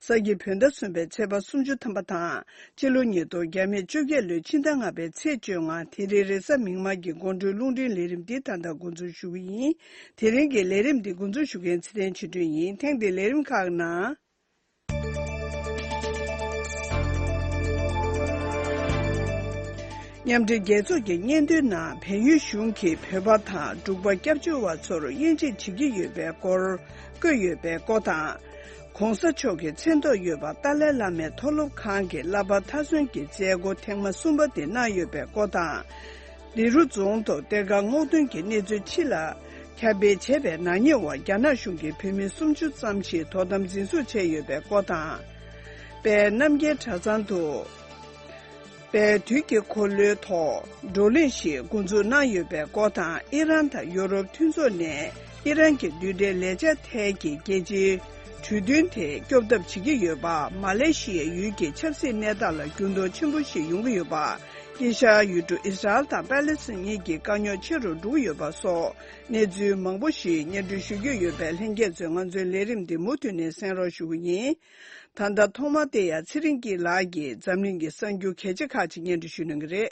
ས་ཀྱི་བུ་ཟླ་གསུམ་པའི་ཚེས་པ་སུམ་ཅུ་ཐམ་པ་དང་སྤྱི་ལོ་ཉིས་སྟོང་བརྒྱ་མེད་བཅོ་བརྒྱད་ལོའི་ཕྱི་ཟླ་ལྔ་པའི་ཚེས་བཅོ་ལྔ་དེ་རིང་རེས་གཟའ་མིག་དམར་གྱི་དགོང་དྲོའི་རླུང་འཕྲིན་ལས་རིམ་འདི་ད་ལྟ་འགོ་འཛུགས་ཞུ་གི་ཡིན། དེ་རིང་གི་ལས་རིམ་འདི་འགོ་འཛུགས་ཞུ་མཁན་ཚེ་བརྟན་ཆིག་སྒྲིལ་ཡིན་ཐེངས་འདིའི་ལས་རིམ་ཁག་ནང། མཉམ་འབྲེལ་རྒྱལ་ཚོགས་ཀྱི་སྙན་ཐོའི་ནང་བལ་ཡུལ་གཞུང་གིས་བོད་པ་དང་འབྲུག་པ་སྐྱབས་བཅོལ་བ་ཚོར་དབྱེ་འབྱེད་བྱེད་ཀྱི་ཡོད་པའི་སྐོར་བཀོད་ཡོད་པའི་སྐོར་དང། ྋགོང་ས་མཆོག་གི་མཚན་ཐོག་ཡོད་པ་ཏཱ་ལའི་བླ་མའི་མཐོ་སློབ་ཁང་གི་བསླབ་པ་མཐའ་སོན་གྱི་མཛད་སྒོ་ཐེངས་མ་གསུམ་པ་དེ་གནང་ཡོད་པའི་སྐོར་དང། ལི་རུ་རྫོང་དུ་གཏེར་ཁ་སྔོག་འདོན་གྱི་གནས་ཚུལ་ཕྱི་ལ་ཁྱབ་སྤེལ་བྱས་པའི་ནག་ཉེས་འོག་རྒྱ་ནག་གཞུང་གིས་བོད་མི་སུམ་ཅུ་ཙམ་ཞིག་དོ་དམ་འཛིན་བཟུང་བྱས་ཡོད་པའི་སྐོར་དང། དཔལ་རྣམ་རྒྱལ་གྲྭ་ཚང་དུ། པའི་དུས་ཀྱི་འཁོར་ལོའི་ཐོག་བགྲོ་གླེང་ཞིག་མགོ་འཛུགས་གནང་ཡོད་པའི་སྐོར་དང་ཨི་རན་དང་ཡོ་རོབ་མཐུན་ཚོགས་ནས་ཨི་རན་གྱི་འདུས་འདྲིལ་ལས་བྱ་ཐལ་གྱི་རྒྱལ་སྤྱིའི་གྲོས་མཐུན་དེ་སྐྱོབ་ཐབས་བྱེད་ཀྱི་ཡོད་པ་མ་ལེ་ཤི་ཡའི་ཡུལ་གྱི་ཆབ་སྲིད་གནས་སྟངས་ལ་འགྱུར་ལྡོག་ཆེན་པོ་ཞིག་ཡོང་གི་ཡོད་པ། དཀྱིལ་ཤར་ཡུལ་གྲུ་ཨིས་ར་ཨེལ་དང་པཱ་ལེ་སི་གཉིས་ཀྱི་དཀའ་རྙོག་ཆེ་རུ་འགྲོ་གི་ཡོད་པ་སོགས་གནས་ཚུལ་མང་པོ་ཞིག་སྙན་སྒྲོན་ཞུ་རྒྱུ་ཡོད་པས་ལྷན་རྒྱས་ཚོས་ང་ཚོའི་ལས་རིམ་འདི་མུ་མཐུད་ནས་གསན་རོགས་ཞུ་གི་ཡིན། ད་ལྟ་ཐོག་མ་དེ་ཡང་ཚེ་རིང་སྐྱིད་ལགས་ཀྱིས་འཛམ་གླིང་གི་གསར་འགྱུར་གལ་ཆེ་ཁག་ཅིག་སྙན་སྒྲོན་ཞུས་གནང་གི་རེད།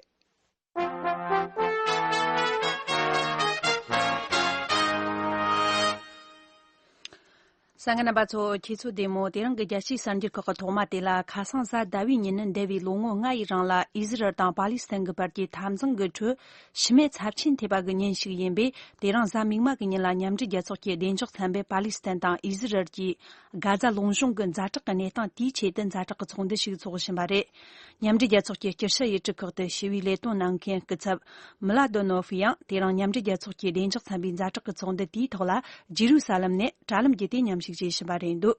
ས་གནས་རྣམ་པ་ཚོ་ཁྱེད་ཚོ་བདེ་མོ་དེ་རང་གི་རྒྱལ་སྤྱིའི་གསར་འགྱུར་ཁག་གི་ཐོག་མ་དེ་ལ་ཁ་སང་གཟའ་ཟླ་བའི་ཉིན་ནི་འདས་པའི་ལོ་ངོ་ལྔ་ཡི་རིང་ལ་ཨི་ཟི་རལ་དང་པ་ལི་སི་ཐན་གྱི་བར་གྱི་འཐབ་འཛིང་གི་ཁྲོད་ཤི་རྨས་ཚབས་ཆེན་ཐེབས་པ་གི་ཉིན་ཞིག་ཡིན་པས་དེ་རང་གཟའ་མིག་དམར་གྱི་ཉིན་ལ་མཉམ་འབྲེལ་རྒྱལ་ཚོགས་ཀྱི་བདེ་འཇགས་ཚན་པས་པ་ལི་སི་ཐན་དང་ཨི་ཟི་རལ་གྱི་དགའ་རྫ་ལུང་གཤོང་གི་མཛའ་གྲོགས་ཀྱི་གནས་སྟངས་དེའི་ཆེད་དུ་མཛའ་གྲོགས་ཀྱི་ཚོགས་འདུ་ཞིག་འཚོགས་བཞིན་པ་རེད། མཉམ་འབྲེལ་རྒྱལ་ཚོགས་ཀྱི་སྐྱུར་ཤ་ཡི་གྲུ་ཁག་ཏུ་ཞི་བའི་ལས་དོན་གནང་མཁན་སྐུ་ཚབ། མིལ་ལཱ་ཏོ་ནོ་ཧྥི་ཡང་དེ་རིང་མཉམ་འབྲེལ་རྒྱལ་ཚོགས་ཀྱི་བདེ་འཇགས་ཚན་པའི་མཛའ་གྲོགས་ཀྱི་ཚོགས་འདུ་དེའི་ཐོག་ལ་ཇེ་རུ་ས་ལམ་ནས་དྲ་ལམ་བརྒྱུད་དེ་མཉམ་ཞུགས་བྱེད་བཞིན་པ་རེད་འདུག་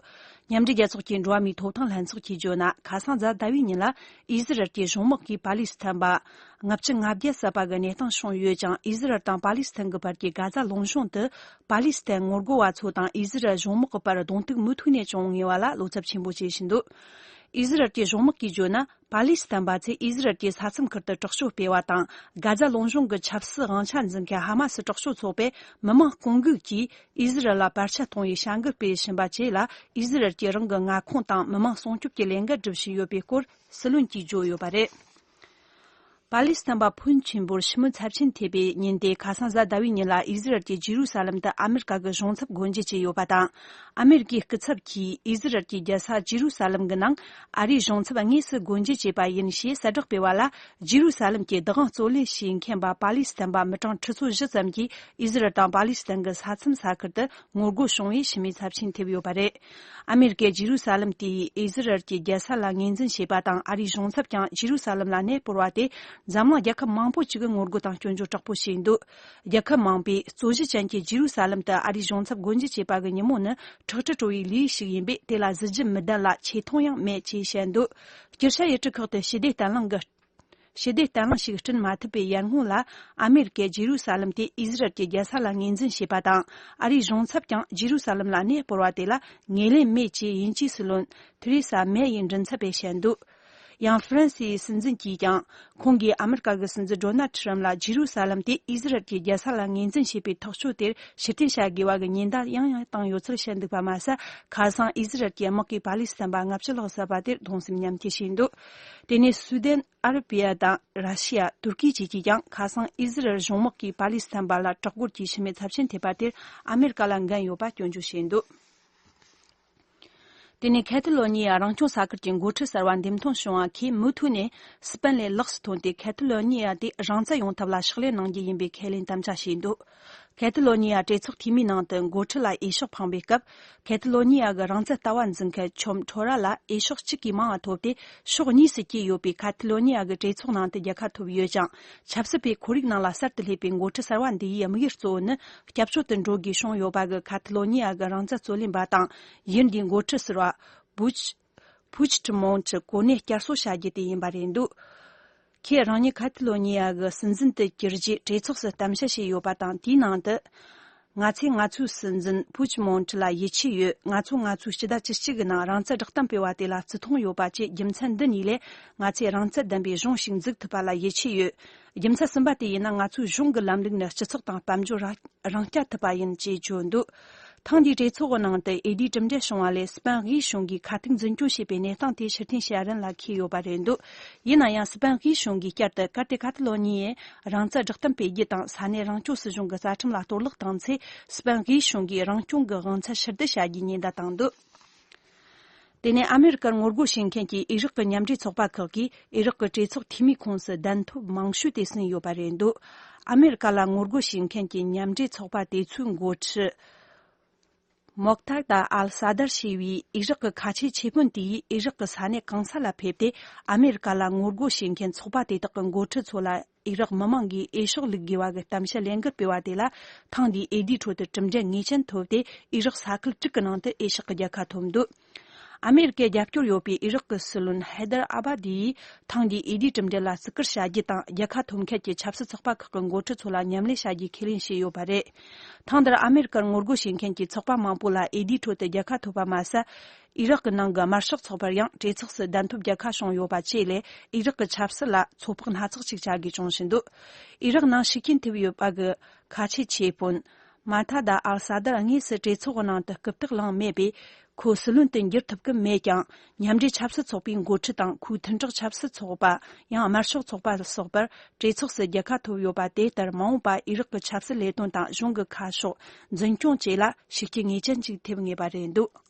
མཉམ་འབྲེལ་རྒྱལ་ཚོགས་ཀྱི་འགྲོ་བ་མིའི་ཐོབ་ཐང་ལྷན་ཚོགས་ཀྱིས་བརྗོད་ན་ཁ་སང་གཟའ་ཟླ་བའི་ཉིན་ལ་ཨི་ཟི་རལ་གྱི་གཞུང་དམག་གིས་པ་ལི་སི་ཐན་པསྔ་བཅུ་ང་བརྒྱད་བསད་པ་གི་གནས་སྟངས་བྱུང་ཡོད་ཅིང་ཨི་ཟི་རལ་དང་པ་ལི་སི་ཐན་གྱི་བར་གྱི་དགའ་རྫ་ལུང་གཤོང་དུ་པཱ་ལི་སི་ཐན་ངོ་རྒོལ་བ་ཚོ་དང་ཨི་ཟི་རལ་གཞུང་དམག་གི་བར་གདོང་ཐུག་མུ་མཐུད་ནས་བྱུང་ངེས་བ་ལ་བློ་འཚབ་ཆེན་པོ་བྱེད་བཞིན་འདུག་ཨི་ཟི་རལ་གྱི་གཞུང་དམག་གིས་བརྗོད་ན་པཱ་ལི་སི་ཐན་པ་ཚོས་ཨི་ཟི་རལ་གྱི་ས་མཚམས་ཁུལ་དུ་དྲག་ཤུགས་སྤེལ་བ་དང་དགའ་རྫ་རླུང་གཞུང་གི་ཆབ་སྲིད་དབང་ཆ་འཛིན་མཁན་ཧ་མ་སི་དྲག་ཤུགས་ཚོགས་པས་མི་མང་བསྐོང་འགུག་གིས་ཨི་ཟི་རལ་ལ་བར་ཆད་གཏོང་བའི་བྱ་འགུལ་སྤེལ་བཞིན་པ་བཅས་ལ་ཨི་ཟི་རལ་གྱིས་རང་གི་མངའ་ཁོངས་དང་མི་མང་སྲུང་སྐྱོབ་ཀྱི་ལས་འགན་སྒྲུབ་བཞིན་ཡོད་པའི་སྐོར་སྲིད་བློན་གྱིས་བརྗོད་ཡོད་པ་རེད། པཱ་ལི་སི་ཐན་པ་ཕོན་ཆེན་པོར་ཕྱི་མོ་ཚབས་ཆེན་ཐེབས་པའི་ཉིན་དེ་ཁ་སང་གཟའ་ཟླ་བའི་ཉིན་ལ་ཨི་ཟི་རལ་གྱིས་ཇི་རུ་ས་ལམ་དུ་ཨ་མི་རི་ཀ་གི་གཞུང་ཚབ་སྒོ་འབྱེད་བྱས་ཡོད་པ་དང་ཨ་མི་རི་ཀའི་སྐུ་ཚབ་ཀྱིས་ཨི་ཟི་རལ་གྱི་རྒྱལ་ས་ཇི་རུ་ས་ལམ་གྱི་ནང་ཨ་རིའི་གཞུང་ཚབ་དངོས་སུ་སྒོ་འབྱེད་བྱས་པ་ཡིན་ཞེས་གསལ་བསྒྲགས་སྤེལ་བ་ལ་ཇི་རུ་ས་ལམ་གྱི་བདག་དབང་རྩོད་ལེན་བྱེད་མཁན་པ་པཱ་ལི་སི་ཐན་པ་མི་གྲངས་ཁྲི་ཚོ་བཞི་ཙམ་གྱིས་ཨི་ཟི་རལ་དང་པཱ་ལི་སི་ཐན་གྱི་ས་མཚམས་ས་ཁུལ་དུ་ངོ་རྒོལ་བྱུང་བས་ཕྱི་མོའི་ཚབས་ཆེན་ཐེབས་ཡོད་པ་རེད། ཨ་མེ་རི་ཀས་ཇི་རུ་ས་ལེམ་དེ་ཡིས་ཨི་ཟི་རལ་གྱི་རྒྱལ་ས་ལ་ངོས་འཛིན་བྱས་པ་དང་ཨ་རིའི་གཞུང་ཚབ་ཀྱང་ཇི་རུ་ས་ལེམ་ལ་གནས་སྤོར་བ་དེས་འཛམ་གླིང་རྒྱལ་ཁབ་མང་པོ་ཅིག་གི་ངོ་རྒོལ་དང་སྐྱོན་བརྗོད་དྲག་པོ་བྱས་འདུག་རྒྱལ་ཁབ་མང་པོས་གཙོ་གཞི་ཅན་གྱི་ཇི་རུ་ས་ལེམ་དུ་ཨ་རིའི་གཞུང་ཚབ་སྒོ་འབྱེད་བྱས་པ་གི་ཉིན་མོ་ནི་ཁྲག་དྲི་བྲོ་བའི་ལུས་ཤིག་ཡིན་པས་དེ་ལ་གཟི་བརྗིད་མི་ལྡན་ལ་ཆེ་མཐོང་ཡང་མེད་ཅེས་བཤད་འདུག་སྤྱིར་ཤ་ཡི་གྲི་ཁག་ཏུ་ཞི་བདེ་བརྟན་བརླིང་གི་ཞི་བདེ་བརྟན་ལྷིང་ཞིག་བསྐྲུན་མ་ཐུབ་པའི་ཡར་སྔོན་ལ་ཨ་མེ་རི་ཀས་རྗེ་རུ་ས་ལམ་དེ་ཨིས་རལ་གྱི་རྒྱལ་ས་ལ་ངོས་འཛིན་བྱས་པ་དང་ཨ་རིའི་གཞུང་ཚབ་ཀྱང་རྗེ་རུ་ས་ལམ་ལ་གནས་སྤོར་བ་དེ་ལ་ངེས་ལེན་མེད་ཅེས་ཡིན་གཅིག་སུ་ལོན་ཐི་རེ་ས་མེ་ཡི་མགྲིན་ཚབ་པས་བཤད་འདུག་ཡང་ཧྥི་རན་སིའི་སྲིད་འཛིན་གྱིས་ཀྱང་ཁོང་གིས་ཨ་མེ་རི་ཀ་གི་སྲིད་འཛིན་རོ་ནལ་ཁྲི་རམ་ལ་རྗེ་རུ་ས་ལམ་དེ་ཨིས་རལ་གྱི་རྒྱལ་ས་ལ་ངོས་འཛིན་བྱས་པའི་ཐག་གཅོད་དེར་ཕྱིར་འཐེན་བྱ་དགོས་པ་གི་ཉེན་བརྡ་ཡང་ཡང་བཏང་ཡོད་ཚུལ་བཤད་འདུག་པ་མ་ཟད་ཁ་སང་ཨིས་རལ་གྱི་དམག་གིས་པ་ལི་སི་ཐན་པ་ལྔ་བཅུ་ལྷག་བསད་པ་དེར་གདུང་སེམས་མཉམ་སྐྱེ་བྱས་འདུག་དེ་ནས་སུའུ་དན་ཨ་ར་པི་ཡ་དང་ར་ཤི་ཡ་ཏུར་ཀི་བཅས་ཀྱིས་ཀྱང་ཁ་སང་ཨི་ཟི་རལ་གཞུང་དམག་གིས་པ་ལི་སི་ཐན་བར་ལ་དྲག་པོར་གྱིས་ཕྱི་མའི་ཚབས་ཆེན་ཐེབས་པ་དེར་ཨ་མེ་རི་ཀ་ལ་འགན་ཡོད་པ་སྐྱོན་བརྗོད་བྱས་འདུག་དེ་ནས་ཁེ་ཐི་ལོ་ཉི་ཡ་རང་སྐྱོང་ས་ཁུལ་གྱི་འགོ་ཁྲིད་གསར་བ་འདེམས་ཐོན་བྱུང་བ་ཁོས་མུ་མཐུད་ནས་སི་པན་ལའི་ལགས་སུ་ཐོན་ཏེ་ཁེ་ཐི་ལོ་ཉི་ཡ་དེ་རང་བཙན་ཡོང་ཐབས་ལ་ཕྱག་ལས་གནང་རྒྱུ་ཡིན་པའི་ཁས་ལེན་དམ་བཅའ་བྱས་འདུག་ཁེ་ཏི་ལོ་ཉི་ཡ་གྲོས་ཚོགས་འཐུས་མིའི་ནང་དུ་འགོ་ཁྲིད་ལ་དབྱེ་ཕྱོགས་འཕངས་པའི་སྐབས་ཁེ་ཏི་ལོ་ཉི་ཡ་གི་རང་བཙན་ལྟ་བ་འཛིན་མཁན་ཆོམ་ཁྲོ་ར་ལ་དབྱེ་ཕྱོགས་གཅིག་གིས་མང་བ་ཐོབ་སྟེ་ཕྱོགས་གཉིས་སུ་སྐྱེས་ཡོད་པས་ཁ་ཏི་ལོ་ཉི་ཡ་གི་གྲོས་ཚོགས་ནང་དུ་རྒྱལ་ཁ་ཐོབ་ཡོད་ཀྱང་ཆབ་སྲིད་པའི་ཁོར་ཡུག་ནང་ལ་གསར་དུ་སླེབས་པའི་འགོ་ཁྲིད་གསར་བ་འདིའི་ཡིད་དམིགས་གཙོ་བོ་ནི་སྐྱབས་བཅོལ་དུ་འགྲོ་དགོས་བྱུང་ཡོད་པ་གི་ཁ་ཏི་ལོ་ཉི་ཡ་གི་རང་བཙན་རྩོད་ལེན་པ་དང་གཞི་འདིའི་འགོ་ཁྲིད་ཟེར་བ། Buch། Puigdemont། གྱི་གོ་གནས་བསྐྱར་གསོ་བྱ་རྒྱུ་དེ་ཡིན་པ་རེད་འདུག་ཁོས་རང་ཉིད་ཁཱ་ཐི་ལོ་ཉི་ཡ་གི་སྲིད་འཛིན་དུ་གྱུར་རྗེས་གྲོས་ཚོགས་སུ་གཏམ་བཤད་བྱས་ཡོད་པ་དང་དེའི་ནང་དུ། ང་ཚོས་ང་ཚོའི་སྲིད་འཛིན Puigdemont ལ་ཡིད་ཆེས་ཡོད་ང་ཚོ་ང་ཚོའི་སྤྱི་ཟླ་བཅུ་གཅིག་གི་ནང་རང་བཙན་བསྒྲགས་གཏམ་སྤེལ་བ་དེ་ལ་བརྩི་མཐོང་ཡོད་པ་བཅས་རྒྱུ་མཚན་འདི་གཉིས་ལས་ང་ཚོས་རང་བཙན་ལྡན་པའི་གཞུང་ཞིག་འཛུགས་ཐུབ་པ་ལ་ཡིད་ཆེས་ཡོད། རྒྱུ་མཚན་གསུམ་པ་དེ་ཡིན་ན་ང་ཚོའི་གཞུང་གི་ལམ་ལུགས་ནི་སྤྱི་ཚོགས་དང་དཔལ་འབྱོར་རང་སྐྱ་ཐུབ་པ་ཡིན་ཅེས་བརྗོད་འདུག་ཐེངས་འདིའི་གྲོས་ཚོགས་ཀྱི་ནང་དུ་ཨེ་ལྡིའི་གྲུབ་འབྲས་བྱུང་བ་ལས་སྤེན་དབྱིས་གཞུང་གིས་ཁ་ཐུག་འཛིན་སྐྱོང་བྱས་པའི་གནས་སྟངས་དེ་ཕྱིར་འཐེན་བྱེད་རིན་ལ་འཁེལ་ཡོད་པ་རེད་འདུག་ཡིན་ན་ཡང་སྤེན་དབྱིས་གཞུང་གིས་བསྐྱར་དུ་ཀར་ཏེ་ཀ་ཏི་ལོ་ཉི་ཡིས་རང་བཙན་བསྒྲགས་གཏམ་སྤེལ་རྒྱུ་དང་ས་གནས་རང་སྐྱོང་སྲིད་གཞུང་གི་རྩ་ཁྲིམས་ལ་གཏོར་བརླག་བཏང་ཚེ་སྤེན་དབྱིས་གཞུང་གིས་རང་སྐྱོང་གི་དབང་ཚད་ཕྱིར་བསྡུ་བྱ་རྒྱུའི་ཉེན་བརྡ་བཏང་འདུག་དེ་ནས་ཨ་མེ་རི་ཀར་ངོ་རྒོལ་བྱེད་མཁན་གྱི་ཨི་རག་གི་མཉམ་འབྲེལ་ཚོགས་པ་ཁག་གིས་ཨི་རག་གི་གྲོས་ཚོགས་འཐུས་མིའི་ཁོངས་སུ་གདན་ཐོབ་མང་ཤོས་དེ་ཟིན་ཡོད་པ་རེད་འདུག་ཨ་མེ་རི་ཀ་ལ་ངོ་རྒོལ་བྱེད་མཁན་གྱི་མཉམ་འབྲེལ་ཚོགས་པ་དེ་ཚོའི་མགོ་ཁྲིད། Moqtada al-Sadr། ཞེས་པའི་ཨི་རག་གི་ཁ་ཆེའི་ཆེ་དཔོན་དེ་ཡིས་ཨི་རག་གི་ས་གནས་གང་ས་ལ་ཕེབས་ཏེ་ཨ་མེ་རི་ཀ་ལ་ངོ་རྒོལ་བྱེད་མཁན་ཚོགས་པ་དེ་དག་གི་མགོ་ཁྲིད་ཚོ་ལ་ཨི་རག་མི་དམངས་ཀྱིས་ཨེ་ཤོག་ལུག་དགེ་བ་གི་གཏམ་བཤད་ལན་འགར་སྤེལ་བ་དེ་ལ་ཐེངས་འདིའི་ཨེ་ལྡིའི་ཁྲོད་དུ་གྲུབ་འབྲས་ངེས་ཅན་ཐོབ་སྟེ་ཨི་རག་ས་ཁུལ་དྲུག་གི་ནང་དུ་ཨེ་ཤག་གི་རྒྱལ་ཁ་ཐོབ་འདུག་ཨ་མེ་རི་ཀའི་རྒྱབ་སྐྱོར་ཡོད་པའི་ཨི་རག་གི་སྲིད་བློན་ཧེ་དར་ཨ་བྷ་དི་ཡིས་ཐེངས་འདིའི་ཨེ་ལྡིའི་གྲུབ་འབྲས་ལ་བརྩི་བཀུར་བྱ་རྒྱུ་དང་རྒྱལ་ཁ་ཐོབ་མཁན་གྱི་ཆབ་སྲིད་ཚོགས་པ་ཁག་གི་མགོ་ཁྲིད་ཚོ་ལ་མཉམ་ལས་བྱ་རྒྱུའི་ཁས་ལེན་བྱས་ཡོད་པ་རེད། ཐེངས་འདིར་ཨ་མེ་རི་ཀར་ངོ་རྒོལ་བྱེད་མཁན་གྱི་ཚོགས་པ་མང་པོ་ལ་ཨེ་ལྡིའི་ཁྲོད་དུ་རྒྱལ་ཁ་ཐོབ་པ་མ་ཟད། ཨི་རག་གི་ནང་གི་དམར་ཤོག་ཚོགས་པར་ཡང་གྲོས་ཚོགས་སུ་བདམས་ཐོབ་བརྒྱ་ཁ་བྱུང་ཡོད་པ་བཅས་ལས་ཨི་རག་གི་ཆབ་སྲིད་ལ་ཚོད་དཔག་སྣ་ཚོགས་ཅིག་བྱ་དགོས་བྱུང་བཞིན་འདུག་ཨི་རག་ནང་ཤུགས་རྐྱེན་ཐེབས་ཡོད་པ་གི་ཁ་ཆད་ཆེད་དཔོན། Maqtada al-Sadr དངོས་སུ་གྲོས་ཚོགས་ནང་དུ་རྐུབ་སྟེགས་བླངས་མེད་པས་ཁོ་སྲིད་བློན་དུ་འགྱུར་ཐུབ་ཀི་མེད་ཀྱང་མཉམ་འབྲེལ་ཆབ་སྲིད་ཚོགས་པའི་འགོ་ཁྲིད་དང་ཁོའི་མཐུན་གྲོགས་ཆབ་སྲིད་ཚོགས་པ་ཡང་དམར་ཤོག་ཚོགས་པ་སོགས་པར་གྲོས་ཚོགས་སུ་བརྒྱ་ཁ་ཐོབ་ཡོད་པ་དེ་ལྟར་མ་འོངས་པ་ཨི་རག་གི་ཆབ་སྲིད་ལས་དོན་དང་གཞུང་གི་ཁ་ཕྱོགས་འཛིན་སྐྱོང་བཅས་ལ་ཤུགས་རྐྱེན་ངེས་ཅན་ཅིག་ཐེབས་ངེས་པ་རེད་འདུག།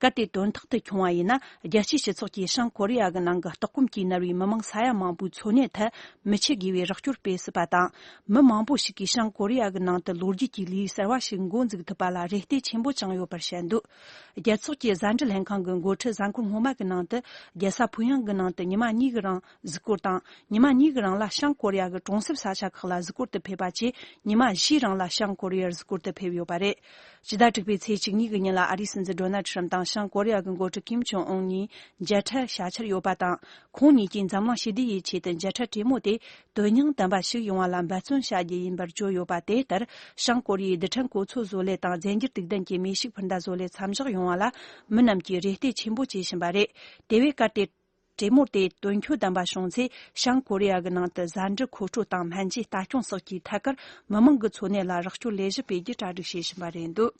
གལ་ཏེ་དོན་རྟག་ཏུ་བྱུང་བ་ཡིན་ན་རྒྱལ་སྤྱིའི་སྤྱི་ཚོགས་ཀྱིས་བྱང་ཀོ་རི་ཡ་གི་ནང་གི་ལྟོགས་སྐོམ་གྱིས་མནར་བའི་མི་མང་ས་ཡ་མང་པོའི་འཚོ་གནས་ཐད་མི་ཆེ་དགེ་བའི་རོགས་སྐྱོར་སྤེལ་སྲིད་པ་དང། མི་མང་པོ་ཞིག་གིས་བྱང་ཀོ་རི་ཡ་གི་ནང་དུ་ལོ་རྒྱུས་ཀྱི་ལེའུ་གསར་བ་ཞིག་མགོ་འཛུགས་ཐུབ་པ་ལ་རེ་ལྟོས་ཆེན་པོ་བཅངས་ཡོད་པར་བཤད་འདུག་རྒྱལ་ཚོགས་ཀྱི་གཟའ་འབྲེལ་ལྷན་ཁང་གི་མགོ་ཁྲིད་གཟའ་འཁོར་སྔོན་མ་གི་ནང་དུ་རྒྱལ་ས་ཕུའུ་ཡང་གི་ནང་དུ་ཉི་མ་གཉིས་ཀྱི་རིང་གཟིགས་སྐོར་དང་ཉི་མ་གཉིས་ཀྱི་རིང་ལ་བྱང་ཀོ་རི་ཡ་གྱི་གྲོང་གསེབ་ས་ཆ་ཁག་ལ་གཟིགས་སྐོར་དུ་ཕེབས་པ་བཅས་ཉི་མ་བཞིའི་རིང་ལ་བྱང་ཀོ་རི་ཡར་གཟིགས་སྐོར་དུ་ཕེབས་ཡོད་པ་རེད། སྤྱི་ཟླ་དྲུག་པའི་ཚེས་བཅུ་གཉིས་ཀྱི་ཉིན་ལ་ཨ་རིའི་སྲིད་འཛིན Donald Trump དང་བྱང་ཀོ་རི་ཡ་གྱི་འགོ་ཁྲིད Kim Jong Un གཉིས་མཇལ་འཕྲད་བྱ་འཆར་ཡོད་པ་དང་ཁོང་གཉིས་ཀྱིས་འཛམ་གླིང་ཞི་བདེ་ཡི་ཆེད་དུ་མཇལ་འཕྲད་གྲོས་མོལ་དེ་དོན་སྙིང་ལྡན་པ་ཞིག་ཡོང་བ་ལ་འབད་བརྩོན་བྱ་རྒྱུ་ཡིན་པར་བརྗོད་ཡོད་པ་དེ་ལྟར་བྱང་ཀོ་རི་ཡའི་རྡུལ་ཕྲན་གོ་ཚོད་བཟོ་ལས་དང་རྫས་འགྱུར་དུག་ལྡན་གྱི་མེ་ཤུགས་འཕུར་མདའ་བཟོ་ལས་མཚམས་བཞག་ཡོང་བ་ལ་མི་རྣམས་ཀྱིས་རེ་ལྟོས་ཆེན་པོ་བྱེད་བཞིན་པ་རེད་དེ་བས་ཀ་ཏེ། གྲེ་མོར་དེ་དོན་འཁྱོལ་དམ་པ་བྱུང་ཚེ་བྱང་ཀོ་རི་ཡ་གི་ནང་དུ་བཟའ་འབྲུ་མཁོ་སྤྲོད་དང་སྨན་བཅོས་ལྟ་སྐྱོང་སོགས་ཀྱི་ཐད་ཀར་མི་མང་གི་འཚོ་གནས་ལ་རོགས་སྐྱོར་ལས་གཞི་སྤེལ་རྒྱུ་གྲ་སྒྲིག་བྱེད་བཞིན་པ་རེད་འདུག་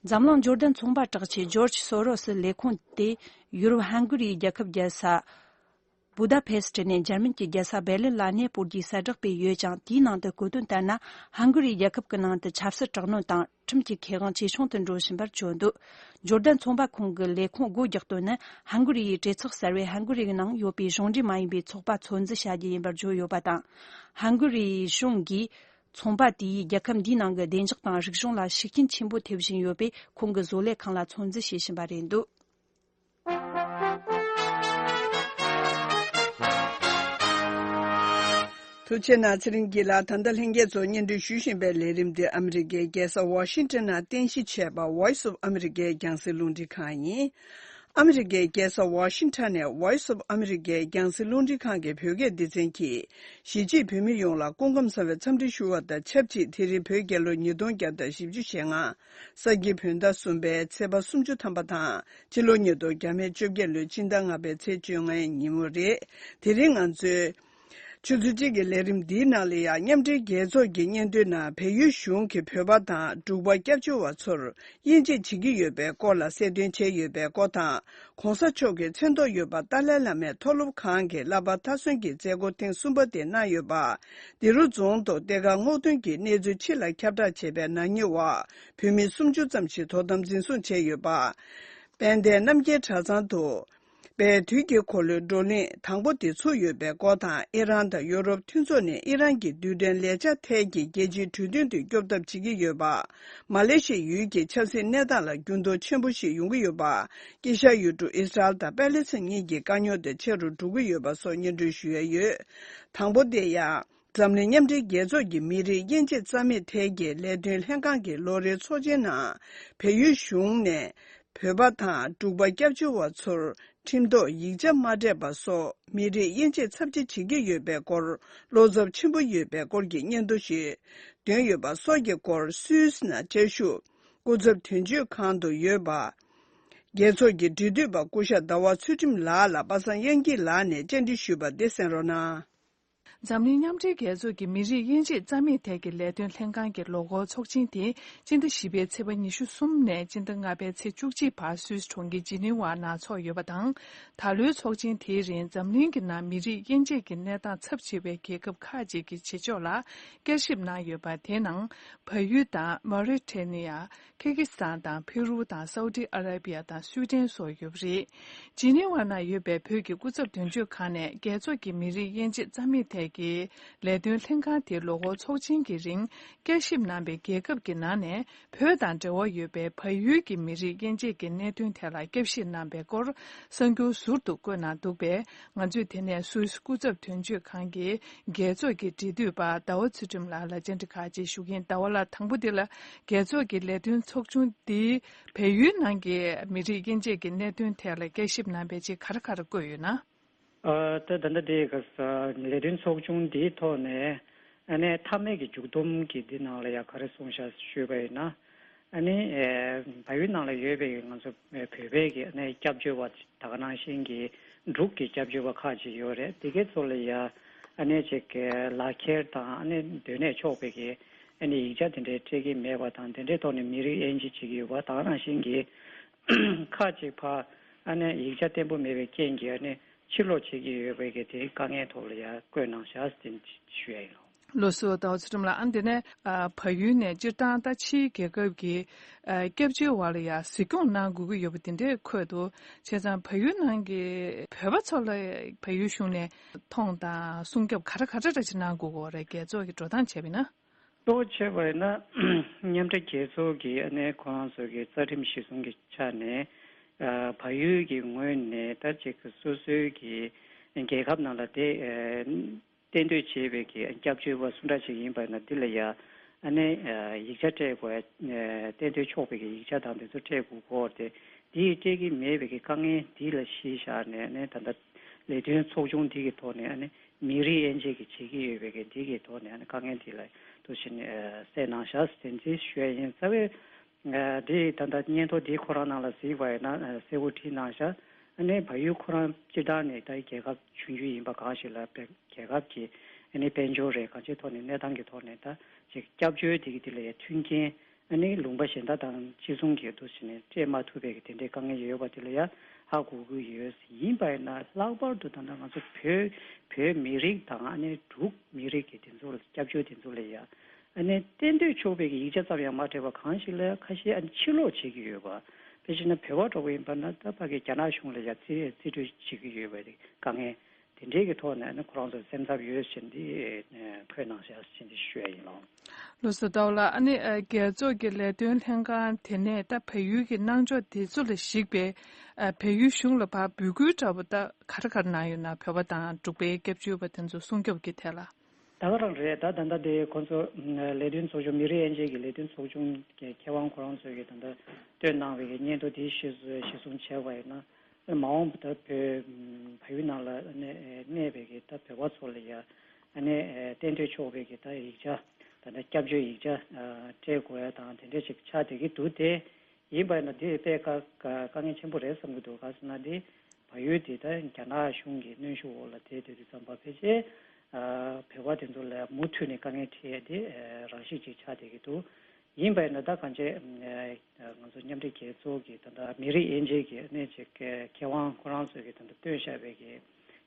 འཛམ་གླིང་འབྱོར་ལྡན་ཚོང་པ་གྲགས་ཆེ George Soros ལས་ཁུངས་དེ་ཡུ་རོབ་ཧན་གྷི་རིའི་རྒྱལ་ཁབ་རྒྱལ་ས Budapest ནས་འཇར་མན་གྱི་རྒྱལ་ས Berlin ལ་གནས་སྤོར་རྒྱུའི་གསལ་བསྒྲགས་སྤེལ་ཡོད་ཅིང་དེའི་ནང་དུ་བཀོད་དོན་ལྟར་ན་ཧན་གྷི་རིའི་རྒྱལ་ཁབ་ཀྱི་ནང་དུ་ཆབ་སྲིད་དྲག་གནོན་དང། ཁྲིམས་ཀྱི་ཁེ་དབང་ཇེ་ཆུང་དུ་འགྲོ་བཞིན་པར་བརྗོད་འདུག་འབྱོར་ལྡན་ཚོང་པ་ཁང་གི་ལས་ཁུངས་སྒོ་རྒྱག་དོན་ནི་ཧན་གོ་རི་ཡའི་གྲོས་ཚོགས་གསར་བས་ཧན་གོ་རིའི་ནང་ཡོད་པའི་གཞུང་འབྲེལ་མ་ཡིན་པའི་ཚོགས་པ་ཚོད་འཛིན་བྱ་རྒྱུ་ཡིན་པར་བརྗོད་ཡོད་པ་དང། ཧན་གོ་རི་ཡའི་གཞུང་གིས་ཚོང་པ་དེས་རྒྱལ་ཁབ་འདིའི་ནང་གི་བདེ་འཇགས་དང་རིག་གཞུང་ལ་ཤུགས་རྐྱེན་ཆེན་པོ་ཐེབས་བཞིན་ཡོད་པས་ཁོང་གི་བཟོ་ལས་ཁང་ལ་ཚོད་འཛིན་བྱེད་བཞིན་པ་རེད་འདུག། ཐུགས་ཆེ་ན་ཚེ་རིང་སྐྱིད་ལགས་ད་ལྟ་ལྷན་རྒྱས་ཚོགས་གཉེར་འཁྲུལ་ཞུ་བཞིན་པའི་ལས་རིམ་འདི་ཨ་མི་རི་ཀའི་རྒྱལ་ས་ཝོ་ཤིང་ཏོན་ན་རྟེན་གཞི་བྱས་པ Voice of America རྒྱང་སྲིང་རླུང་འཕྲིན་ཁང་ཡིན། ཨ་མི་རི་ཀའི་རྒྱལ་ས་ཝོ་ཤིང་ཏོན་ནས Voice of America རྒྱང་སྲིང་རླུང་འཕྲིན་ཁང་གི་བོད་སྐད་སྡེ་ཚན་གྱིས་གཞིས་བྱེས་བོད་མི་ཡོངས་ལ་སྐུ་ཁམས་བཟང་བའི་འཚམས་འདྲི་ཞུ་བ་དང་ཆབས་ཅིག་དེ་རིང་བོད་རྒྱལ་ལོ་ཉིས་སྟོང་བརྒྱ་དང་བཞི་བཅུ་ཞེ་ལྔ། ས་སྐྱིད་བོད་ཟླ་གསུམ་པའི་ཚེས་པ་སུམ་ཅུ་ཐམ་པ་དང་སྤྱི་ལོ་ཉིས་སྟོང་བརྒྱ་མེད་བཅོ་བརྒྱད་ལོའི་སྤྱི་ཟླ་ལྔ་པའི་ཚེས་བཅོ་ལྔའི་ཉིན་མོ་རེད། དེ་རིང་ང་ཚོས། ཆུ་ཚོད་གཅིག་གི་ལས་རིམ་འདིའི་ནང་ལེ་ཡ་མཉམ་འབྲེལ་རྒྱལ་ཚོགས་ཀྱི་སྙན་ཐོའི་ནང་བལ་ཡུལ་གཞུང་གིས་བོད་པ་དང་འབྲུག་པ་སྐྱབས་བཅོལ་བ་ཚོར་དབྱེ་འབྱེད་བྱེད་ཀྱི་ཡོད་པའི་སྐོར་ལ་གསལ་སྟོན་བྱས་ཡོད་པའི་སྐོར་དང ྋགོང་ས་མཆོག་གི་མཚན་ཐོག་ཡོད་པ་ཏཱ་ལའི་བླ་མའི་མཐོ་སློབ་ཁང་གི་བསླབ་པ་མཐར་སོན་གྱི་མཛད་སྒོ་ཐེངས་གསུམ་པ་དེ་གནང་ཡོད་པ། འདི་རུ་རྫོང་དང་སྡེ་ཁག་སྔོག་འདོན་གྱི་གནས་ཚུལ་ཕྱི་ལ་ཁྱབ་བསྒྲགས་བྱས་པའི་ནང་ཉེ་བར་བོད་མི་སུམ་ཅུ་ཙམ་ཞིག་དོ་དམ་འཛིན་བཟུང་བྱས་ཡོད་པ། དཔལ་ལྡན་རྣམ་རྒྱལ་གྲྭ་ཚང་དུ། པའི་དུས་ཀྱི་འཁོར་ལོའི་བགྲོ་གླེང་དང་པོ་དེ་ཚུགས་ཡོད་པའི་སྐོར་དང་ཨི་རན་དང་ཡོ་རོབ་མཐུན་ཚོགས་ནས་ཨི་རན་གྱི་རྡུལ་ཕྲན་ལས་ཆ་མཐའི་གྱི་རྒྱལ་སྤྱིའི་གྲོས་མཐུན་དུ་སྐྱོབ་ཐབས་བྱེད་ཀྱི་ཡོད་པ། མ་ལེ་ཤི་ཡུལ་གྱི་ཆབ་སྲིད་གནས་སྟངས་ལ་འགྱུར་ལྡོག་ཆེན་པོ་ཞིག་ཡོང་གི་ཡོད་པ། ཀི་ཤ་ཡུལ་གྲུ་ཨིས་རལ་དང་པེ་ལེ་སི་གཉིས་ཀྱི་དཀའ་རྙོག་དེ་ཆེ་རུ་འགྲོ་གི་ཡོད་པ་སོགས་སྙན་སྒྲོན་ཞུ་ཡ་ཡོད། དང་པོ་དེ་ཡང། འཛམ་གླིང་མཉམ་འབྲེལ་རྒྱལ་ཚོགས་ཀྱི་མི་རིགས་དབྱེ་འབྱེད་རྩ་མེད་ཐད་ཀྱི་ལས་དོན་ལྷན་ཁང་གི་ལོ་རེའི་ཚོགས་ཆེན་ནང། བལ་ཡུལ་གཞུང་ནས། བོད་པ་དང་འབྲུག་པ་སྐྱབས་བཅོལ་བ་ཚོར་ཁྲིམས་ཐོག་ཡིག་ཆ་མ་སྤྲད་པ་སོགས་མི་རིགས་དབྱེ་འབྱེད་ཚབས་ཆེ་བྱེད་ཀྱི་ཡོད་པའི་སྐོར་བློ་འཚབ་ཆེན་པོ་ཡོད་པའི་སྐོར་གྱི་སྙན་ཐོ་ཞིག་འདོན་ཡོད་པ་སོགས་ཀྱི་སྐོར་སུད་སི་ནང་དཔྱད་ཞུགས་སྐུ་ཚབ་དོན་གཅོད་ཁང་དུ་ཡོད་པ། རྒྱལ་ཚོགས་ཀྱི་འབྲེལ་མཐུད་པ་སྐུ་ཤ་ཟླ་བ་ཚུལ་ཁྲིམས་ལགས་ལ་པ་སངས་དབྱངས་སྐྱིད་ལགས་ནས་བཅར་འདྲི་ཞུས་པ་འདི་གསན་རོགས་གནང། འཛམ་གླིང་མཉམ་འབྲེལ་རྒྱལ་ཚོགས་ཀྱི་མི་རིགས་དབྱེ་འབྱེད་རྩ་མེད་ཐད་ཀྱི་ལས་དོན་ལྷན་ཁང་གི་ལོ་འཁོར་ཚོགས་ཆེན་དེ་སྤྱི་ཟླ་བཞི་པའི་ཚེས་པ་ཉི་ཤུ་གསུམ་ནས་སྤྱི་ཟླ་ལྔ་པའི་ཚེས་བཅུ་གཅིག་བར་སུད་གྲོང་ཁྱེར་ཇི་ནི་ཝར་ནང་ཚོགས་ཡོད་པ་དང། ད་ལོའི་ཚོགས་ཆེན་དེའི་རིང་འཛམ་གླིང་གི་ནང་མི་རིགས་དབྱེ་འབྱེད་ཀྱི་གནས་སྟངས་ཚབས་ཆེ་བའི་རྒྱལ་ཁབ་ཁག་ཅིག་གི་བྱེད་ཕྱོགས་ལ་བསྐྱར་ཞིབ་གནང་ཡོད་པ་དེའི་ནང་བལ་ཡུལ་དང་མཱོ་རི་ཐའེ་ནི་ཡ། ཁེར་གྷི་སི་ཐན་དང་ཕེ་རུ་དང་སའུ་ཏི་ཨ་ར་བྷི་ཡ་དང་སུའུ་ཏན་སོགས་ཡོད་པ་རེད། ཇི་ནི་ཝ་ན་ཡོད་པའི་བོད་ཀྱི་སྐུ་ཚབ་དོན་གཅོད་ཁང་ནས་རྒྱལ་ཚོགས་ཀྱི་མི་རིགས་དབྱེ་འབྱེད་རྩ་མེད་ཐད་ཀྱི་ལས་དོན་ལྷན་ཁང་དེ་ལོ་འཁོར་ཚོགས་ཆེན་གྱི་རིང་བསྐྱར་ཞིབ་གནང་པའི་རྒྱལ་ཁབ་ཀྱི་ནང་ནས་བོད་དང་འབྲེལ་བ་ཡོད་པའི་བལ་ཡུལ་གྱི་མི་རིགས་དབྱེ་འབྱེད་ཀྱི་གནད་དོན་ཐད་ལ་བསྐྱར་ཞིབ་གནང་པའི་སྐོར་གསར་འགྱུར་ཟུར་དུ་བཀོད་གནང་འདུག་པས་ང་ཚོས་དེ་ནས་སུད་སི་སྐུ་ཚབ་དོན་གཅོད་ཁང་གི་རྒྱལ་ཚོགས་ཀྱི་འབྲེལ་མཐུད་པ་ཟླ་བ་ཚུལ་ཁྲིམས་ལགས་ལ་བཅར་འདྲི་ཁག་ཅིག་ཞུ་གིན་ཟླ་བ་ལ་དང་པོ་འདི་ལ་རྒྱལ་ཚོགས་ཀྱི་ལས་དོན་ཚོགས་ཆུང་འདིས་བལ་ཡུལ་ནང་གི་མི་རིགས་དབྱེ་འབྱེད་ཀྱི་གནད་དོན་ཐད་ལ་དཔྱད་ཞིབ་གནང་པའི་ཆེད་གར་གར་བཀོད་ཡོད་ན། ད་ལྟ་འདི་ལས་དོན་ཚོགས་ཆུང་འདིའི་ཐོག་ནས་ཨ་ནེ་མཐའ་མེད་ཀྱི་མཇུག་སྡོམ་གྱི་འདི་ནང་ལ་ཡ་ག་རེ་གསུངས་བཞག་ཞུས་པ་ཡིན་ན། ཨ་ནི། བལ་ཡུལ་ནང་ལ་ཡོད་པའི་ང་ཚོ་བོད་པའི་གི་ཨ་ནི་སྐྱབས་བཅོལ་བ་ད་ག་ནང་བཞིན་གྱི་འབྲུག་གི་སྐྱབས་བཅོལ་བ་ཁག་ཅིག་ཡོད་རེད་དེ་གའི་ཚོ་ལ་ཡ་ཨ་ནི་ཅིག་གི་ལག་ཁྱེར་དང་ཨ་ནི་སྡོད་གནས་ཆོག་པའི་གི་ཨ་ནི་ཡིག་ཆ་དེ་འདྲའི་སྤྲད་གི་མེད་པ་དང་དེ་འདྲའི་ཐོག་ནས་མི་རིགས་དབྱེ་འབྱེད་བྱེད་ཀྱི་ཡོད་པ་ད་ག་ནང་བཞིན་གྱི་ཁག་ཅིག་ཕ་ཨ་ནི་ཡིག་ཆ་བརྟན་པོ་མེད་པའི་རྐྱེན་གྱིས་ཨ་ནི་ཕྱིར་ལོག་བྱེད་ཀྱི་ཡོད་པའི་གི་དེའི་དཀའ་ངལ་ཐོག་ལ་ཡ་བཀོད་གནང་ཞག་ཞུ་ཡ་ཡིན་ལོ། བློ་གཟུ་བདག་གཟུ་འགྲིམ་ལ་ཨང་འདི་ནས་བ་ཡུལ་ནས་སྤྱིར་བཏང་ལྟ་ཕྱིའི་རྒྱལ་ཁབ་ཀྱི་སྐྱབས་བཅོལ་བ་ལ་ཡང་གཟིགས་སྐྱོང་གནང་དགོས་ཀྱི་ཡོད་པ་འདི་འདྲས་འཁོད་འདུག་བྱས་ཙང་བ་ཡུལ་ནང་གི་བོད་པ་ཚོ་ལ་བ་ཡུལ་གཞུང་ནས་མཐོང་དང་སྲུང་སྐྱོབ་ག་འདྲ་ག་འདྲ་འདྲ་ཅིག་གནང་དགོས་ཀྱི་རེད་རྒྱལ་ཚོགས་ཀྱི་འགྲོ་སྟངས་བྱས་པས་ན། གཙོ་བོ་བྱས་པས་ན་མཉམ་འབྲེལ་རྒྱལ་ཚོགས་ཀྱི་ཨ་ནེ་ཁོ་རང་ཚོ་གི་རྩ་ཁྲིམས་གཞི་བཟུང་གི་ཆ་ནས་བ་ཡུལ་གྱི་ངོས་ནས་ད་ཅིག་སོ་སོའི་གི་རྒྱལ་ཁབ་ནང་ལ་དེ་གཏན་སྡོད་བྱེད་པའི་གི་སྐྱབས་བཅོལ་བ་སུ་འདྲ་ཞིག་ཡིན་པ་ན་འདི་ལ་ཡང་ཨ་ནེ་ཡིག་ཆ་སྤྲད་དགོས། གཏན་སྡོད་ཆོག་པའི་གི་ཡིག་ཆ་དང་དེ་ཚོ་སྤྲད་དགོས་སྐོར་ཏེ། འདི་ཡི་སྤྲད་ཀྱི་མེད་པའི་གི་དཀའ་ངལ་འདི་ལ་གཞི་བཞག་ནས་ཨ་ནེ་ད་ལྟ་ལས་དོན་ཚོགས་ཆུང་འདི་གི་ཐོག་ནས་ཨ་ནེ་མི་རིགས་དབྱེ་འབྱེད་གི་བྱེད་ཀྱི་ཡོད་པའི་གི་འདི་གི་ཐོག་ནས་ཨ་ནེ་དཀའ་ངལ་འདི་ལ་དོ་ཞིན་གསལ་གནང་བཞག་ཟེར་འཛིན་ཞུ་ཡ་ཡིན་རྩ་བའི། དེས་ད་ལྟ་སྙན་ཐོ་འདི་ཁོ་རང་ནང་ལ་གཟིགས་པ་ཡིན་ན་གསལ་བོ་བྲིས་གནང་ཤག་ཨནི་བ་ཡུལ་ཁོ་རང་སྤྱིར་བཏང་ནས་ད་རྒྱལ་ཁབ་བྱུང་རྒྱུ་ཡིན་པ་གང་ཞིག་ལ་བལ་རྒྱལ་ཁབ་ཀྱི་ཨནི་དཔལ་འབྱོར་རེད་གང་ཅིའི་ཐོག་ནས་གནས་སྟངས་ཀྱི་ཐོག་ནས་ད་ཅིག་སྐྱབས་བཅོལ་དེ་གི་དེ་ལས་མཐུན་རྐྱེན་ཨནི་ལུང་པ་གཞན་དག་དང་གཅིག་མཚུངས་ཀྱི་འདུ་བྱེད་ནས་སྤྲད་མ་ཐུབ་པའི་གི་དེ་འདྲའི་དཀའ་ངལ་ཡོད་པ་དེ་ལ་ཡ་ཧ་གོ་དགོས་ཀྱི་ཡོད་ཡིན་པ་ཡིན་ན་ལྷག་པར་དུ་ད་ལྟ་ང་ཚོ་བོད་བོད་མི་རིགས་དང་ཨནི་འབྲུག་མི་རིགས་ཀྱི་དེ་ཚོ་ལ་སྐྱབས་བཅོལ་དེ་ཚོ་ལ་ཡ་ཨ་ནེ་གཏན་སྡོད་ཆོས་འཕེལ་གྱི་ཡིག་ཆ་ཙམ་ཡང་མ་སྤྲད་པར་གང་ཞིག་ལ་ཁ་ཤས་ཨ་ནེ་ཕྱིར་ལོག་བྱེད་ཀྱི་ཡོད་པ། དེ་བཞིན་ན་བོད་བར་གྲོགས་པོ་ཡིན་པ་ན་ད་བར་གྱི་རྒྱ་ནག་གཞུང་ལ་ཡང་བརྩི་བས་རྩིས་སྤྲོད་བྱེད་ཀྱི་ཡོད་པ་རེད་དཀའ་ངལ་དེ་འདྲའི་གི་ཐོག་ནས་ཨ་ནེ་ཁོ་རང་ཚོར་སེམས་འཚབ་ཡོད་ཟེར་འདི་ཁོའི་ནང་བཞག་ཟེར་འདི་ཤོད་ཡ་ཡིན་ལོ། ལོ་སོ་དོག་ལ་ཨ་ནེ་རྒྱལ་ཚོགས་ཀྱི་ལས་དོན་ལྷན་ཁང་དེ་ནས་ད་བལ་ཡུལ་གྱི་གནང་ཕྱོགས་དེ་ཚོ་ལ་གཞིགས་པས་བལ་ཡུལ་གཞུང་ལ་བར་འབུད་སྐུལ་འདྲ་བོ་ད་ག་ར་ག་ར་གནང་ཡོད་ན་བོད་པ་དང་འབྲུག་པའི་སྐྱབས་བཅོལ་བ་དེ་ཚོ་སྲུང་སྐྱོབ་ཀྱི་ཐད་ལ། ད་ག་རང་རེད་ད་ད་ལྟ་དེ་ཁོ་ཚོ་ལས་དོན་ཚོགས་ཆུང་མི་རིགས་དབྱེ་འབྱེད་ཀྱི་ལས་དོན་ཚོགས་ཆུང་གི་མཁས་དབང་ཁོ་རང་ཚོས་ཀྱི་ད་ལྟ་བཏོན་གནང་བའི་སྙན་ཐོ་དེ་ཤེས་གསུང་བྱས་པ་ཡིན་ན། མ་འོངས་ད་བོད་ཕ་ཡུལ་ནང་ལ་གནས་པའི་ཀྱི་ད་བོད་པ་ཚོ་ལ་ཡང་གཏན་སྡོད་ཆོག་པའི་ཀྱི་ད་ཡིག་ཆ་ད་ད་སྐྱབས་བཅོལ་ཡིག་ཆ་སྤྲད་དགོས་ཡ་དང་དེ་འདྲ་ཅིག་ཆགས་བསྡད་ཀྱི་འདུག་དེ་ཡིན་པས་ན་འདི་དཔེ་དཀའ་ངལ་ཆེན་པོ་རེད་བསམ་གྱི་འདུག་ག་ཟེར་ན་འདི་བལ་ཡུལ་འདི་དང་རྒྱ་ནག་གཞུང་གི་གནོན་ཤུགས་འོག་ལ་བསྡད་དུས་དུས་ཙམ་བབས་པས་རྗེས་བལ་བ་དེ་ཚོ་ལ་མུ་མཐུད་ནས་དཀའ་ངལ་འཕྲད་ཡས་དེ་རང་གཤིས་ཅིག་ཆགས་བསྡད་ཀྱི་འདུག་ཡིན་པས་ན་ད་གང་ཆེ་ང་ཚོ་མཉམ་འབྲེལ་རྒྱལ་ཚོགས་ཀྱི་ད་ལྟ་མི་རིགས་དབྱེ་འབྱེད་ཀྱི་གནད་ཀྱི་ཁེ་དབང་ཁོ་རང་ཚོས་ཀྱི་ད་ལྟ་བཏོན་ཤག་བས་ཀྱི་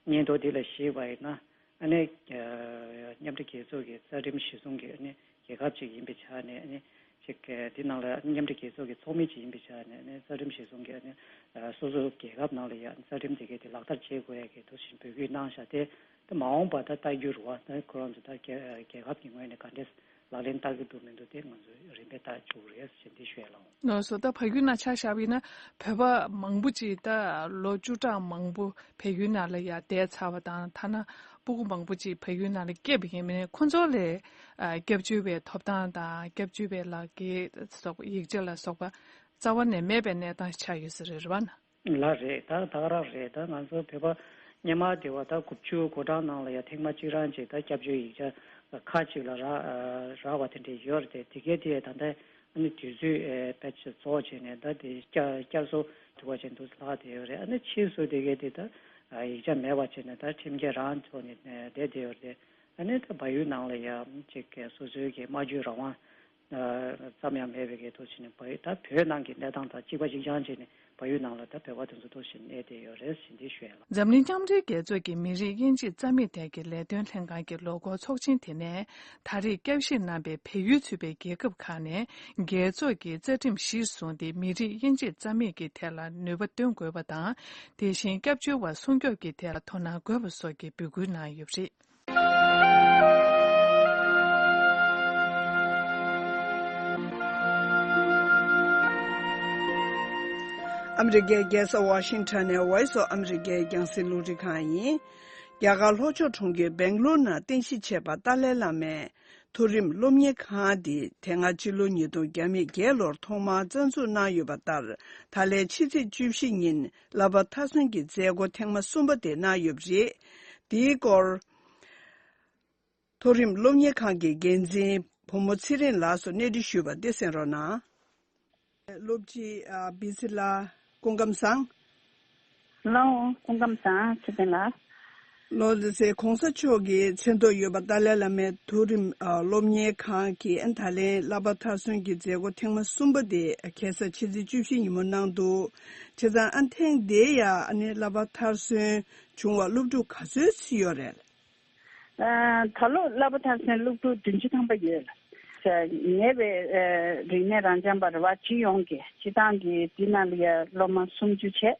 སྙན་ཐོ་འདི་ལ་གཞིགས་པ་ཡིན་ན་མཉམ་འབྲེལ་རྒྱལ་ཚོགས་ཀྱི་རྩ་ཁྲིམས་གཞི་བཟུང་གི་རྒྱལ་ཁབ་ཅིག་ཡིན་པའི་ཆ་ནས། དེའི་ནང་ལ་མཉམ་འབྲེལ་རྒྱལ་ཚོགས་ཀྱི་ཚོགས་མི་ཅིག་ཡིན་པའི་ཆ་ནས་རྩ་ཁྲིམས་གཞི་བཟུང་གི་སོ་སོའི་རྒྱལ་ཁབ་ནང་ལ་ཡང་རྩ་ཁྲིམས་དེ་གའི་དེ་ལག་བསྟར་བྱེད་དགོས་ཡ་གི་དོགས་ཞེན་འབོད་སྐུལ་གནང་བཞག་སྟེ། མ་འོངས་པ་ད་ལྟ་རྒྱུ་རུ་བ་ཁོ་རང་ཚོ་ད་རྒྱལ་ཁབ་ཀྱི་ངོས་ནས་ག་འདྲའི་ལག་ལེན་བསྟར་གྱི་འདུག་མི་འདུག་དེ་ང་ཚོས་རིམ་པས་བལྟ་བཅུག་རེས་ཞེ་འདི་ཤོད་ལོང། ནོར་སོ་ད་ཕ་ཡུལ་ན་ཆ་བཞག་པ་ཡིན་ན་བོད་པ་མང་པོ་ཅིག་ད་ལོ་བཅུ་གྲངས་མང་པོ་བལ་ཡུལ་ན་ལ་ཡ་བསྡད་ཚར་བ་དང་ཐ་ན་སྤུ་གུ་མང་པོ་ཅིག་བལ་ཡུལ་ན་ལ་སྐྱེས་པ་ཡིན་མིན་ཁོང་ཚོ་ལས་སྐྱབས་བཅོལ་བའི་ཐོབ་ཐང་དང་སྐྱབས་བཅོལ་བའི་ལག་འཁྱེར་སོགས་ཡིག་ཆ་ལ་སོགས་པ་རྩ་བ་ནས་མེད་པའི་གནས་སྟངས་ཆགས་ཡོད་ས་རེད་རེད་བ་ན། ལ་རེད་ད་ཐག་རག་རེད་ད་ང་ཚོ་བོད་པ་སྙན་མ་དེ་བ་ད་དགུ་བཅུ་གོ་གྲངས་ནང་ལ་ཡ་ཐེངས་མ་གཅིག་རང་གཅིག་ད་སྐྱབས་བཅོལ་ཡིག་ཆ་ཁ་གཅིག་ལ་རག་བ་དེ་འདྲས་ཡོད་རེད་དེ་གས་དེ་ད་ལྟ་ཨ་ནི་དུས་ཚོད་བེད་རྫོགས་བྱས་ནས་ད་དེ་བསྐྱར་བཟོ་དུ་བ་བྱས་འདུག་ལྷག་བསྡད་ཡོད་རེད་ཨ་ནི་ཕྱིས་སུ་དེ་གས་དེ་ད་ཡིག་ཆ་མེད་བ་བྱས་ནས་ད་ཁྲིམས་འགལ་རང་ཚོ་ནས་བསྡད་བསྡད་ཡོད་རེད་ཨ་ནི་ད་བ་ཡུལ་ནང་ལ་ཡ་གཅིག་གས་སོ་སོའི་གས་སྨྲ་བརྗོད་རང་དབང་ཙམ་ཡང་མེད་པའི་ཀའི་ཐོག་ཞིག་ནས་བལ་ཡུལ་ད་བོད་ནང་གི་གནས་སྟངས་དང་གཅིག་པ་ཤིན་ཅང་བཅས་ནས་བལ་ཡུལ་ནང་ལ་ད་བོད་པ་དེ་ཚོ་ཐོག་ཞིག་གནས་བསྡད་ཡོད་རེད་ཟེར་འདི་ཤོད་ཡ་ལ། འཛམ་གླིང་མཉམ་འབྲེལ་རྒྱལ་ཚོགས་ཀྱི་མི་རིགས་དབྱེ་འབྱེད་རྩ་མེད་ཐད་ཀྱི་ལས་དོན་ལྷན་ཁང་གི་ལོ་འཁོར་ཚོགས་ཆེན་དེ་ནས་ད་རེས་སྐྱབས་བཞེས་གནང་པའི་བལ་ཡུལ་ཚུད་པའི་རྒྱལ་ཁབ་ཁག་ནས་རྒྱལ་ཚོགས་ཀྱི་རྩ་ཁྲིམས་གཞིར་བཟུང་སྟེ་མི་རིགས་དབྱེ་འབྱེད་རྩ་མེད་ཀྱི་ཐད་ལ་ནུས་པ་འདོན་དགོས་པ་དང་དེ་བཞིན་སྐྱབས་བཅོལ་བ་སྲུང་སྐྱོབ་ཀྱི་ཐད་ལ་དོ་སྣང་དགོས་པ་སོགས་ཀྱི་འབོད་སྐུལ་གནང་ཡོད་པ་རེད། ཨ་མི་རི་ཀའི་རྒྱལ་ས་ཝཱ་ཤིང་ཐོན་ནས Voice of America ཡི་རྒྱང་སྲིང་ལུང་རིགས་ཁང་ཡིན། རྒྱ་གར་ལྷོ་ཕྱོགས་གྲོང་ཁྱེར་སྦེང་ལུར་ནང་རྟེན་གཞི་བྱས་པ་ཏཱ་ལའི་བླ་མའི་མཐོ་རིམ་སློབ་གཉེར་ཁང་འདི་དེ་སྔ་སྤྱི་ལོ་ཉིས་སྟོང་བརྒྱ་མེད་བརྒྱད་ལོར་ཐོག་མར་རྩ་འཛུགས་གནང་ཡོད་པ་ལྟར་ད་ལའི་ཕྱི་ཚེས་བཅུ་བཞི་ཉིན་ལ་བ་མཐའ་སོན་གྱི་མཛད་སྒོ་ཐེངས་མ་གསུམ་པ་དེ་གནང་ཡོད་པ་རེད། འདིའི་སྐོར། མཐོ་རིམ་སློབ་གཉེར་ཁང་གི་འགན་འཛིན་བུ་མོ་ཚེ་རིང་ལགས་སུ་གནས་འདྲི་ཞུས་པ་འདི་གསན་རོགས་གནང། སློབ་སྤྱི། བི་ཚེ་ལགས། སྐུ་ཁམས་བཟང། ཧལ་ལོ། སྐུ་ཁམས་བཟང། ཚེ་བརྟན་ལགས། ལོ་རེ་ཚེ་གོང་ས་མཆོག་གིས་མཚན་ཐོག་ཡོད་པ་ཏཱ་ལའི་བླ་མའི་མཐོ་རིམ་སློབ་གཉེར་ཁང་གི་ད་ལན་གླ་པ་མཐར་སོན་གྱི་མཛད་སྒོ་ཐེངས་མ་གསུམ་པ་དེ་གེ་སར་ཕྱི་ཚེས་བཅུ་བཞི་ཉིན་མོ་གནང་འདུག་བྱས་ཙང་ཨ་ཐེངས་འདིའི་ཡ་ནི་གླ་པ་མཐར་སོན་བྱུང་བ་སློབ་ཕྲུག་ག་ཚོད་བརྩི་ཡོད་རེད། ད་ལོ་གླ་པ་མཐར་སོན་སློབ་ཕྲུག་བདུན་ཅུ་ཐམ་པ་ཡོད། ཉེ་བའི་རིག་གནས་རང་བྱམས་པར་བ་སྤྱི་ཡོངས་ཀྱི་སྤྱི་བཏང་གི་འདི་ན་ལི་ཡ་སློབ་མ་སུམ་ཅུ་བྱས།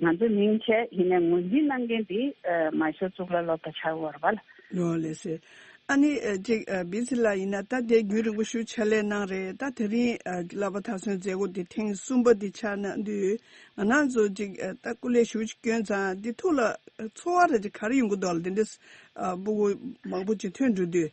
ང་ཚོས་མིང་ཆད་ཡིན་ནས་ངོས་འཛིན་གནང་མཁན་དེ་མ་ཤོར་གཙུག་ལག་སློབ་གྲྭ་ཆར་བར་བལ། ནོར་ལེ་སི། ཨ་ནི། ཅིག་བིས་ཚི་ལ་ཡིན་ན་ད་དེ་རྒྱུན་རིང་པོ་ཞུ་ཆ་ལས་གནང་རེད་ད་དེ་རིང་ལབ་པ་ད་སོན་མཛད་སྒོ་དེ་ཐེངས་གསུམ་པ་འདི་ཆགས་ན་འདུས་ང་ནང་ཚོ་ཅིག་ད་སྐུ་ལས་ཞུ་ཅིག་སྐྱོན་ཚང་འདི་ཐུགས་ལ། འཚོ་བ་ར་ཅིག་གར་ཡོང་གི་འདུག་ལ་དེ་འདྲའི། སྤུ་གུ་མང་པོ་ཅིག་ཐོན་འགྲོ་དུས།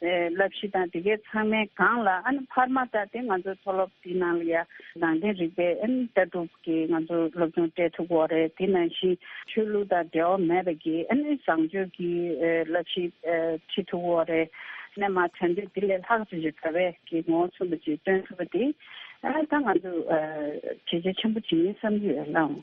བསླབ་གཞི་དང་དེ་གའི་ཚང་མའི་སྒང་ལ་ཨ་ནི་འཕར་མ་ལྟར་དེ་ང་ཚོའི་མཐོ་སློབ་དེའི་ནང་ལ་ཡང་རང་བདེན་རིག་པའི་ཨ་ནི་ལྟ་གྲུབ་ཀྱི་ང་ཚོ་སློབ་སྦྱོང་སྤྲད་ཐུབ་བོ་རེད་དེ་ནང་བཞིན་ཆོས་ལུགས་དང་འབྲེལ་བ་མེད་པ་ཀྱི་ཨ་ནི་བཟང་སྤྱོད་ཀྱི་བསླབ་གཞི་ཁྲིད་ཐུབ་བོ་རེད། ནས་མ་བྱ་འདི་དེ་ལས་ལྷག་ཅིག་བྱེད་དགོས་པས་ཀྱི་ངོ་བོ་མཚོན་པ་ཅིག་སྟོན་ཐུབ་པ་དེ་ད་ང་ཚོས་གལ་ཆེ་ཆེན་པོ་ཅིག་ཡིན་བསམ་གྱི་ཡོད་སླའོ།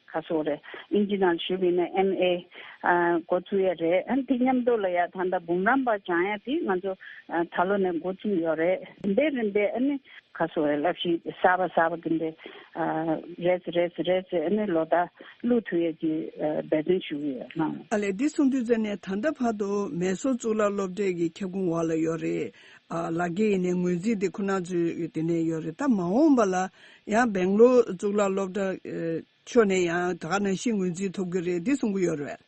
ཁ་སོ་རེད། ཨིན་ཇི་ནང་ཞུགས་ཡིན་ན་ཨེམ་ཨེ། འགོ་བཙུགས་ཡས་རེད། ཨན་དེ་མཉམ་འདུག་ལ་ཡག་ད་ལྟ་འབུམ་རམས་པ་བྱང་ཡས་དེ་ང་ཚོ་ད་ལོ་ནས་འགོ་བཙུགས་ཡོད་རེད། རིམ་པས་རིམ་པས་ཨ་ནི། ཁ་སོ་རེད་ལབ་ཤིག་གསར་པ་གསར་པ་དེ་འདྲས། རེད་རེད་རེད་ཨ་ནི་ལོ་ད་ཀླུ་ཐུ་ཡས་ཀྱི་འབད་བརྩོན་ཞུ་གི་ཡོད་ལ། ཨ་ལས་འདི་གསུང་དུས་ཙ་ནས་ད་ལྟ་བར་དུ་མེད་སོ་གཙུག་ལག་སློབ་གྲྭའི་གི་ཁྱབ་ཁུང་འོག་ལ་ཡོད་རེད། ལག་ཁྱེར་ཡིན་ནས་ངོས་འཛིན་དེ་ཁོ་ན་ཚོའི་དེ་ནས་ཡོད་རེད་ད་མ་འོངས་པ་ལ། ཡང་སྦེང་ལོར་གཙུག་ལག་སློབ་གྲྭ། ཕྱོགས་ནས་ཡང་དག་ནང་བཞིན་ངོས་འཛིན་ཐུབ་གི་རེད་འདི་གསུང་གི་ཡོད་རེད།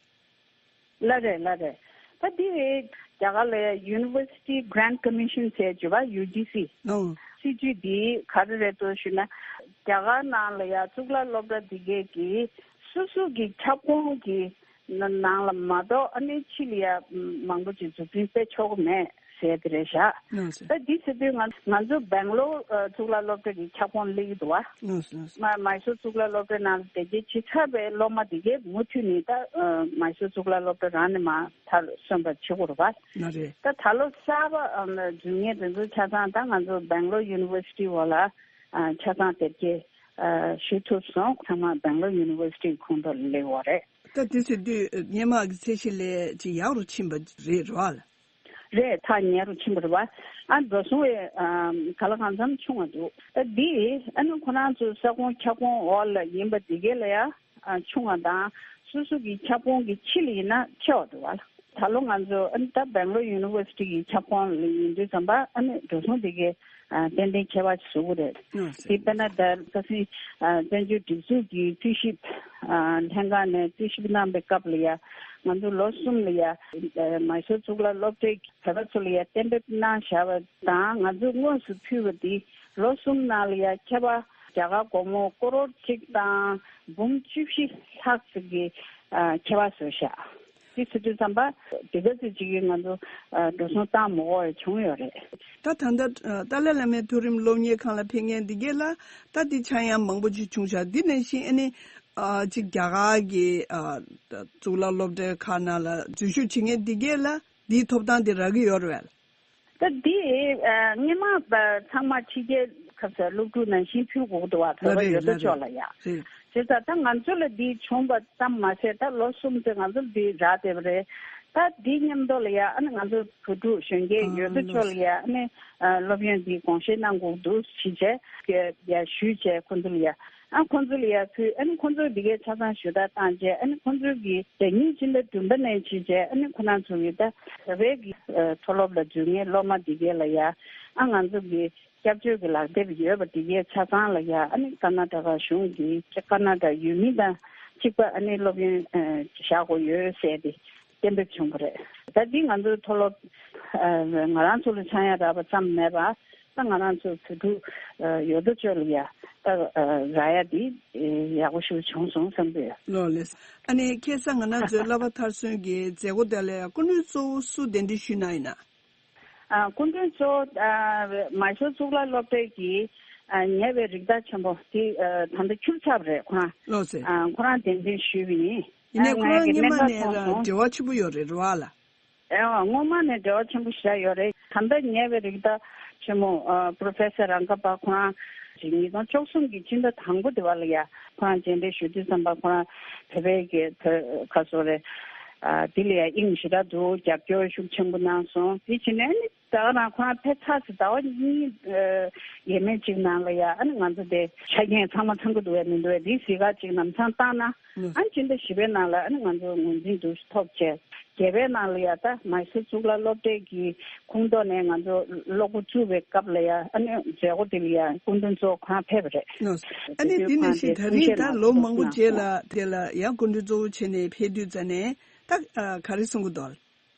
ལ་རེད་ལ་རེད། ད་འདི་རེད། རྒྱ་གར་ལ University Grant Commission ཟེར་བྱས་པ UGC། ནང། སྲིད་ཇུས་འདི་ག་རེ་རེད་དོ་ཞུས་ན། རྒྱ་གར་ནང་ལ་ཡང་གཙུག་ལག་སློབ་གྲྭ་འདི་གའི་གིས་སུ་སུ་གི་ཁྱབ་ཁོངས་ཀྱི་ནང་ལ་མ་གཏོགས་ཨ་ནེ་ཆི་ལི་ཡ་མང་པོ་ཅིག་འཛུགས་སྐྲུན་སྤེལ་ཆོག་གི་མེད་ཟེར་གི་རེད་བཞག་ད་འདི་ཟེར་དུས་ང་ཚོ་སྦེང་ལོར་གཙུག་ལག་སློབ་གྲྭ་གི་ཁྱབ་ཁོངས་གླེང་གི་འདུག་བ། མཱི་སུར་གཙུག་ལག་སློབ་གྲྭའི་ནང་དེ་རྗེས་ཇི་ཆགས་པའི་སློབ་མ་དེ་གས་མུ་མཐུད་ནས་ད་མཱི་སུར་གཙུག་ལག་སློབ་གྲྭ་རང་ནས་མ་མཐར་སོན་པར་བྱེད་དགོས་རེད་བ། ད་ད་ལོ་གསར་པ་འཛུལ་ངེས་དེ་ཚོ་ཆ་ཚང་ད་ང་ཚོ་སྦེང་ལོར University བ་ལ་ཆ་ཚང་དེབ་སྐྱེལ་ཞུ་ཐུབ་སོང་ཚང་མ Bangalore University ཁོང་དུ་སླེབས་བ་རེད། ད་དེ་ཚོས་དུས་སྙན་མག་གི་ཚད་གཞི་ལས་ཅི་ཡག་རུ་ཕྱིན་པ་རེད་རོལ། རེད་ཐག་ཉེ་རུ་ཕྱིན་པ་རེད་བ། ཨ་མདོ་སོང་བའི་ག་ལ་གང་འཚམ་ཆུང་བ་འདུག་ཨ་འདི་ཨ་ནུ་ཁོ་རང་ཚོའི་ས་ཁོངས་ཁྱབ་ཁོངས་འོག་ལ་ཡིན་པ་དེ་གས་ལ་ཡ། ཆུང་བ་དང་སོ་སོ་གི་ཁྱབ་ཁོངས་ཀྱི་ཕྱི་ལ་ཡིན་ན་ཆེ་བ་དུ་བ་ལ། ད་ལོ་ང་ཚོ་ཨན་ད་བེང་ལོར University གི་ཁྱབ་ཁོངས་ལ་ཡིན་དུས་ཙམ་པ་ཨ་མེས་འགྲོ་སོང་དེ་གའི་ཏན་ཏན་ཁྱད་པར་བཟོ་གི་རེད། དེ་པེ་ན་ད་ས་སི་བཙན་བྱོལ་སྒྲིག་འཛུགས་ཀྱི་རྩིས་ཞིབ་ལྷན་ཁང་ནས་རྩིས་ཞིབ་གནང་པའི་སྐབས་ལ་ཡ་ང་ཚོ་ལོ་གསུམ་ལ་ཡ་མཱི་སོ་ཙུག་ལ་སློབ་གྲྭའི་བོད་པ་ཚོ་ལ་ཡ་གཏན་འབེབས་གནང་བཞག་པ་དང་ང་ཚོ་དངོས་སུ་ཕུལ་བ་དེ་ལོ་གསུམ་ནང་ལ་ཡ་མཁས་པ་རྒྱ་གར་སྒོར་མོ་སྐོར་རོར་གཅིག་དང་འབུམ་བཅུ་བཞི་ལྷག་ཙིག་གི་མཁས་པ་ཟུར་བཞག་གིས་སི་ཏུ་ཙམ་པ་དེ་ག་ཚོད་ཅིག་གིས་ང་ཚོ་འགྲོ་སོང་བཏང་མི་འོ་བས་བྱུང་ཡོད་རེད། ད་ད་ནི་ཏཱ་ལའི་བླ་མའི་མཐོ་རིམ་སློབ་གཉེར་ཁང་ལ་ཕེབས་མཁན་འདི་གས་ལ་ད་དེ་ཆ་ཡང་མང་པོ་ཅིག་བྱུང་ཤག་འདི་ནས་ཤིན་ཨ་ནི་ཅིག་རྒྱ་གར་གི་གཙུག་ལག་སློབ་གྲྭའི་ཁག་ནང་ལ་འཛུལ་ཞུགས་བྱེད་མཁན་འདི་གས་ལ་འདིའི་ཐོབ་ཐང་དེ་རག་གི་ཡོད་རེད། སྐབས་འདིའི་དངོས་མང་ཚང་མ་ཕྱི་རྒྱལ་ཁབ་སར་སློབ་ཕྲུག་ནང་བཞིན་ཕུད་འགོག་ཏུ་བ་བོད་པ་ཡོད་དོ་ཅོག་ལ་ཡ་བྱེད་ས་ད་ང་ཚོ་ལ་འདི་བྱུང་བ་ཙམ་མ་ཟད་ད་ལོ་གསུམ་ཚེ་ང་ཚོར་འདི་རག་བསྡད་པ་རེད་ད་འདི་ཉམས་རྟོགས་ལ་ཡ་ཨ་ནི་ང་ཚོ་བོད་ཕྲུག་གཞོན་སྐྱེས་ཡོད་དོ་ཅོག་ལ་ཡ་ཨ་ནི་སློབ་ཡོན་འདི་དགོངས་བཞེས་གནང་འགོག་འདུ་ཤིས་བྱས་ཞུས་བྱས་ཁོ་ཚོ་ལ་ཡ། ཨ་ཁོ་ཚོ་ལ་ཡར་ཕུལ་ཨ་ནི་ཁོ་ཚོར་འདི་གའི་ཆ་ཚང་ཞུ་དག་བཏང་རྗེས་ཨ་ནི་ཁོ་ཚོའི་གི་རེ་སྙིང་སྤྱི་ཟླ་བདུན་པ་ནས་འཆི་རྗེས་ཨ་ནི་ཁོ་ན་ཚོ་གི་ད་རེས་གི་མཐོ་སློབ་ལ་འཇུག་ངེས་སློབ་མ་འདི་གའི་ལ་ཡར་ཨ་ང་ཚོ་གི་སྐྱབས་བཅོལ་གི་ལག་དེབ་ཡོད་པ་འདི་གའི་ཆ་ཚང་ལ་ཡར་ཨ་ནི་ཀ་ན་ད་ག་གཞུང་གི་ཀ་ན་ད་ཡུལ་མི་དང་གཅིག་པ་ཨ་ནི་སློབ་ཡོན་བཞག་གོ་ཡོད་ཟེར་ཏེ་གཏན་འབེབས་བྱུང་བ་རེད། ད་འདི་ང་ཚོའི་མཐོ་སློབ་ང་རང་ཚོ་ལ་ཆང་ཡ་རག་པ་ཙམ་མེད་པར་ད་ང་རང་ཚོ་བོད་ཕྲུག་ཡོད་དོ་ཅོག་ལ་ཡ་རག་ཡ་འདི་ཡག་པོ་ཞིག་བྱུང་སོང་བསམ་གི་ཡོད། ལོ་ལེགས། ཨ་ནེ་ཁྱེད་ཚང་ང་ནང་ཚོའི་བསླབ་པ་མཐར་སོན་གྱི་མཛད་སྒོ་དེ་ལས་སྐུ་མགྲོན་གཙོ་བོ་སུ་གདན་འདྲེན་ཞུས་གནང་ཡིན་ན། སྐུ་མགྲོན་གཙོ་བོ་མ་ཤོར་གཙུག་ལག་སློབ་གྲྭའི་གི་ཉེ་བའི་རིགས་བདག་ཆེན་པོ་དེ་ད་ལྟ་ཁྱུར་ཚབ་རེད་ཁོ་རང་ཁོ་རང་གདན་འདྲེན་ཞུས་པ་ཡིན། ཡིན་ནས་ཁོ་རང་གཉིས་མ་ནས་རང་འབྲེལ་བ་ཆེན་པོ་ཡོད་རེད་རེད་བ་ལ། ཨེའོ་ངོ་མ་ནས་འབྲེལ་བ་ཆེན་པོ་ཞིག་ཡོད་རེད་ད་ལྟ་ཉེ་བའི་རིགས་ད་ཆེན་མོ Professor རང་ཁ་པ་ཁོ་རང་གིས་ཉིས་སྟོང་བཅོ་གསུམ་གྱི་སྤྱི་ཟླ་དང་པོ་དེ་བ་ལ་ཡ་ཁོ་རང་མཇལ་འབྲེལ་ཞུ་དུས་བསམ་པ་ཁོ་རང་བོད་པའི་གི་བོད་ཁ་སོ་རེད་དེ་ལ་ཡ་དབྱིངས་ཞི་དྲག་འདུག་རྒྱབ་སྐྱོར་ཤུགས་ཆེན་པོ་གནང་སོང་དེ་བྱིན་ནས་ནི། ཟླ་བ་རང་ཁོ་རང་ཕེབས་ཚར་ཟིན་ཟླ་བ་གཉིས་ཡས་མས་གཅིག་ནང་ལ་ཡ་ཨ་ནི་ང་ཚོ་དེ་ཆ་རྐྱེན་ཚང་མ་ཚང་གི་འདུག་བས་མི་འདུག་བས་དེའི་གཟི་ག་ཅིག་ནམ་ཚང་བཏང་ན་ཨ་ནི་སྤྱི་ཟླ་བཞི་པའི་ནང་ལ་ཨ་ནི་ང་ཚོ་ངོས་འཛིན་འདུག་ཐོག་བཅས་བརྒྱད་པའི་ནང་ལ་ཡ་ད་མཱི་སུ་གཙུག་ལག་སློབ་གྲྭའི་གི་ཁུངས་གཏོགས་ནས་ང་ཚོ་སློབ་གོ་བཙུགས་པའི་སྐབས་ལ་ཡ་ཨ་ནི་མཛད་སྒོ་དེ་ལ་ཡ་སྐུ་མགྲོན་གཙོ་བོ་ཁོ་རང་ཕེབས་པ་རེད། ཨ་ནི་དེ་ནས་བཞིན་ད་རིང་ད་ལོ་མང་པོ་རྗེས་ལ་དེ་ལ་ཡ་སྐུ་མགྲོན་གཙོ་བོ་བྱས་ནས་ཕེབས་དུས་ཛ་ནས་ད་ག་རེ་གསུང་གི་འདུག་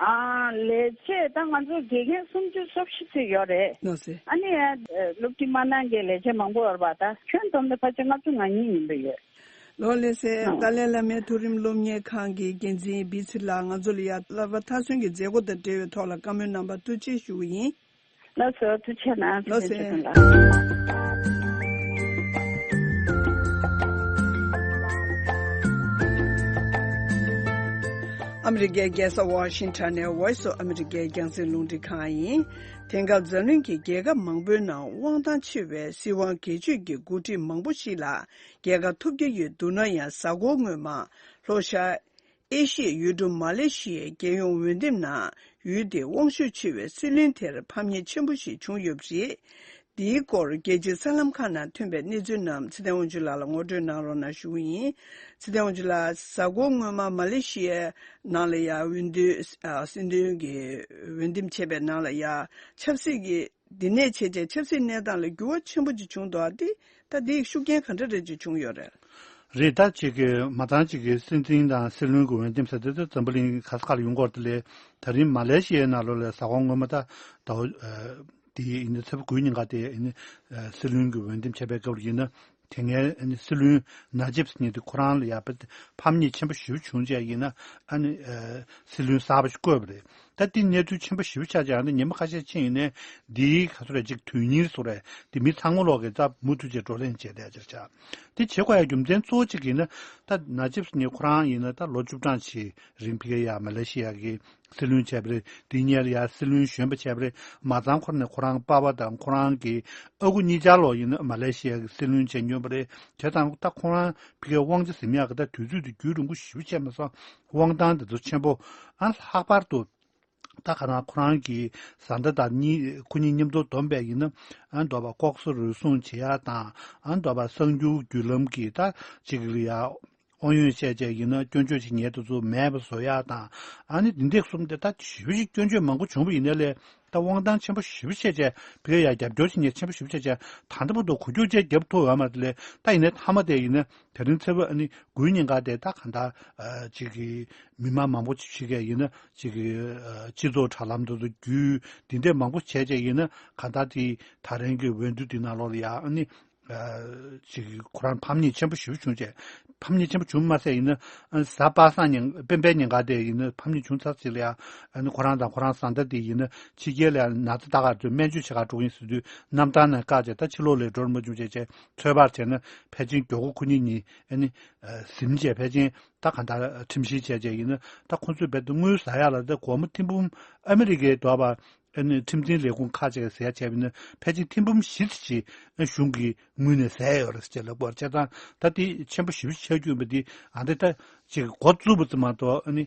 ལས་བྱེད་ད་ང་ཚོ་དགེ་རྒན་སུམ་ཅུ་སོ་བཞི་ཚུད་ཡོད་རེད། ནོར་སྲིད། ཨ་ནི་ཡ། སློབ་ཁྲིད་མ་གནང་མཁན་ལས་བྱེད་མང་པོ་ཡོད་པ་ད་ཁྱོན་བསྡོམས་ནས་ཕ་ཆེ་ལྔ་བཅུ་ང་གཉིས་ཡིན་པ་ཡོད། ལོ་ལེགས་སེ། ཏཱ་ལའི་བླ་མའི་མཐོ་རིམ་སློབ་གཉེར་ཁང་གི་འགན་འཛིན་བིས་ཚི་ལགས་ང་ཚོ་ལ་ཡ། ལར་བ་མཐའ་སོན་གྱི་མཛད་སྒོ་དང་འབྲེལ་བའི་ཐོག་ལ་བཀའ་མོལ་གནང་བར་ཐུགས་རྗེ་ཞུ་གི་ཡིན། ལ་སོ་དུ་ཆེ་ན་ལོ་སེ་ཆེ་དང་ལ། ཨ་མི་རི་ཀའི་རྒྱལ་ས་ཝཱ་ཤིན་ཐོན་ནས་ཝོའི་སུ་ཨ་མི་རི་ཀའི་རྒྱང་སྲིང་རླུང་འཕྲིན་ཁང་ཡིན། དེང་སྐབས་འཛམ་གླིང་གི་རྒྱལ་ཁབ་མང་པོའི་ནང་དབང་ཐང་ཆེ་བའི་སྲིད་དབང་སྒེར་གཅོད་ཀྱི་འགོ་ཁྲིད་མང་པོ་ཞིག་ལ་རྒྱལ་ཁ་ཐོབ་ཀྱི་ཡོད་འདུག་ན་ཡང་གཟའ་འཁོར་སྔོན་མ། ལྷོ་ཤར། ཨེ་ཤི་ཡའི་ཡུལ་གྲུ་མ་ལེ་ཤི་ཡའི་རྒྱལ་ཡོངས་འོས་འདེམས་ནང་ཡུལ་དེའི་དབང་ཤུགས་ཆེ་བའི་སྲིད་བློན་དེར་ཕམ་ཉེས་ཆེན་པོ་ཞིག་བྱུང་ཡོད་པ་རེད། འདིའི་སྐོར་རྒྱལ་སྤྱིའི་གསར་ལམ་ཁག་ནང་ཐོན་པའི་གནས་ཚུལ་རྣམས་ཚེ་ཐའེ་ཝང་ཅུན་ལགས་ལ་ངོ་སྤྲོད་གནང་རོགས་གནང་ཞུ་རྒྱུ་ཡིན། ཚེ་ཐའེ་ཝང་ཅུན་ལགས་གཟའ་འཁོར་སྔོན་མ་མ་ལེ་ཤི་ཡའི་ནང་ལ་ཡ་ཝུན་ཏུའི་སྲིད་དོན་གྱི་འོས་འདེམས་བྱས་པའི་ནང་ལ་ཡ་ཆབ་སྲིད་ཀྱི་འདི་ནས་བྱེས་རྗེས་ཆབ་སྲིད་གནས་སྟངས་ལ་འགྱུར་བ་ཆེན་པོ་ཅིག་བྱུང་འདུག་ཨ་ཏི་ད་འདི་ཡི་ཤུགས་རྐྱེན་ག་འདྲ་རེད་ཅིག་བྱུང་ཡོད་རེད། རེད་ད་ཅིག་གི་མ་ཏང་ཅིག་གི་སྲིད་འཛིན་དང་སྲིད་བློན་གྱི་འོས་འདེམས་ས་དེ་ད་འཛམ་བུ་གླིང་གི་ག་ས་ག་ལ་ཡོང་སྐོར་དེ་ལས་ད་རིང་མ་ལེ་ཤི་ཡའི་ནཱ་ལོ་ལའི་ས་ཁོངས་ངོ་མ་ད་ད་འོ་དེ་ཡི་ཡིན་ན་ཚེ་བ་དགུའི་ཉིན་ག་དེ་ཡི་ཡིན་ན་སྲིད་བློན་གྱི་འོས་འདེམས་བྱས་པའི་སྐབས་རེད་ཡིན་ན། དེ་སྔའི་སྲིད་བློན་ན་ཇིབ་སི་ཉིད་དེ་ཁོ་རང་ལ་ཡར་ཕམ་ཉེས་ཆེན་པོ་ཞི་བ་བྱུང་རྗེས་ཡིན་ན་སྲིད་བློན་གསར་པ་ཞིག་བསྐོས་པ་རེད། ད་ལྟའི་གནས་ཚུལ་ཆེན་པོ་ཞི་བ་ཆགས་རྗེས་ཡང་ན་ཉིན་མ་ཁ་ཤས་ཕྱིན་ཡིན་ནའི་འདི་ག་ཚོད་རེད་ཅིག་དོན་སྙིང་རེད་སོགས་རེད་དེ་མི་ཚང་མ་ལོག་གེ་རྩ་མུ་མཐུད་བྱས་བགྲོ་གླེང་བྱས་ལས་ཅི་རེད་བྱ། དེ་བྱེད་དགོས་ཡ་རྒྱུ་མཚན་གཙོ་བོ་གཅིག་ཡིན་ན་ད་ན་ཇིབ་སི་ཉིད་ཁོ་རང་ཡིན་ན་ད་ལོ་བཅུ་གྲངས་ཆེའི་རིང་བྷི་ཁེ་ཡ་མ་ལེ་ཤི་ཡ་གི་སྲིད་བློན་བྱས་པ་རེད་དེ་སྙེར་ཡ་སྲིད་བློན་གཞོན་པ་བྱས་པ་རེད་མ་ཚང་ཁོ་རནས་ཁོ་རང་དཔའ་བ་དང་ཁོ་རང་གི་ཨ་ཁུ་གཉིས་ཅར་ལོག་ཡིན་ན་མ་ལེ་ཤི་ཡ་གི་སྲིད་བློན་བྱས་མྱོས་པ་རེད་དེ་དང་ཏག་ཁོ་རང་ཕི་ཁའི་དབང་ཆ་ཟིམ་ཡག་གི་ད་དུས་ཚོད་དུ་རྒྱུད་རིང་པོ་ཞིབ་བྱས་མ་སོང་དབང་ཐང་དེ་ཚོ་ཆེན་པོ་ཨ་ལྷག་པར་དུ་ཏག་ཁ་རང་ཁོ་རང་གི་བཟའ་ཟླ་དང་གཉིས་ཁོ་གཉིས་མཉམ་དུ་བསྡོམས་པས་ཡིན་ན་ཨ་མདོ་བ་ལྐོག་ཟ་རུལ་སུང་བྱེད་ཡ་དང་ཨ་མདོ་བ་གསང་རྒྱུ་བརྒྱུད་ལམ་གྱི་ད་བྱེད་གི་ཡ། དབང་ཡོན་བཤད་བྱས་ཡིན་ན་སྐྱོན་བརྗོད་ཅིག་ཉལ་དུ་ཚུད་མེད་པ་བཟོ་ཡག་དང་ཨ་ནི་འདི་འདེགས་གསུམ་དེ་ད་བཞི་བཞི་སྐྱོན་བརྗོད་མང་པོ་བྱུང་བ་ཡིན་ན་ལས་ད་དབང་ཐང་ཆེན་པོ་བཞི་བ་བཤད་བྱས་བེ་ཡག་རྒྱབ་སྐྱོར་ཅིག་ཉལ་ཆེན་པོ་བཞི་བ་བཤད་བྱས་ད་འདི་པོ་འདུག་གོ་རྒྱུ་བཅས་རྒྱབ་ཐུག་ཡོད་མ་རེད་ལས་ད་ཡིན་ན་མཐའ་མ་དེ་ཡིན་ན་དེ་རིང་ཚེ་བོད་ཨ་ནི་དགུའི་ཉིན་འགའ་དེ་ད་གང་ལྟར་ཅིག་མི་དམངས་མང་པོ་ཅིག་ཤི་གས་ཡིན་ན་ཅིག་སྤྱི་ཚོགས་དྲ་ལམ་དུ་བརྒྱུད་འདི་འདེགས་མང་པོ་བྱས་བྱས་ཡིན་ན་གང་ལྟར་ཅིག་ད་རིང་གི་འོས་བསྡུ་འདི་ནང་ལོགས་ལ་ཡང་ཨ་ནི། ཅིག་ཁོ་རང་ཕམ་ཉེས་ཆེན་པོ་ཞིག་བྱུང་རྗེས། ཕམ་ཉེས་ཆེན་པོ་བྱུང་མ་ཟད་ཡིན་ན། གཟའ་པ་སངས་ཉིན་སྤེན་པའི་ཉིན་ག་དེ་ཡིན་ན་ཕམ་ཉེས་བྱུང་ཚར་ཟིག་ལ་ཡང། ཁོ་རང་དང་ཁོ་རང་བཟའ་ཟླ་དེ་ཡིན་ན་ཕྱི་རྒྱལ་ལ་ཡང་ན་ཚ་རྟགས་ཁ་དོད་སྨན་བཅོས་བྱེད་ཁག་དཀྲུག་གིན་ཟིན་དུས་གནམ་ཐང་ནས་བཀག་རྗེས་ད་ཕྱི་ལོག་ལས་འགྲོར་མ་བྱུང་བྱས་རྗེས་ཚོད་དཔག་བྱས་ན་ཕལ་ཆེན་མགྱོགས་གུ་གུ་ཉིན་གཉིས། གཟིམ་རྗེས་ཕལ་ཆེན་ད་གང་ལྟར་ཁྲིམས་བཤེར་བྱས་རྗེས་ཡིན་ན་ད་ཁོ་ཚོས་རྦད་དེ་དངུལ་བཟའ་ཡག་ལ་ད་སྒོར་མོ་ཐིམ་འབུམ་ཨ་མི་རི་ཀའི་རྡོ་བར་ཨ་ནི་ཁྲིམས་འཛིན་ལས་ཁུངས་ཁག་ཅིག་གིས་གསལ་བྱས་པ་ནི་ཕལ་ཆེར་ཐེངས་འབུམ་བཞི་བཅུ་ཕྱིན་ན་གཞུང་གི་ངོས་ནས་གསལ་ཡོད་རེད་ཅེས་ལབ་དགོས་པར་བྱས་ཙང་ད་ལྟའི་ཆེན་པོ་བཞི་བཅུ་ཆ་རྒྱུས་པ་འདི་ཨ་འདི་ད་ཅིག་མགོ་བཙུགས་པ་ཙམ་མ་གཏོགས་ཨ་ནི་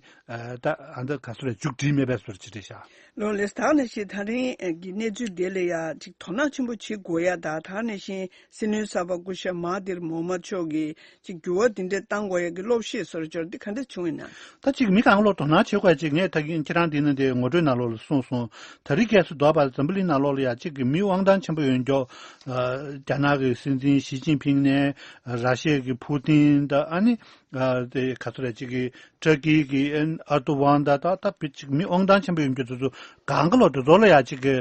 ད་ཨ་འདི་ག་ཚོད་རེད་མཇུག་སྒྲིལ་མེད་པས་སོ་རེད་ཅེས་བྲིས་ཤག། ལོ་ལེགས་ད་ནི་བཞིན་ཐང་རིང་གི་གནས་ཚུལ་འདི་ལ་ཡང་ཅིག་དོ་སྣང་ཆེན་པོ་བྱེད་དགོས་ཡ་ད་ད་ནི་བཞིན་སྲིད་བློན་གསར་པ་སྐུ་ཞབས་མ་ཏིར་མོ་མ་མཆོག་གིས་ཅིག་འགྱུར་བ་འདི་འདྲའི་བཏང་དགོས་ཡག་གི་བློ་བཤེས་སོར་འཇོར་འདི་ག་འདྲ་བྱུང་ཡིན་ན། ད་ཅིག་མི་གང་ལོག་དོ་སྣང་བྱེད་དགོས་ཅིག་ངས་ད་གིན་ཁྱེད་རང་འདི་ན་དེ་ངོ་སྤྲོད་ན་ལོག་ལ་གསུངས་སོང་ད་རི་གས་སུ་དོག་པར་འཛམ་བུ་གླིང་ན་ལོག་ལ་ཡག་ཅིག་གི་མི་དབང་ཐང་ཆེན་པོ་ཡོད་མགྱོགས་རྒྱ་ནག་གི་སྲིད་འཛིན་ཞི་ཅིན་ཕིང་ནས་ར་ཤེ་གི་ཕུ་ཏིན་ད་ཨ་ནི་དེ་ག་ཚོད་རེད་ཅིག་གི་ཏྲ་ཀི་གི་ཨར་ཏུ་ཝང་ད་ད་ད་བི་ཅིག་མི་དབང་ཐང་ཆེན་པོ་ཡོད་མགྱོགས་དེ་ཚོ་གང་ག་ལོག་དེ་ཚོ་ལ་ཡག་ཅིག་གི་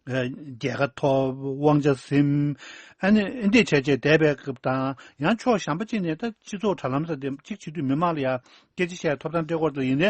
རྒྱལ་ཁ་ཐོབ་དབང་ཆ་ཟིན། འདེད་བྱས་རྗེས་འདས་པའི་སྐབས་དང། ཡང་ཕྱོགས་གཞན་པ་ཅིག་ནས་ད་སྤྱི་ཚོགས་དྲ་ལམ་ས་དེ་གཅིག་བྱེད་དུས་མི་མང་ལ་ཡང་སྐད་ཆ་བཤད་ཐོབ་ཐང་སྤྲད་སྐོར་དུ་ཡིན།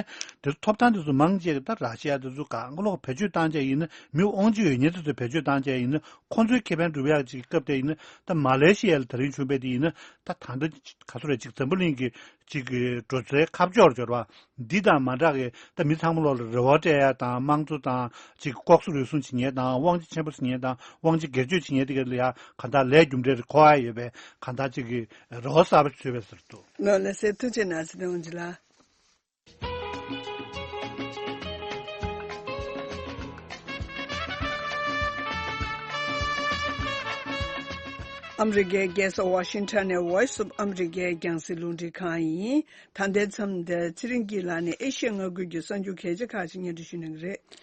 དེར་ཐོབ་ཐང་དེ་ཚོ་མང་ཆེ་གེ་ད་ར་ཤི་ཡ་དེ་ཚོ་གང་ལོག་བེད་སྤྱོད་བཏང་བྱས་ཡིན་ན་མི་དབང་ཆེ་ཡོད་ཉེ་དེ་ཚོ་བེད་སྤྱོད་བཏང་བྱས་ཡིན་ན་ཁོ་ཚོའི་ཁེ་ཕན་སྒྲུབ་ཡག་ཅིག་གི་སྐབས་དེ་ཡིན་ད་མ་ལེ་ཤི་ཡ་ལ་ད་རིང་བྱུང་བས་དེ་ཡིན་ད་ད་ད་ག་ཚོ་ར་ཅིག་འཛམ་བུ་གླིང་གི་གཅིག་གིས་འགྲོ་སའི་ཁ་ཕྱོགས་ལ་འབྱོར་བ། འདི་དང་མ་འདྲ་གི་ད་མི་ཚང་མ་ལོག་ལ་རེ་བ་སྤྲད་ཡ་དང་དམངས་གཙོ་དང་གཅིག་གི་ལྐོག་ཟུ་རུལ་སུངས་བྱེད་ཉེན་དང་དབང་ཆ་ཆེན་པོ་བཟི་ཉེན་དང་དབང་ཆ་སྒེར་གཅོད་བྱེད་ཉེན་དེ་ག་ལ་ཡ་ག་འདའ་ལས་རྒྱུ་འབྲས་རེ་འཁོར་ཡ་ཡོད་པས་ག་འདའ་གཅིག་གིས་རེ་བ་གསར་པ་བྱོས་པས་ཟེར་དུ། ནོར་ལ་ཟེར་ཐུགས་ཆེ་ན་ཟེར་ཏེ་འོང་རྒྱུ་ལ། ཨ་མི་རི་ཀའི་རྒྱལ་ས་ཝཱ་ཤིང་ཐོན་ནས Voice of America རྒྱང་བསྲིངས་རླུང་འཕྲིན་ཁང་ཡིན། ད་ལྟའི་མཚམས་འདིར་ཚེ་རིང་སྐྱིད་ལགས་ནི་ཨེ་ཤི་ཡའི་མངའ་ཁུལ་གྱི་གསར་འགྱུར་གལ་ཆེ་ཁག་ཅིག་སྙན་སྒྲོན་ཞུ་གནང་གི་རེད།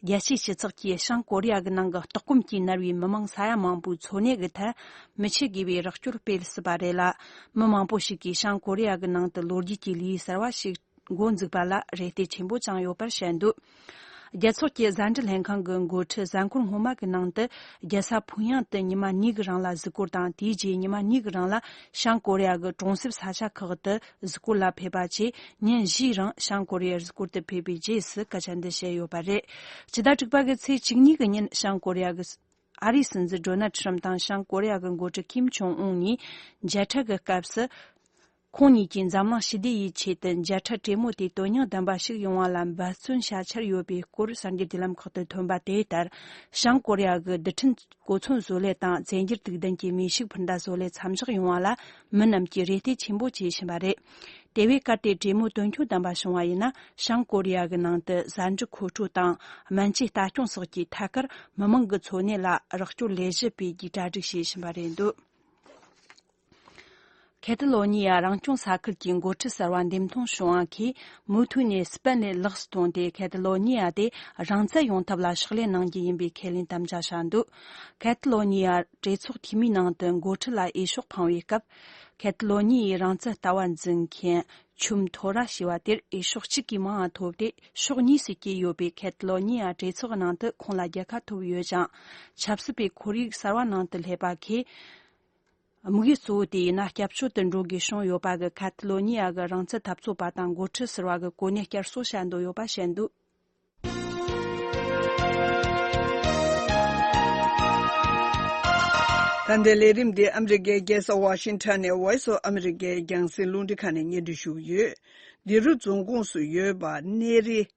རྒྱལ་སྤྱིའི་སྤྱི་ཚོགས་ཀྱིས་བྱང་ཀོ་རི་ཡ་གི་ནང་གི་ལྟོགས་སྐོམ་གྱིས་མནར་བའི་མི་མང་ས་ཡ་མང་པོའི་འཚོ་གནས་ཀྱི་ཐད་མི་ཆོད་དགོས་པའི་རོགས་སྐྱོར་སྤེལ་སྲིད་པ་རེད་ལ། མི་མང་པོ་ཞིག་གིས་བྱང་ཀོ་རི་ཡ་གི་ནང་དུ་ལོ་རྒྱུས་ཀྱི་ལུས་གསར་བ་ཞིག་མགོ་འཛུགས་པ་ལ་རེ་ལྟོས་ཆེན་པོ་བཅངས་ཡོད་པར་བཤད་འདུག་རྒྱལ་ཚོགས་ཀྱི་གཟའ་འབྲི་ལྷན་ཁང་གི་མགོ་ཁྲིད་གཟའ་འཁོར་སྔོན་མ་གི་ནང་དུ་རྒྱལ་ས་ཕུང་ཡང་དུ་ཉི་མ་གཉིས་གི་རིང་ལ་གཟིགས་སྐོར་དང་དེའི་རྗེས་ཉི་མ་གཉིས་གི་རིང་ལ་བྱང་ཀོ་རི་ཡ་གི་གྲོང་གསེབ་ས་ཆ་ཁག་ཏུ་གཟིགས་སྐོར་ལ་ཕེབས་པ་བཅས་ཉིན་བཞིའི་རིང་བྱང་ཀོ་རི་ཡར་གཟིགས་སྐོར་དུ་ཕེབས་པའི་རྗེས་སུ་སྐད་ཆ་འདི་བཤད་ཡོད་པ་རེད། ཇི་ལྟར་དྲུག་པ་གི་ཚེས་གཅིག་གཉིས་ཀྱི་ཉིན་བྱང་ཀོ་རི་ཡ་གི་ཨ་རིའི་སྲིད་འཛིན Donald Trump དང་བྱང་ཀོ་རི་ཡ་གི་འགོ་ཁྲིད Kim Jong Un གཉིས་མཇལ་འཕྲད་ཀྱི་སྐབས་སུ། ཁོང་གཉིས་ཀྱིས་འཛམ་གླིང་ཞི་བདེ་ཡི་ཆེད་དུ་མཇལ་འཕྲད་གྲོས་མོལ་དེ་དོན་སྙིང་ལྡན་པ་ཞིག་ཡོང་བ་ལ་འབད་བརྩོན་བྱ་འཆར་ཡོད་པའི་སྐོར་གསར་འགྱུར་དེ་ལམ་ཁག་ཏུ་ཐོན་པ་དེ་ལྟར་བྱང་ཀོ་རི་ཡ་གི་རྡུལ་ཕྲན་གོ་མཚོན་བཟོ་ལས་དང་རྫས་འགྱུར་དུག་ལྡན་གྱི་མི་ཤུགས་འཕུར་མདའ་བཟོ་ལས་མཚམས་བཞག་ཡོང་བ་ལ་མི་རྣམས་ཀྱིས་རེ་ལྟོས་ཆེན་པོ་བྱེད་བཞིན་པ་རེད། དེ་བས་གལ་ཏེ་དྲེད་མོ་དོན་འཁྱོལ་དམ་པ་བྱུང་བ་ཡིན་ན་བྱང་ཀོ་རི་ཡ་གི་ནང་དུ་བཟའ་འབྲུ་མཁོ་སྤྲོད་དང་སྨན་བཅོས་ལྟ་སྐྱོང་སོགས་ཀྱི་ཐད་ཀར་མི་མང་གི་འཚོ་གནས་ལ་རོགས་སྐྱོར་ལས་བྱེད་པའི་རྒྱུ་གྲ་སྒྲིག་བྱེད་བཞིན་པ་རེད་འདོད། ཁེ་ཏི་ལོ་ཉི་ཡ་རང་སྐྱོང་ས་ཁུལ་གྱི་འགོ་ཁྲིད་གསར་བ་འདེམས་ཐོན་བྱུང་བ་གིས་མུ་མཐུད་ནས་སྤེན་ལེ་ལེགས་སུ་བཏང་སྟེ་ཁེ་ཏི་ལོ་ཉི་ཡ་དེ་རང་བཙན་ཡོང་ཐབས་ལ་ཕྱག་ལས་གནང་རྒྱུ་ཡིན་པའི་ཁས་ལེན་དམ་བཅའ་བྱ་འདུག་ཁེ་ཏི་ལོ་ཉི་ཡ་གྲོས་ཚོགས་འཐུས་མིའི་ནང་དུ་འགོ་ཁྲིད་ལ་འོས་ཤོག་འཕངས་བའི་སྐབས་ཁེ་ཏི་ལོ་ཉི་ཡའི་རང་བཙན་ལྟ་བ་འཛིན་མཁན་ཆུམ་ཐོ་ར་ཞེས་པ་དེར་འོས་ཤོག་གཅིག་གིས་མང་བ་ཐོབ་སྟེ་ཕྱོགས་གཉིས་སུ་གྱེས་ཡོད་པས་ཁེ་ཏི་ལོ་ཉི་ཡ་གྲོས་ཚོགས་ཀྱི་ནང་དུ་ཁོང་ལ་རྒྱལ་ཁ་ཐོབ་ཡོད་ཀྱང་ཆབ་སྲིད་པའི་ཁོར་ཡུག་གསར་བ་ནང་དུ་སླེབས་པ་ཁས་དམིགས་ཡུལ་གཙོ་བོ་དེ་ཡིན་ན་སྐྱབས་བཅོལ་དུ་འགྲོ་དགོས་བྱུང་ཡོད་པ་གི་ཁ་ཐི་ལོ་ནི་ཡ་གི་རང་བཙན་འཐབ་རྩོད་པ་དང་འགོ་ཁྲིད་ཟེར་བ་གི་གོ་གནས་བསྐྱར་གསོ་བྱ་འདོད་ཡོད་པ་བཤད་འདུག། ད་ལྟའི་ལས་རིམ་འདི་ཨ་མི་རི་ཀའི་རྒྱལ་ས་ཝ་ཤིང་ཐོན་ནས Voice of America ཡི་རྒྱང་སྲིང་རླུང་འཕྲིན་ཁང་ནས་གཉེར་འདུན་ཞུ་གི་ཡོད། འདི་རུ་རྫོང་ཁོངས་སུ་ཡོད་པ་གནས་རི།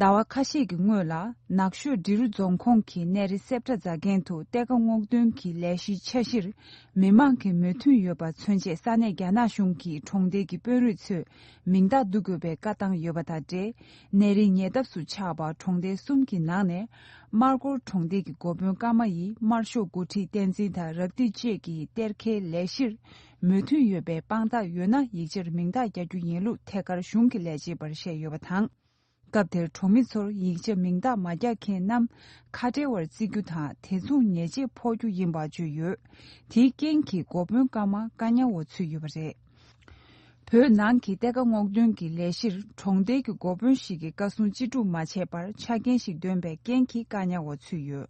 ཟླ་བ་ཁ་ཤས་ཀྱི་སྔོན་ལ་ནགས་ཤོད་འབྲི་རུ་རྫོང་ཁོངས་ཀྱི་གནས་རི་གསེབ་གྲྭ་རྫ་རྒན་དུ་གཏེར་ཁ་སྔོག་འདོན་གྱི་ལས་གཞིའི་འཆར་གཞིར་མི་མང་གི་མོས་མཐུན་ཡོད་པ་མཚོན་ཆེད་ས་གནས་རྒྱ་ནག་གཞུང་གི་གྲོང་རྡལ་གྱི་དཔོན་རིགས་ཚོས་མིང་རྟགས་བསྡུ་དགོས་པའི་བཀའ་བཏང་ཡོད་པ་དང་འབྲེལ་གནས་རིའི་ཉེ་འདབས་སུ་ཆགས་པ་གྲོང་རྡལ་གསུམ་གྱི་ནང་ནས་སྨར་སྒོར་གྲོང་རྡལ་གྱི་འགོ་དཔོན་ཀརྨ་ཡིས་སྨར་ཤོག་འགོ་ཁྲིད་བསྟན་འཛིན་དང་རབ་བདེ་བཅས་ཀྱི་གཏེར་ཁའི་ལས་གཞིར་མོས་མཐུན་ཡོད་པའི་དཔང་རྟགས་ཡོད་ན་ཡིག་ཆར་མིང་རྟགས་བསྐྱར་རྒྱུ་ཡིན་ལུགས་ཐད་ཀར་གཞུང་གི་ལས་བྱེད་པར་བཤད་ཡོད་པ་དང། སྐབས་དེར་གྲོང་མི་ཚོར་ཡིག་ཆ་མིང་རྟགས་མ་རྒྱག་མཁན་རྣམས་ཁ་བྲལ་བར་བརྩི་རྒྱུ་དང་དེ་མཚུངས་ཉེས་ཆད་ཕོག་རྒྱུ་ཡིན་པ་བརྗོད་ཡོད། དེའི་རྐྱེན་གྱིས་འགོ་དཔོན་སྐར་མ་ཀ་ཉའོ་བ་ཚུད་ཡོད་པ་རེད། བོད་ནང་གི་གཏེར་ཁ་སྔོག་འདོན་གྱི་ལས་གཞིར་གྲོང་རྡལ་གྱི་འགོ་དཔོན་ཞིག་གིས་བཀའ་གསུང་ཅི་སྒྲུབ་མ་བྱས་པར་ཆ་རྐྱེན་ཞིག་འདོན་པའི་རྐྱེན་གྱིས་ཀ་ཉའོ་བ་ཚུད་ཡོད།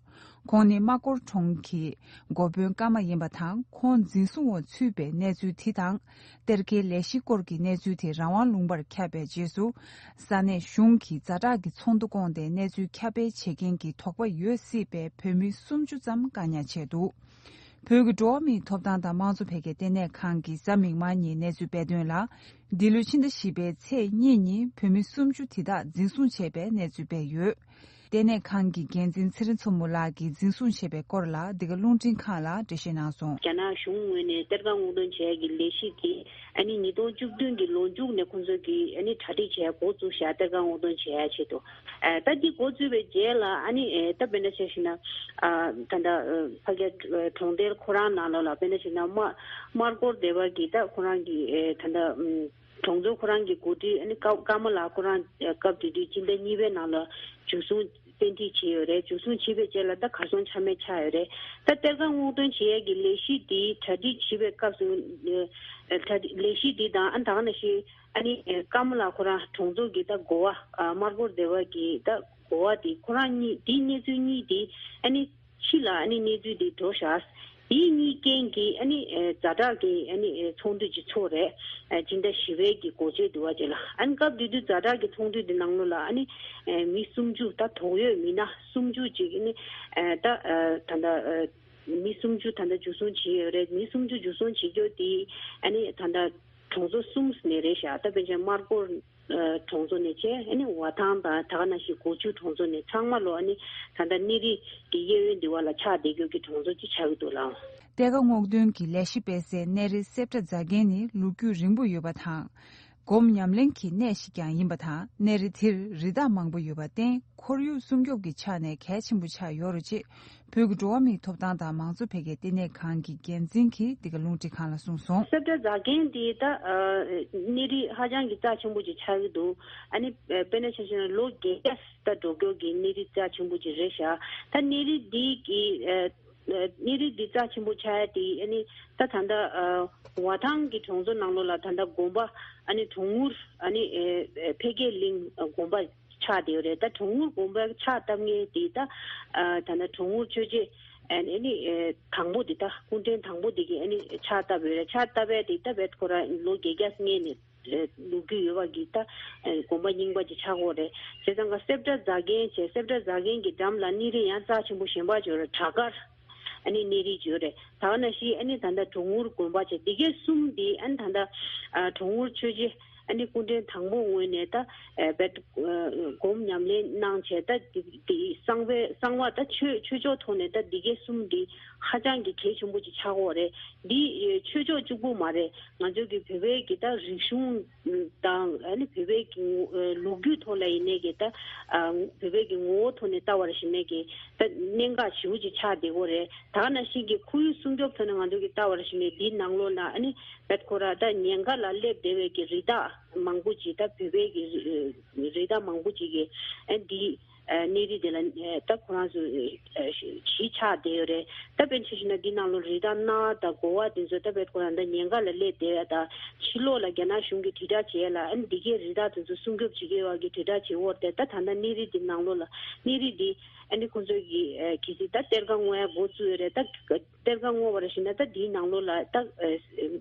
ཁོང་ནི་སྨྲ་སྒོར་གྲོང་གི་འགོ་དཔོན་ཀ་མ་ཡིན་པ་དང་ཁོང་འཛིན་བཟུང་འོག་ཚུད་པའི་གནས་ཚུལ་དེ་དང། གཏེར་ཁའི་ལས་གཞི་སྐོར་གྱི་གནས་ཚུལ་དེ་རང་དབང་ལུང་པར་ཁྱབ་པའི་རྗེས་སུ། ས་གནས་གཞུང་གིས་རྫ་བྲག་གི་ཚོགས་འདུ་བསྐོངས་ཏེ་གནས་ཚུལ་ཁྱབ་སྤེལ་བྱེད་མཁན་གྱི་དོགས་པ་ཡོད་སྲིད་པའི་བོད་མི་སུམ་ཅུ་ཙམ་བཀག་ཉར་བྱས་འདུག་བོད་ཀྱི་འགྲོ་བ་མིའི་ཐོབ་ཐང་དང་དམངས་གཙོ་འཕེལ་རྒྱས་ལྟེ་གནས་ཁང་གི་གཟའ་མིག་དམར་ཉིན་གནས་ཚུལ་སྤེལ་དོན་ལ། འདི་ལོའི་ཕྱི་ཟླ་བཞི་པའི་ཚེས་གཉིས་ཉིན་བོད་མི་སུམ་ཅུ་དེ་དག་འཛིན་བཟུང་བྱས་པའི་གནས་ཚུལ་སྤེལ་ཡོད། ལྟེ་གནས་ཁང་གི་འགན་འཛིན་ཚེ་རིང་མཚོ་མོ་ལགས་ཀྱིས་འཛིན་བཟུང་བྱས་པའི་སྐོར་ལ་འདི་ག་རླུང་འཕྲིན་ཁང་ལ་འགྲེལ་བཤད་གནང་སོང། རྒྱ་ནག་གཞུང་ངོས་ནས་གཏེར་ཁ་སྔོག་འདོན་བྱས་ཀྱི་ལས་གཞི་དེ་ཉིས་སྟོང་བཅུ་བདུན་གྱི་ལོ་མཇུག་ནས་ཁོ་ཚོས་ཀྱི་གྲ་སྒྲིག་བྱས་འགོ་བཙུགས་ཤག་གཏེར་ཁ་སྔོག་འདོན་བྱས་ཡ་ཆེད་དུ། ད་ལྟའི་འགོ་བཙུགས་པའི་རྗེས་ལ་ད་བེ་འདྲ་བྱས་ཤིག་ན། ད་ལྟ་ཕ་རྒྱ་གྲོང་རྡལ་ཁོ་རང་ནང་ལོགས་ལ་བེ་འདྲ་བྱས་ན་དམར་སྐོར་སྡེ་བ་གིས་ད་ཁོ་རང་གི་ད་ལྟ། གྲོང་ཚོ་ཁོ་རང་གི་འགོ་ཁྲིད་ནི་ཀརྨ་ལགས་ཁོ་རང་སྐབས་དེ་དུས་སྤྱི་ཟླ་གཉིས་པའི་ནང་ལ་འཇུ་བཟུང་བཙན་ཁྲིད་བྱས་ཡོད་རེད་འཇུ་བཟུང་བྱིས་པའི་རྗེས་ལ་ད་གར་སོང་ཆ་མེད་ཆགས་ཡོད་རེད་ད་གཏེར་ཁ་སྔོག་འདོན་བྱེད་ཡས་ཀྱི་ལས་གཞི་འདི་གྲ་སྒྲིག་བྱིས་པའི་སྐབས་སུ་ལས་གཞི་འདི་དང་ཨ་དང་ན་ཤི་ཨ་ནི་ཀརྨ་ལགས་ཁོ་རང་གྲོང་ཚོ་གི་ད་འགོ་བ་དམར་སྒོར་སྡེ་བ་གི་ད་འགོ་བ་དེ་ཁོ་རང་གཉིས་དེ་གནས་ཚུལ་གཉིས་དེ་ཨ་ནི། ཕྱི་ལ་གནས་ཚུལ་འདི་འགྲོ་བཞག་དེའི་གཉིས་རྐྱེན་གྱིས་རྫ་བྲག་གི་ཚོང་འདུས་ཀྱི་ཚོགས་རས་སྤྱི་ཟླ་བཞི་བའི་གི་གོ་ཆོད་དུ་བ་བྱས་ལ་སྐབས་དེ་དུས་རྫ་བྲག་གི་ཚོང་འདུས་དེ་ནང་ལོ་ལ་མི་སུམ་ཅུ་ད་དོགས་ཡོད་མི་ན་སུམ་ཅུ་ཅིག་ད་ད་ལྟ་མི་སུམ་ཅུ་ད་ལྟ་འཇུ་བཟུང་བྱས་ཡོད་རེད་མི་སུམ་ཅུ་འཇུ་བཟུང་བྱེད་རྒྱུ་དེ་ད་ལྟ་གྲོང་ཚོ་གསུམ་ནས་རེད་བཞག་ད་པན་ཆེན་དམར་པོར། གྲོང་ཚོ་ནས་བཅས་ཝ་ཐང་དང་དྷ་ན་ཤིས་གོ་ཆུ་གྲོང་ཚོ་ནས་ཚང་མ་ལོ་ད་ལྟ་གནས་རི་གི་གཡས་གཡོན་འདི་བ་ལ་ཆགས་བསྡད་རྒྱུག་གི་གྲོང་ཚོ་ཅིག་ཆགས་ཀྱི་འདུག་ལ། གཏེར་ཁ་སྔོག་འདོན་གྱི་ལས་གཞི་སྤེལ་སའི་གནས་རི་གསེབ་ཏྲ་རྫ་རྒན་ནི་ལུག་རྒྱུད་རིང་པོ་ཡོད་པ་དང། སྒོམ་ཉམས་ལེན་གྱི་གནས་ཤིག་ཀྱང་ཡིན་པ་དང་གནས་རི་དེར་རི་དྭགས་མང་པོ་ཡོད་པར་བརྟེན་ཁོར་ཡུག་སྲུང་སྐྱོབ་ཀྱི་ཆ་ནས་གལ་ཆེན་པོ་ཆགས་ཡོད་རོ་ཅེས་བོད་ཀྱི་འགྲོ་བ་མིའི་ཐོབ་ཐང་དང་མང་གཙོ་འཕེལ་རྒྱས་ལྟེ་གནས་ཁང་གི་འགན་འཛིན་གྱིས་འདི་ག་རླུང་འཕྲིན་ཁང་ལ་གསུངས་སོང། གསེར་བཀྲ་རྫ་རྒན་འདི་ད་གནས་རིགས་ཧ་ཅང་གི་རྩ་ཆེན་པོ་ཅིག་ཆགས་ཀྱི་འདུག་ཨ་ནི་དཔེ་ན་ཆ་ཤས་ན་ལོ་བརྒྱད་བརྒྱ་ད་འགྲོ་སྐྱོར་གྱི་གནས་རིགས་རྩ་ཆེན་པོ་ཅིག་རེད་ཤག་ད་གནས་རིགས་འདི་གི་གནས་རིགས་འདི་རྩ་ཆེན་པོ་ཆགས་ཡ་དེ་ཨ་ནི་ད་ད་ལྟ་བ་ཐང་གི་གྲོང་ཚོ་ནང་ལོ་ལ་ད་ལྟ་དགོན་པ་ཨ་ནི་གྲོང་ངུར་ཨ་ནི་འཕེལ་རྒྱས་གླིང་དགོན་པ། ཆགས་དེ་རེད་ད་གྲོང་ངུར་གོམ་པ་ཆགས་སྟབས་ངན་དེ་ད་ད་ནི་གྲོང་ངུར་ཆོས་རྗེ་ཨནི་ཨནི་དང་པོ་དེ་ད་སྐུ་འཕྲེང་དང་པོ་དེ་གིས་ཨནི་ཆགས་སྟབས་ཡོད་རེད་ཆགས་སྟབས་བས་དེ་ད་བས་ཁོ་ར་ལོ་བརྒྱད་བརྒྱ་སྔས་ནས་འདུག་རྒྱུ་ཡོད་བ་གིས་ད་གོམ་པ་རྙིང་པ་དེ་ཆགས་དགོས་རེད་བྱས་ཙང་ཀ་སེབ་སྒྲ་རྫ་རྒན་བྱས་སེབ་སྒྲ་རྫ་རྒན་གྱི་འགྲམ་ལ་ཨནི་རི་ཡང་རྩ་ཆེན་པོ་གཞན་པ་བྱོས་ར་བྲག་དཀར། ཨ་ནི་གནས་རིའི་ཇོ་རེ་ད་བ་ན་ཤི་ཨ་ནི་ད་ལྟ་གྲོང་ངུར་དགོན་པ་ཆེ་འདི་གས་གསུམ་འདི་ཨ་ནི་ད་ལྟ་གྲོང་ངུར་ཆོས་རྗེ་ཨ་ནི་སྐུ་འཕྲེང་དང་པོ་ངོས་ནས་ད་བད་སྒོམ་ཉམས་ལེན་གནང་བྱས་ད་དེ་གསང་བའི་གསང་བ་ད་ཆོས་ཆོས་ཕྱོགས་ཐོག་ནས་ད་འདི་གས་གསུམ་འདི་ཧ་ཅང་གི་གལ་ཆེན་པོ་ཅིག་ཆགས་འོག་རེད་འདི་ཆོས་ཕྱོགས་གཅུག་པོ་མ་རེད་ང་ཚོའི་གི་བོད་པའི་གི་ད་རིག་གཞུང། དང། བོད་པའི་གི་ལུགས་རྒྱུད་ཐོག་ལ་ཡིན་ནའི་གི་ད། བོད་པའི་གི་ངོ་བོ་ཐོག་ནས་ལྟ་བ་རེ་ཞིག་ནའི་གི། ད་གནད་འགག་བྱེའུ་ཅིག་ཆགས་བསྡད་གོ་རེ། ད་ན་ཞིག་གི་ཁོར་ཡུག་སྲུང་སྐྱོབ་ཐོག་ནས་ང་ཚོ་གི་ལྟ་བ་རེ་ཞིག་ནའི་འདིའི་ནང་ལོགས་ན་ཨ་ནི། ཁོ་ར་ད་ཉེན་ཁ་ལ་སླེབས་བསྡད་བའི་གི་རི་དྭགས་མང་པོ་ཅིག་ད་བོད་པའི་གི། རི་དྭགས་མང་པོ་ཅིག་གི་ཨ་འདི། གནས་རི་དེ་ལ་ད་ཁོ་རང་ཚོ་གཞིས་ཆགས་བསྡད་ཡོད་རེད་ད་བེད་ཆེ་ཞིག་ན་འདི་ནང་ལོ་རི་དང་གནའ་ད་གོ་བ་དེ་ཚོ་ད་བེད་ཁོ་རང་ད་ཉེན་ཁ་ལ་སླེབས་བསྡད་ཡ་ད་ཕྱི་ལོགས་ལ་རྒྱ་ནག་གཞུང་གི་དྲིལ་བསྒྲགས་བྱས་ལ་ཨ་ནི་འདི་གའི་རི་དྭགས་དེ་ཚོ་སྲུང་སྐྱོབ་བྱེད་མཁན་བ་གི་དྲིལ་བསྒྲགས་བྱེད་བོར་བསྡད་ད་ད་ནང་གནས་རི་དེ་ནང་ལོ་ལ་གནས་རི་དེ་ཨ་ནི་ཁོ་ཚོ་གི་གི་སི་ད་གཏེར་ཁ་བསྔོའི་འགོ་བཙུགས་ཡོད་རེད་ད་གཏེར་ཁ་བསྔོ་བ་རེ་ཞིག་ན་ད་འདིའི་ནང་ལོ་ལ་ད།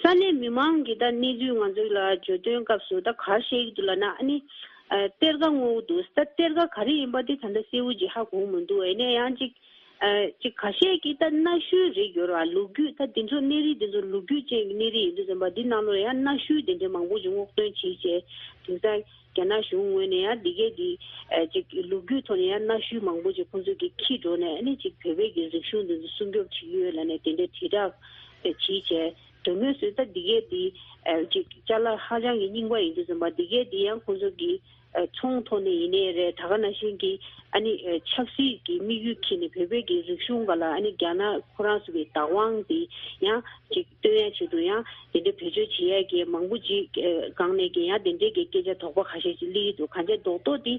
ས་གནས་མི་མང་གིས་ད་གནས་ཚུལ་ང་ཚོ་ལ་བརྗོད་དོན་སྐབས་སུ་ད་གར་བཤད་ཀྱི་འདུག་ལ་ན་ཨ་ནི། གཏེར་ཁ་སྔོ་བོ་འདུག་ད་གཏེར་ཁ་ག་རེ་ཡིན་པ་དེ་ད་ལྟ་གསལ་བོ་ཅིག་ཧ་གོ་མི་འདུག་ཨེ་ནས་ཡང་ཅིག། ཅིག་གར་བཤད་ཀྱི་ད་གནའ་ཤུལ་རིགས་ཡོད་རེད་བ་ལུག་རྒྱུད་ད་འདི་ཚོ་གནས་རིགས་འདི་ཚོ་ལུག་རྒྱུད་ཅན་གྱི་གནས་རིགས་ཡིན་འདུག་བསམ་པ་འདི་གནའ་ལོར་ཡང་གནའ་ཤུལ་དེ་འདྲའི་མང་པོ་ཅིག་སྔོག་འདོན་བྱེད་བྱེད་དེང་སང། རྒྱ་ནག་གཞུང་ངོས་ནས་ཡང་འདི་གའི་འདི། ཅིག་ལུགས་རྒྱུད་ཐོག་ནས་ཡང་གནའ་ཤུལ་མང་པོ་ཅིག་ཁོང་ཚོས་ཀྱིས་ཁྱིས་འགྲོ་ནས་ནི་ཅིག་བོད་པའི་གི་རིག་གཞུང་འདི་ཚོ་སྲུང་སྐྱོབ་བྱེད་ཀྱི་ཡོད་ལ་ནི་དེ་འདྲའི་དྲིལ་བསྒྲགས། བྱེད་བྱས། དོན་དངོས་སུ་ད་འདི་གའི་འདི། ཅིག་བཅའ་ལ་ཧ་ཅང་གི་རྙིང་པ་ཡིན་དུས་སོང་པ་འདི་གའི་འདི་ཡང་ཁོང་ཚོ་གི། ཚོང་ཐོག་ནས་ཡིན་ནའི་རེད་ད་ག་ན་ཤེས་ཀྱི། ཨ་ནི་ཆབ་སྲིད་ཀྱི་དམིགས་ཡུལ་གྱིས་ནི་བོད་པའི་གི་རིག་གཞུང་ག་ལ་ཨ་ནི་རྒྱ་ནག་ཁོ་རང་ཚོ་གི་བདག་དབང་འདི་ཡང་ཅིག། བསྟོད་དབྱངས་ཆེད་དུ་ཡང་དེ་འདྲའི་བེད་སྤྱོད་བྱེད་ཡ་གི་མང་པོ་ཅིག་སྒང་ནས་གན་ཡང་དེ་འདྲའི་གི་སྐད་ཆ་དོག་པ་ཁ་ཤས་ཅིག་གླེ་ཡི་འདུག་གང་བྱས་རྡོག་རྡོག་དེ་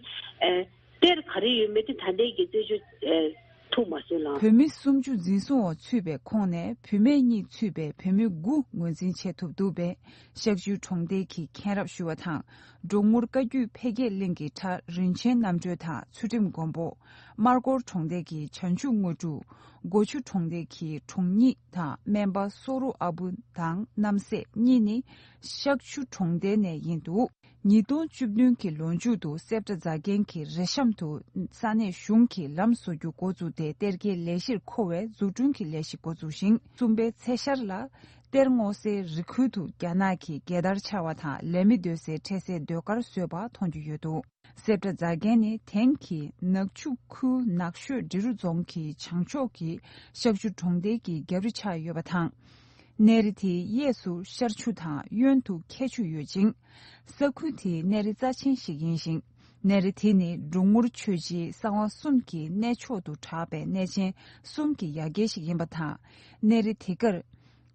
དཔེར་ག་རེ་ཡོད་མེད་དེ་ད་ལྟའི་གི་རྩོད་ཆོས་ཐུག་མ་སོན་ལང། བུད་མེད་སུམ་ཅུ་འཛིན་བཟུང་འོག་ཚུད་པའི་ཁོངས་ནས་བུད་མེད་གཉིས་ཚུད་པའི་བུད་མེད་དགུ་ངོས་འཛིན་བྱེད་ཐུབ་འདུག་པས་ཤག་ཆུའི་གྲོང་རྡལ་གྱི་མཁན་རབས་ཞུ་བ་དང་འབྲོག་ངུར་བཀའ་བརྒྱུད་འཕེལ་རྒྱས་གླིང་གི་གྲྭ་རིན་ཆེན་རྣམ་གྲོལ་དང་ཚུལ་ཁྲིམས་མགོན་པོ། སྨར་སྐོར་གྲོང་རྡལ་གྱི་བྱང་ཆུབ་དངོས་གྲུབ། སྒོ་ཆུ་གྲོང་རྡལ་གྱི་གྲོང་གཉིས་དང་སྨན་པ་སོ་རུ་ཨ་བུ་དང་རྣམ་སྲས་གཉིས་ནི་ཤག་ཆུ་གྲོང་རྡལ་ནས་ཡིན་འདུག་ཉིས་སྟོང་བཅུ་བདུན་གྱི་ལོ་མཇུག་ཏུ་སེབ་སྒྲ་རྫ་རྒན་གྱི་རེ་ཤམ་དུ་ས་གནས་གཞུང་གིས་ལམ་བཟོ་རྒྱུ་འགོ་བཙུགས་ཏེ་གཏེར་ཁའི་ལས་གཞིར་མཁོ་བའི་འཛུགས་སྐྲུན་གྱི་ལས་གཞི་འགོ་བཙུགས་ཤིང་གསུམ་པའི་ཚེས་ཤར་ལ་གཏེར་སྔོ་སའི་རི་ཁུལ་དུ་རྒྱ་ནག་གི་རྒྱལ་དར་འཕྱར་བ་དང་ལས་མི་སྡོད་སའི་འཕྲལ་སའི་ཟློས་གར་བཟོས་པ་མཐོང་རྒྱུ་ཡོད་འདུག། སེར་བཀྲ་རྫ་རྒན་ནི་དེང་གི་ནག་ཆུ་ཁུལ་ནགས་ཤོད་འབྲི་རུ་རྫོང་གི་བྱང་ཕྱོགས་ཀྱི་ཤག་ཆུ་གྲོང་རྡལ་གྱི་རྒྱབ་རི་ཆགས་ཡོད་པ་དང། གནས་རི་དེའི་གཡས་སུ་ཤར་ཆུ་དང་གཡོན་དུ་ཁྱད་ཆུ་ཡོད་ཅིང། ས་ཁུལ་དེའི་གནས་རི་རྩ་ཆེན་ཞིག་ཡིན་ཞིང། གནས་རི་དེ་ནི་འབྲུག་ངུར་ཆོས་རྗེའི་གསང་བ་གསུམ་གྱི་གནས་མཆོག་ཏུ་གྲགས་པའི་གནས་ཆེན་གསུམ་གྱི་ཡ་གྱལ་ཞིག་ཡིན་པ་དང། གནས་རི་དེ་གར།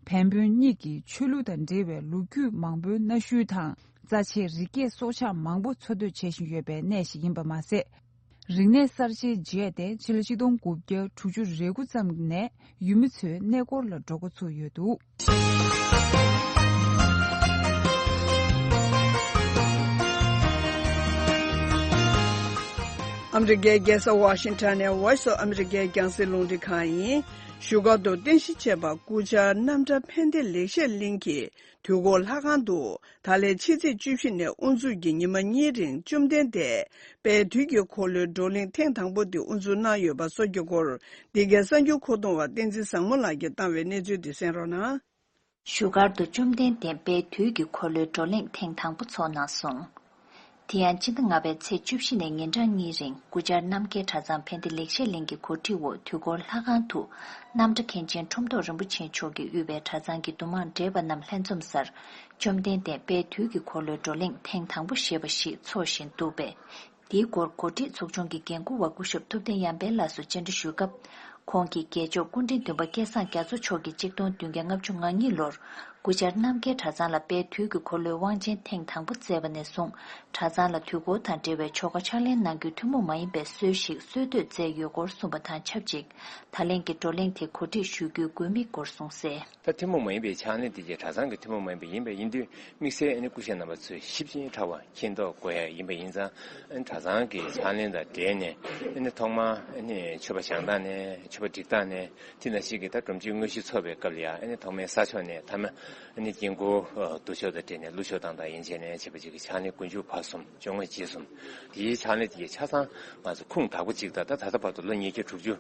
བན་བོན་གཉིས་ཀྱི་ཆོས་ལུགས་དང་འབྲེལ་བའི་ལོ་རྒྱུས་མང་པོའི་གནའ་ཤུལ་དང་རྩ་ཆེའི་རི་སྐྱེས་སྲོག་ཆགས་མང་པོ་འཚོ་སྡོད་བྱེད་བཞིན་ཡོད་པའི་གནས་ཤིག་ཡིན་པ་མ་ཟད། རིག་གནས་གསར་བརྗེའི་རྗེས་ཏེ་སྤྱི་ལེ་གཅིག་སྟོང་དགུ་བརྒྱ་དྲུག་ཅུ་རེ་དགུ་ཙམ་ནས་ཡུལ་མི་ཚོའི་གནས་སྐོར་ལ་འགྲོ་འགོ་ཚུགས་ཡོད་འདུག། ཨ་མེ་རི་ཀའི་རྒྱལ་ས་ཝཱ་ཤིང་ཏན་ནི Voice of America རྒྱང་བསྲིངས་རླུང་འཕྲིན་ཁང་ཡིན། བཞུགས་སྒར་དུ་རྟེན་གཞི་བྱས་པ་སྐུ་བཅར་རྣམ་གྲྭ་ཕན་བདེ་ལེགས་བཤད་གླིང་གི་དུས་འཁོར་ལྷ་ཁང་དུ་ད་ལན་ཕྱི་ཚེས་བཅུ་བཞི་ནས་དབུ་འཛུགས་ཀྱི་ཉི་མ་གཉིས་རིང་བཅོམ་ལྡན་འདས་དཔལ་དུས་ཀྱི་འཁོར་ལོའི་བགྲོ་གླེང་ཐེངས་དང་པོ་དེ་དབུ་འཛུགས་གནང་ཡོད་པ་སོགས་ཀྱི་སྐོར་འདི་གའི་གསར་འགྱུར་མཁོ་གཏོང་བ་བསྟན་འཛིན་བཟང་མོ་ལགས་ཀྱིས་བཏང་བའི་གནས་ཚུལ་འདི་གསན་རོགས་གནང། བཞུགས་སྒར་དུ་བཅོམ་ལྡན་འདས་དཔལ་དུས་ཀྱི་འཁོར་ལོའི་བགྲོ་གླེང་ཐེངས་དང་པོ་ཚོགས་གནང་སོང། དེ་ཡང་སྤྱི་ཟླ་ལྔ་པའི་ཚེས་བཅུ་བཞི་ནས་ཉིན་གྲངས་གཉིས་རིང་དགུ་ཆར་རྣམ་རྒྱལ་གྲྭ་ཚང་ཕན་བདེ་ལེགས་བཤད་གླིང་གི་གོ་སྒྲིག་འོག་དུས་འཁོར་ལྷ་ཁང་དུ་རྣམ་གྲྭ་མཁན་ཆེན་ཁྲོམ་ཐོག་རིན་པོ་ཆེ་མཆོག་གིས་དབུས་པའི་གྲྭ་ཚང་གི་འདུ་མང་བགྲེས་པ་རྣམས་ལྷན་འཛོམས་སར་བཅོམ་ལྡན་འདས་དཔལ་དུས་ཀྱི་འཁོར་ལོའི་བགྲོ་གླེང་ཐེངས་དང་པོ་ཞེས་པ་ཞིག་ཚོགས་བཞིན་འདུག་པས་དེའི་སྐོར་གོ་སྒྲིག་ཚོགས་ཆུང་གི་འགན་འཁུར་བ་སྐུ་ཞབས་ཐུབ་བསྟན་ཡར་འཕེལ་ལགས་སུ་བཅར་འདྲི་ཞུས་སྐབས། ཁོང་གིས་རྒྱལ་མཆོག་སྐུ་ཕྲེང་བདུན་པ་སྐལ་བཟང་རྒྱ་མཚོ་མཆོག་གིས་གཅིག་སྟོང་བདུན་བརྒྱ་ལྔ་བཅུ་ང་གཉིས་ལོར་སྐུ་བཅར་རྣམ་རྒྱལ་གྲྭ་ཚང་ལ་དཔལ་དུས་ཀྱི་འཁོར་ལོའི་དབང་ཆེན་ཐེངས་དང་པོ་བསྩལ་བ་ནས་བཟུང་གྲྭ་ཚང་ལ་དུས་འཁོར་དང་འབྲེལ་བའི་ཆོ་ག་ཕྱག་ལེན་གནང་རྒྱུའི་ཐུན་མོང་མ་ཡིན་པའི་སྲོལ་ཞིག་སྲོལ་གཏོད་མཛད་ཡོད་སྐོར་གསུངས་པ་དང་ཆབས་ཅིག་ད་ལན་གྱི་བགྲོ་གླེང་དེ་གོ་སྒྲིག་ཞུ་རྒྱུའི་དགོས་དམིགས་སྐོར་གསུངས་གསལ། ད་ཐུན་མོང་མ་ཡིན་པའི་ཕྱག་ལེན་དེ་རྗེས་གྲྭ་ཚང་གི་ཐུན་མོང་མ་ཡིན་པ་ཡིན་པ་ཡིན་དུས་དམིགས་བསལ་སྐུ་ཞབས་རྣམ་པ་ཚོས་ཞིབ་ཅིང་ཕྲ་བ་མཁྱེན་རྟོགས་དགོས་ཡ་ཡིན་པ་ཡིན་ཙང་གྲྭ་ཚང་གི་ཕྱག་ལེན་དང་འབྲེལ་ནས་ཐོག་མར་མཆོད་པ་བྱང་སྟངས་ནས་མཆོད་པ་སྒྲིག་སྟངས་ནས་དེ་ན་ཞིག་གིས་ད་སྒྲོམ་གཅིག་དངོས་གཞི་འཚོགས་པའི་སྐབས་ལ་ཡང་ཐོག་མའི་ས་ཕྱོགས་ནས་མཐའ་མ་དཀྱིལ་འཁོར་བསྡུ་ཕྱོགས་དང་འབྲེལ་ནས་གླུ་ཆོག་སྟངས་དང་ཡན་ཆད་ནས་བྱེད་པ་ཅིག་གི་ཕྱག་ལེན་ཀུན་འབྱུང་བར་གསུམ་བཅོ་ལྔ་རྗེས་གསུམ་དེའི་ཕྱག་ལེན་དེ་རྗེས་ཆ་ཚང་ང་ཚོ་ཁུངས་དག་པོ་གཅིག་དང་ད་ད་ལྟ་བར་དུ་ལོ་ཉིས་བརྒྱ་དྲུག་ཅུ་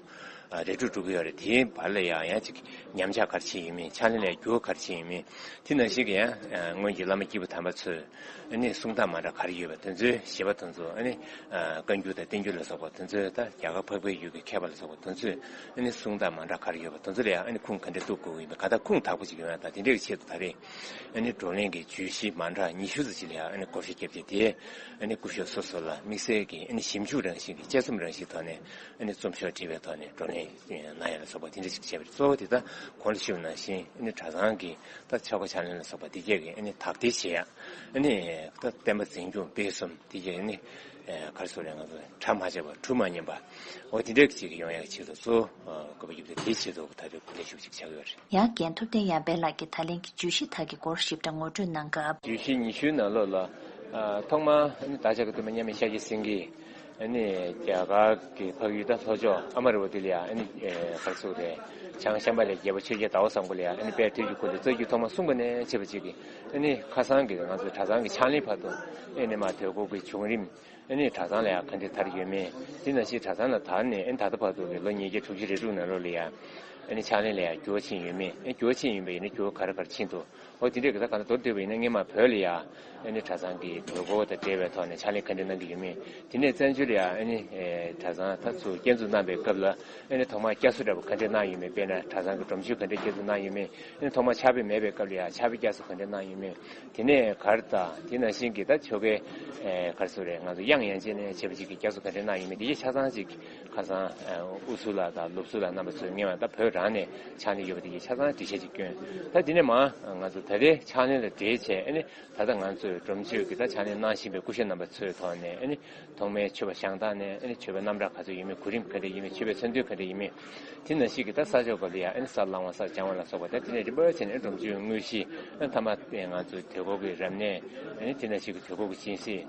རེ་དྲུག་དྲུག་གི་ཡོད་རེད་དེའི་བར་ལ་ཡང་ཡང་ཅིག་ཉམས་ཆག་གར་ཕྱིན་ཡོད་མིན་ཕྱག་ལེན་ལས་འགྱུར་གར་ཕྱིན་ཡོད་མིན་དེ་ནང་བཞིན་གྱི་ཡང་སྔོན་གྱི་བླ་མ་སྐྱེས་བུ་དམ་པ་ཚོས་ནི་གསུང་སྟངས་མ་འདྲ་གར་ཡོད་པ་དེ་ཚོའི་བཞེད་པ་དེ་ཚོ་ནི་བཀའ་འགྱུར་དང་བསྟན་འགྱུར་ལ་སོགས་པ་དེ་ཚོ་དང་རྒྱ་གར་འཕགས་པའི་ཡུལ་གྱི་མཁས་པ་ལ་སོགས་པ་དེ་ཚོས་ནི་གསུང་སྟངས་མ་འདྲ་གར་ཡོད་པ་དེ་ཚོ་ལ་ཡང་ནི་ཁུངས་ག་འདྲས་གཏུགས་དགོས་ཀྱི་ཡིན་པ་ག་དག་ཁུངས་དག་པོ་ཅིག་ཡོད་ན་དང་དེ་འདྲའི་ཆེད་དུ་ད་རེས་ནི་བགྲོ་གླེང་གི་བརྗོད་གཞི་མ་འདྲ་ཉི་ཤུ་ཙམ་ཞིག་ལ་ཡང་ནི་བསྐོར་ཞིབ་བརྒྱབ་རྗེས་དེའི་ནི་སྐུ་གཞོགས་སོ་སོ་ལ་དམིགས་བསལ་གྱི་ནི་ཞིབ་འཇུག་རང་བཞིན་གྱི་དཔྱད་རྩོམ་རང་བཞིན་ཐོག་ནས་རྩོམ་ཤོག་བྲིས་པའི་ཐོག་ནས་བགྲོ་གླེང་གནང་ཡ་ལ་སོགས་པ་དེ་འདྲ་ཞིག་བྱས་པ་རེད་གཙོ་བོ་དེ་དག་གོང་དུ་ཞུས་པ་ནང་བཞིན་གྲྭ་ཚང་གིས་ད་ཆ་གོ་ཆ་ལེན་ལ་སོགས་པ་དེ་རྒྱག་གིན་དག་ཐེར་བྱེད་ཡ་ནི་ད་བསྟན་པ་འཛིན་སྐྱོང་སྤེལ་གསུམ་དེ་རྒྱག་ནི་ག་རེ་སོགས་རེད་ང་ཚོ་གྲ་མ་བྱས་པ་གྲུ་མ་ཉན་པ་འོ་དེ་འདྲ་གི་ཅིག་གི་ཡོང་ཡ་གི་ཆེད་དུ་གཙོ་བོ་དགོས་པ་ཡོད་པ་དེའི་ཆེད་དུ་ད་ལྟའི་གོ་ལེན་ཞུ་གི་ཅིག་བྱ་གི་ཡོད་རེད། ཡང་རྒན་ཐུབ་བསྟན་ཡར་འཕེལ་ལགས་ཀྱིས་ད་ལན་གྱི་བརྗོད་གཞི་དག་གི་སྐོར་ཞིབ་ཕྲ་ངོ་སྤྲོད་གནང་སྐབས། བརྗོད་གཞི་ཉི་ཤུའི་ནང་ལོགས་ལ། ཐོག་མར་ད་ཆ་གི་སྟོན་པ་མཉམ་མེད་ཤཱཀྱ་སེང་གེའི། རྒྱ་གར་གྱི་འཕགས་ཡུལ་དང་ལྷོ་ཕྱོགས་ཨ་མ་རི་བ་དེ་ལ་ཡང་གར་ཚུགས་ཏེ། བྱང་ཤམྦྷ་ལའི་རྒྱལ་པོ་ཆོས་རྒྱལ་དྭོགས་བཟང་པོ་ལ་ཡང་དཔལ་དུས་ཀྱི་འཁོར་ལོའི་རྩ་རྒྱུད་ཐོག་མ་གསུངས་པ་ནས་འཆད་པ་གཅིག་གིས་ཁ་སང་གི་ང་ཚོ་གྲྭ་ཚང་གི་ཕྱག་ལེན་བར་དུ་མ་དོད་ཁོག་གི་བྱུང་རིམ། གྲྭ་ཚང་ལ་ཡང་ག་འདི་དར་ཡོད་མེད་དེ་ན་ཕྱིས་གྲྭ་ཚང་ལ་དར་ནས་ད་ལྟ་བར་དུ་གི་ལོ་ཉིས་བརྒྱ་དྲུག་ཅུ་རེ་དྲུག་ནང་ལོགས་ལ་ཡང་ཕྱག་ལེན་ལ་ཡང་འགྱུར་བ་ཕྱིན་ཡོད་མེད་འགྱུར་བ་ཕྱིན་ཡིན་པ་ཡིན་ན་འགྱུར་བ་ག་རེ་ག་རེ་ཕྱིན་འདུག་ཨོ་དེ་འདྲའི་ག་ས་ག་ན་དོར་སྡོད་པ་ཡིན་ན་ངས་མ་བོས་ལ་ཡ། ཨ་ནི་གྲྭ་ཚང་གི་དགོས་མཁོ་དང་འབྲེལ་བའི་ཐོག་ནས་ཕྱག་ལས་ག་འདྲ་གནང་གི་ཡོད་མེད་དེ་ནས་བཙན་བྱོལ་ལ་ཡ་ཨ་ནི་གྲྭ་ཚང་ད་ཚུགས་བསྐྱར་འཛུགས་གནང་པའི་སྐབས་ལ་ཨ་ནི་ཐོག་མར་བསྐྱར་གསོ་འདྲ་པོ་ག་འདྲས་གནང་ཡོད་མེད་དཔེར་ན་གྲྭ་ཚང་གི་སྒྲོམ་གཞི་ག་འདྲས་བསྐྱར་འཛུགས་གནང་ཡོད་མེད་ཨ་ནི་ཐོག་མར་ཕྱག་དཔེ་མེད་པའི་སྐབས་ལ་ཡ་ཕྱག་དཔེ་བསྐྱར་གསོ་ག་འདྲས་གནང་ཡོད་མེད་དེ་ནས་གར་ད་དེ་ནང་བཞིན་གྱི་ད་ཆོ་གའི་གར་སོ་རེད་ང་ཚོ་དབྱངས་ཡན་ཆད་ནས་བྱེད་པ་ཅིག་གི་བསྐྱར་གསོ་ག་འདྲས་གནང་ཡོད་མེད་དེ་གཞི་ཆ་ཚང་ཅིག་ཁ་སང་ཨུ་སུ་ལ་དང་ལུག་སུ་ལ་རྣམ་པ་ཚོས་ངེས་བ་ད་བོད་རང་ནས་ཕྱག་ལེན་ཡོད་པ་དེ་ཡིན་ཆ་ཚང་འདྲི་བཤད་ཅིག་སྐྱོན་ད་དེ་ནས་མང་ང་ཚོ་ད་ལྟའི་ཕྱག་ལེན་ལ་འབྲེལ་བྱས་ཨེ་ནི་ད་ལྟ་ང་ཚོས་སྒྲོམ་གཞིར་གྱི་ད་ཕྱག་ལེན་གནང་བཞིན་པའི་སྐུ་ཞབས་རྣམ་པ་ཚོའི་ཐོག་ནས་ཨེ་ནི་ཐོག་མའི་ཆོས་པ་ཞང་དག་ནས་ཨེ་ནི་ཆོས་པ་རྣམ་གྲངས་ག་ཚོད་ཡིན་མིན་གོ་རིམ་ག་འདྲ་ཡིན་མིན་ཆོས་པའི་མཚོན་དོན་ག་འདྲ་ཡིན་མིན་དེ་ན་ཞིག་གི་ད་ས་ཆོག་པ་ལ་ཡང་ཨེ་ནི་སར་བླང་བ་སར་སྦྱང་བ་ལ་སོགས་པ་ད་དེ་ནས་རིམ་པར་བྱས་ནས་ཨེ་ནི་སྒྲོམ་གཞིར་དངོས་གཞི་ཨེ་ནི་ཐ་མ་ད་ང་ཚོའི་དུས་འཁོར་གྱི་རབ་གནས་ཨེ་ནི་དེ་ན་ཞིག་གི་དུས་འཁོར་གྱི་སྦྱིན་སྲེག།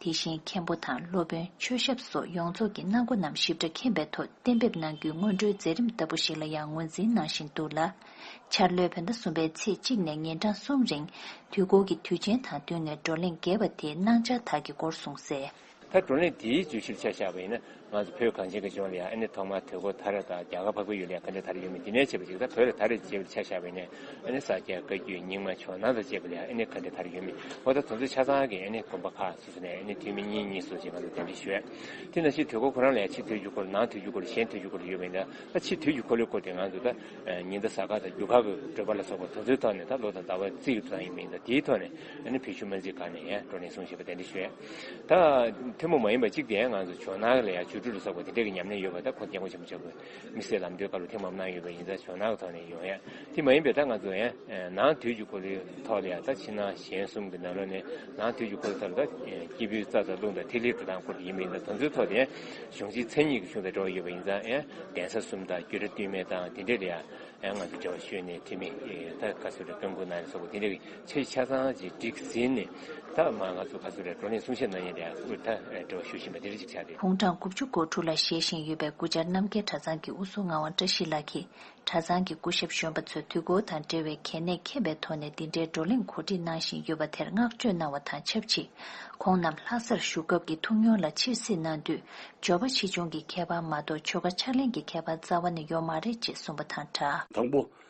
དེ་བཞིན་མཁན་པོ་དང་སློབ་དཔོན་མཆོད་ཞབས་སོགས་ཡོངས་རྫོགས་ཀྱི་གནང་སྒོ་རྣམས་ཞིབ་ཕྲ་མཁྱེན་པའི་ཐོག་གཏན་འབེབས་གནང་རྒྱུའི་སྔོན་འགྲོའི་མཛད་རིམ་ལྟ་བུ་ཞིག་ལ་ཡང་ངོས་འཛིན་གནང་བཞིན་འདུག་ལ། འཆར་ལོའི་བོད་ཟླ་གསུམ་པའི་ཚེས་གཅིག་ནས་ཉིན་གྲངས་གསུམ་རིང། དུས་འཁོར་གྱི་དུས་ཆེན་དང་བསྟུན་ནས་བགྲོ་གླེང་རྒྱས་པ་དེའི་གནང་འཆར་དག་གི་སྐོར་གསུངས་གསལ། ད་བགྲོ་གླེང་དེའི་བརྗོད་གཞིར་ཆ་བཞག་པ་ཡིན་ན། ང་ཚོ་བོད་གངས་ཅན་གྱི་ལྗོངས་ལ་ཡང་ཨ་ནི་ཐོག་མར་དུས་འཁོར་ད་རེས་དང་རྒྱ་གར་ཕ་གི་ཡུལ་ལ་ཡང་གངས་ཅན་ད་རེས་ཡོད་མོད་འདི་ནས་བྱེད་པ་ཅིག་ད་བོད་ལ་ད་རེས་ཅེས་པའི་ཆ་བཞག་པས་ནི་ཨ་ནི་ས་སྐྱའི་བཀའ་བརྒྱུད་རྙིང་མ་ཕྱོགས་ནང་དུ་བཅས་པ་ལ་ཡང་ཨ་ནི་གངས་ཅན་ད་རེས་ཡོད་མོད་ངོ་ད་དོན་ཚུལ་ཆ་ཚང་གིས་ཨ་ནི་དགོན་པ་ཁག་སོ་སོ་ནས་ཨ་ནི་ཐུན་མིན་གཉིས་གཉིས་སོ་ཅེས་ང་ཚོར་བསྟན་འགྲེལ་ཞུ། དེས་ན་ཕྱི་དུས་འཁོར་ཁོ་རང་ལ་ཡང་ཕྱི་དུས་འགྱུར་འཁོར་ནང་དུས་འགྱུར་འཁོར་གཞན་དུས་འགྱུར་འཁོར་ཡོད་པས་ན་ད་ཕྱི་དུས་འགྱུར་འཁོར་ལོའི་སྐོར་དེ་ང་ཚོས་ད་ཉིན་ད་ས་ཁག་དང་རྒྱུ་ཁག་གི་བགྲོད་པ་ལ་སོགས་པ་དོན་ཚུལ་ཐོག་ནས་ད་ལོ་དང་ཟླ་བ་རྩིས་ཀྱི་དུས་དང་ཡིན་མིན་ད་དེའི་ཐོག་ནས་ཨ་ནི་བོད་ཆུ་སྨན་རྩིས་ཁང་ནས་ཡང་སྤྲོ་ནས་གསུངས་ཞེས་པ་བསྟན་འགྲེལ་ཞུས། ད་ཐུན་མོང་མ་ཡིན་པ་གཅིག་དེ་ཡང་ང་ཚོ་ཇོ་ནང་ལ་ཡང་བཅུ་དྲུག་རུ་བསགས་པ་དེ་འདྲ་གི་ཉམས་ལེན་ཡོད་པ་ད་ཁོ་རྒྱལ་མགོ་ཆེན་པོ་ཆགས་པའི་དམིགས་བསལ་ལམ་སྟོན་ཁ་ལོ་ཐེངས་མང་པོ་གནང་ཡོད་པ་ཡིན་ད་ཇོ་ནང་གི་ཐོག་ནས་ཡོང་ཡ་དེ་མ་ཡིན་པའི་ད་ང་ཚོ་ཡང་ནང་དུས་ཀྱི་འཁོར་ལོའི་ཐོག་ལ་ཡང་ད་ཕྱི་ནང་གཞན་གསུམ་གི་ནང་ལོ་ནས་ནང་དུས་ཀྱི་འཁོར་ལོ་ཐོག་ལ་ད་སྐྱེས་བུའི་རྩ་དང་རླུང་དང་ཐིག་ལེའི་དྲོ་དང་འཁོར་དེ་ཡིན་པ་ཡིན་ད་དོན་ཚོའི་ཐོག་ཏུ་ཡང་གཞུང་གཅིག་མཚན་ཉིད་ཀྱི་གཞུང་དང་འབྲེལ་བ་ཡོད་པ་ཡིན་ད་ཡང་གདན་ས་གསུམ་དང་རྒྱུད་གྲྭ་བསྟུད་མའི་ད་དེ་འདྲ་ལ་ཡང་ང་ཚོ་འབྲེལ་བ་ཤོད་ནས་དྲི་མེད་ད་བཀའ་སྲོལ་ལ་བསྟུན་དགོས་གནང་ནས་སོགས་པ་དེ་འདྲ་གི། ཚོའི་ཆ་ཚང་གཅིག་སྒྲིག་ཟིན་ནས་ད་མ་ང་ཚོ་ག་ཚོད་རེད་བགྲོ་གླེང་གསུང་བཤད་གནང་ཡས་དེའང་དབུས་ད་འབྲེལ་བ་ཞུ་བཞིན་པ་དེ་རེད་ཅིག་ཆ་དེ། ཕུང་གྲངས་དགུ་བཅུ་སྐོར་དྲུག་ལ་བཞེས་བཞིན་ཡོད་པའི་སྐུ་བཅར་རྣམ་རྒྱལ་གྲྭ་ཚང་གི་དབུ་གཟུགས་ངག་དབང་བཀྲ་ཤིས་ལགས་ཀྱིས་གྲྭ་ཚང་གི་སྐུ་ཞབས་གཞོན་པ་ཚོས་དུས་འཁོར་དང་འབྲེལ་བའི་གལ་གནད་ཁེངས་པའི་ཐོག་ནས་འདི་འདྲའི་བགྲོ་གླེང་གོ་སྒྲིག་གནང་བཞིན་ཡོད་པ་དེར་བསྔགས་བརྗོད་གནང་བ་དང་ཆབས་ཅིག་ཁོང་རྣམས་ལྷ་སར་བཞུགས་སྐབས་ཀྱི་ཐུགས་མྱོང་ལ་ཕྱིར་གཟིགས་གནང་དུས་འབྱོར་པ་ཆེ་ཆུང་གི་ཁྱད་པར་མ་གཏོགས་ཆོལ་ཁ་ཕྱག་ལེན་གྱི་ཁྱད་པར་རྩ་བ་ནས་ཡོད་མ་རེད་ཅེས་གསུངས་པ་དང་སྦྲགས། དང་པོ།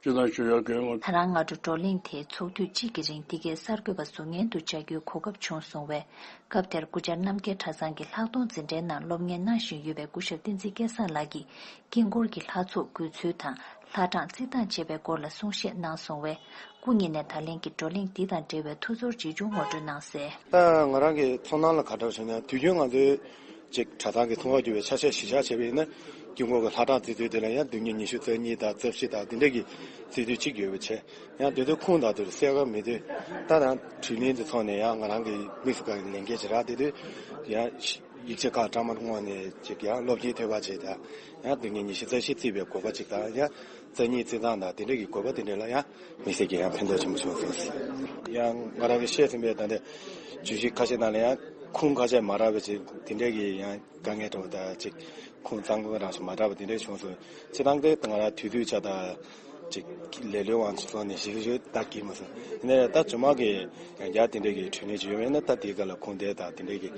སྤྱི་བཏང་ཞུ་ཡག་གི་ངོ། ད་རང་སྔ་དྲོ་བགྲོ་གླེང་དེའི་ཚོགས་དུས་གཅིག་གི་རིང་འདི་གའི་གསར་འགོད་པ་བཟོ་ངན་དུ་བཅར་རྒྱུའི་གོ་སྐབས་བྱུང་སོང་བས་སྐབས་དེར་སྐུ་བཅར་རྣམ་རྒྱལ་གྲྭ་ཚང་གི་ལྷག་མཐོང་འཛིན་གྲྭའི་ནང་སློབ་གཉེར་གནང་བཞིན་ཡོད་པའི་སྐུ་ཞབས་བསྟན་འཛིན་སྐལ་བཟང་ལགས་ཀྱིས་དཀྱིལ་འཁོར་གྱི་ལྷ་ཚོགས་དགོས་ཚུལ་དང་ལྷ་གྲངས་བརྩི་སྟངས་བཅས་པའི་སྐོར་ལ་གསུང་བཤད་གནང་སོང་བས་སྐུ་ཉིད་ནས་ད་ལན་གྱི་བགྲོ་གླེང་འདི་དང་འབྲེལ་བའི་ཐུགས་ཚོར་ཅི་བྱུང་ངོ་སྤྲོད་གནང་གསལ། ང་རང་གི་ཚོར་སྣང་ལ་ག་འདྲ་བྱུང་ན་དུས་རྒྱུན་ང་ཚོའི་ཅེག་གྲྭ་ཚང་གི་ཚོང་བར་གྱུར་བའི་ཆ་ཤས་གཞིས་ཆགས་ཆེ་བས་ན། དཀྱིལ་འཁོར་གྱི་ལྷ་གྲངས་བརྩི་དུས་དེ་ལ་ཡང་བདུན་གཉིས་ཉི་ཤུ་རྩ་གཉིས་དང་རྩ་བཞི་དང་འདི་འདྲ་གྱི་བརྩི་དུས་གཅིག་ཡོད་པའི་ཆེད་ཡང་དེ་དུས་ཁུངས་དང་དུས་གསལ་ཁ་མི་འདོད། ད་ནང་དྲིས་ལན་དེ་ཚོགས་ནས་ཡང་ང་རང་གི་དམིགས་སུ་བཀར་བའི་ལན་སྐད་ཅིག་རག་དེ་དུས་ཡང། ཡིག་ཆ་ཁག་གྲངས་མར་བསྔོགས་ནས་ཅིག་ཡང་སློབ་སྤྱིའི་ཐོད་པ་བྱས་དང་ཡང་བདུན་གཉིས་ཉི་ཤུ་རྩ་བཞི་བརྩི་བའི་གོ་བ་ཅིག་དང་ཡང། བཙན་གཉིས་བརྩི་འདང་དང་དེ་འབྲེལ་གྱི་དགོས་པ་དེ་འདྲ་ལ་ཡང་མི་སེར་གྱིས་ཡང་ཕན་ཐོགས་ཆེན་པོ་བྱུང་སོང་ཟེར། ཡང་ང་རང་གིས་ཤེས་ཟིན་པའི་ད་ལྟའི་བརྗོད་གཞི་ཁ་ཤས་ནང་ལ་ཡང་ཁུངས་ཁ་ཤས་མ་དྲག་པའི་ཅིག་དེ་འདྲས་ཀྱིས་ཡང་དཀའ་ངལ་འཕྲད་པ་དང་ཅིག་ཁུངས་གཙང་པོ་རང་སོ་མ་དྲག་པ་དེ་འདྲས་བྱུང་སོང་ཅི་སྟངས་དེ་ང་རང་དུས་དུས་ཆ་ད་ཅིག་ལེ་ལོའི་དབང་ཚོང་ནས་ཞིག་ཞུ་ད་གི་མ་སོང་དེ་ནས་ད་ཇོ་མང་གིས་ཡང་བསྐྱར་དེ་འདྲས་ཀྱི་འཕྲོས་ངེས་ཅིག་ཡོད་མེད་ནི་ད་དེའི་སྐབས་ལ་ཁུངས་འདེད་དང་དེ་འདྲས་ཀྱི་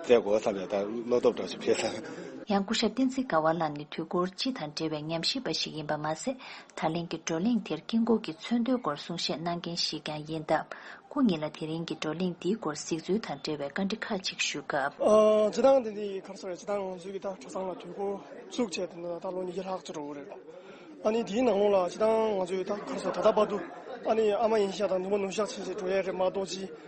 བཙལ་དགོས་བསམ་ཡང་ད་བློ་སྟོབས་གྲངས་ཤིག་འཕེལ་སོང། ཡང་སྐུ་ཞབས་བསྟན་འཛིན་དགའ་བ་ལགས་ནི་དུས་འཁོར་སྤྱི་དང་འབྲེལ་བའི་ཉམས་ཞིབ་པ་ཞིག་ཡིན་པ་མ་ཟད་ད་ལན་གྱི་བགྲོ་གླེང་དེར་དཀྱིལ་འཁོར་གྱི་མཚོན་དོན་སྐོར་གསུང་བཤད་གནང་མཁན་ཞིག་ཀྱང་ཡིན་སྟབས་སྐུ་ཉིད་ལ་དེ་རིང་གི་བགྲོ་གླེང་འདིའི་སྐོར་གཟིགས་ཚུལ་དང་འབྲེལ་བའི་བཀའ་འདྲི་ཁག་ཅིག་ཞུས་སྐབས། སྤྱི་དང་དེ་འདྲའི་ཁམས་སོགས་རེད་སྤྱི་དང་ང་ཚོའི་གི་ད་གྲྭ་ཚང་ལ་དུས་འཁོར་བཙུགས་བྱས་ཏེ་ད་ལོ་ཉིས་བརྒྱ་ལྷག་ཅིག་འགྲོ་གི་རེད། ཨ་ནི་དེའི་ནང་ལོགས་ལ་སྤྱི་དང་ང་ཚོའི་ད་གར་སོགས་ད་ལྟ་བར་དུ་ཨ་ནི་ཨ་མ་ཡིན་ཤག་དང་ནུ་མ་ནུ་ཤག་བྱས་བྱས་འགྲོ་ཡས་རེད་མ་གཏོགས་སྤྱི་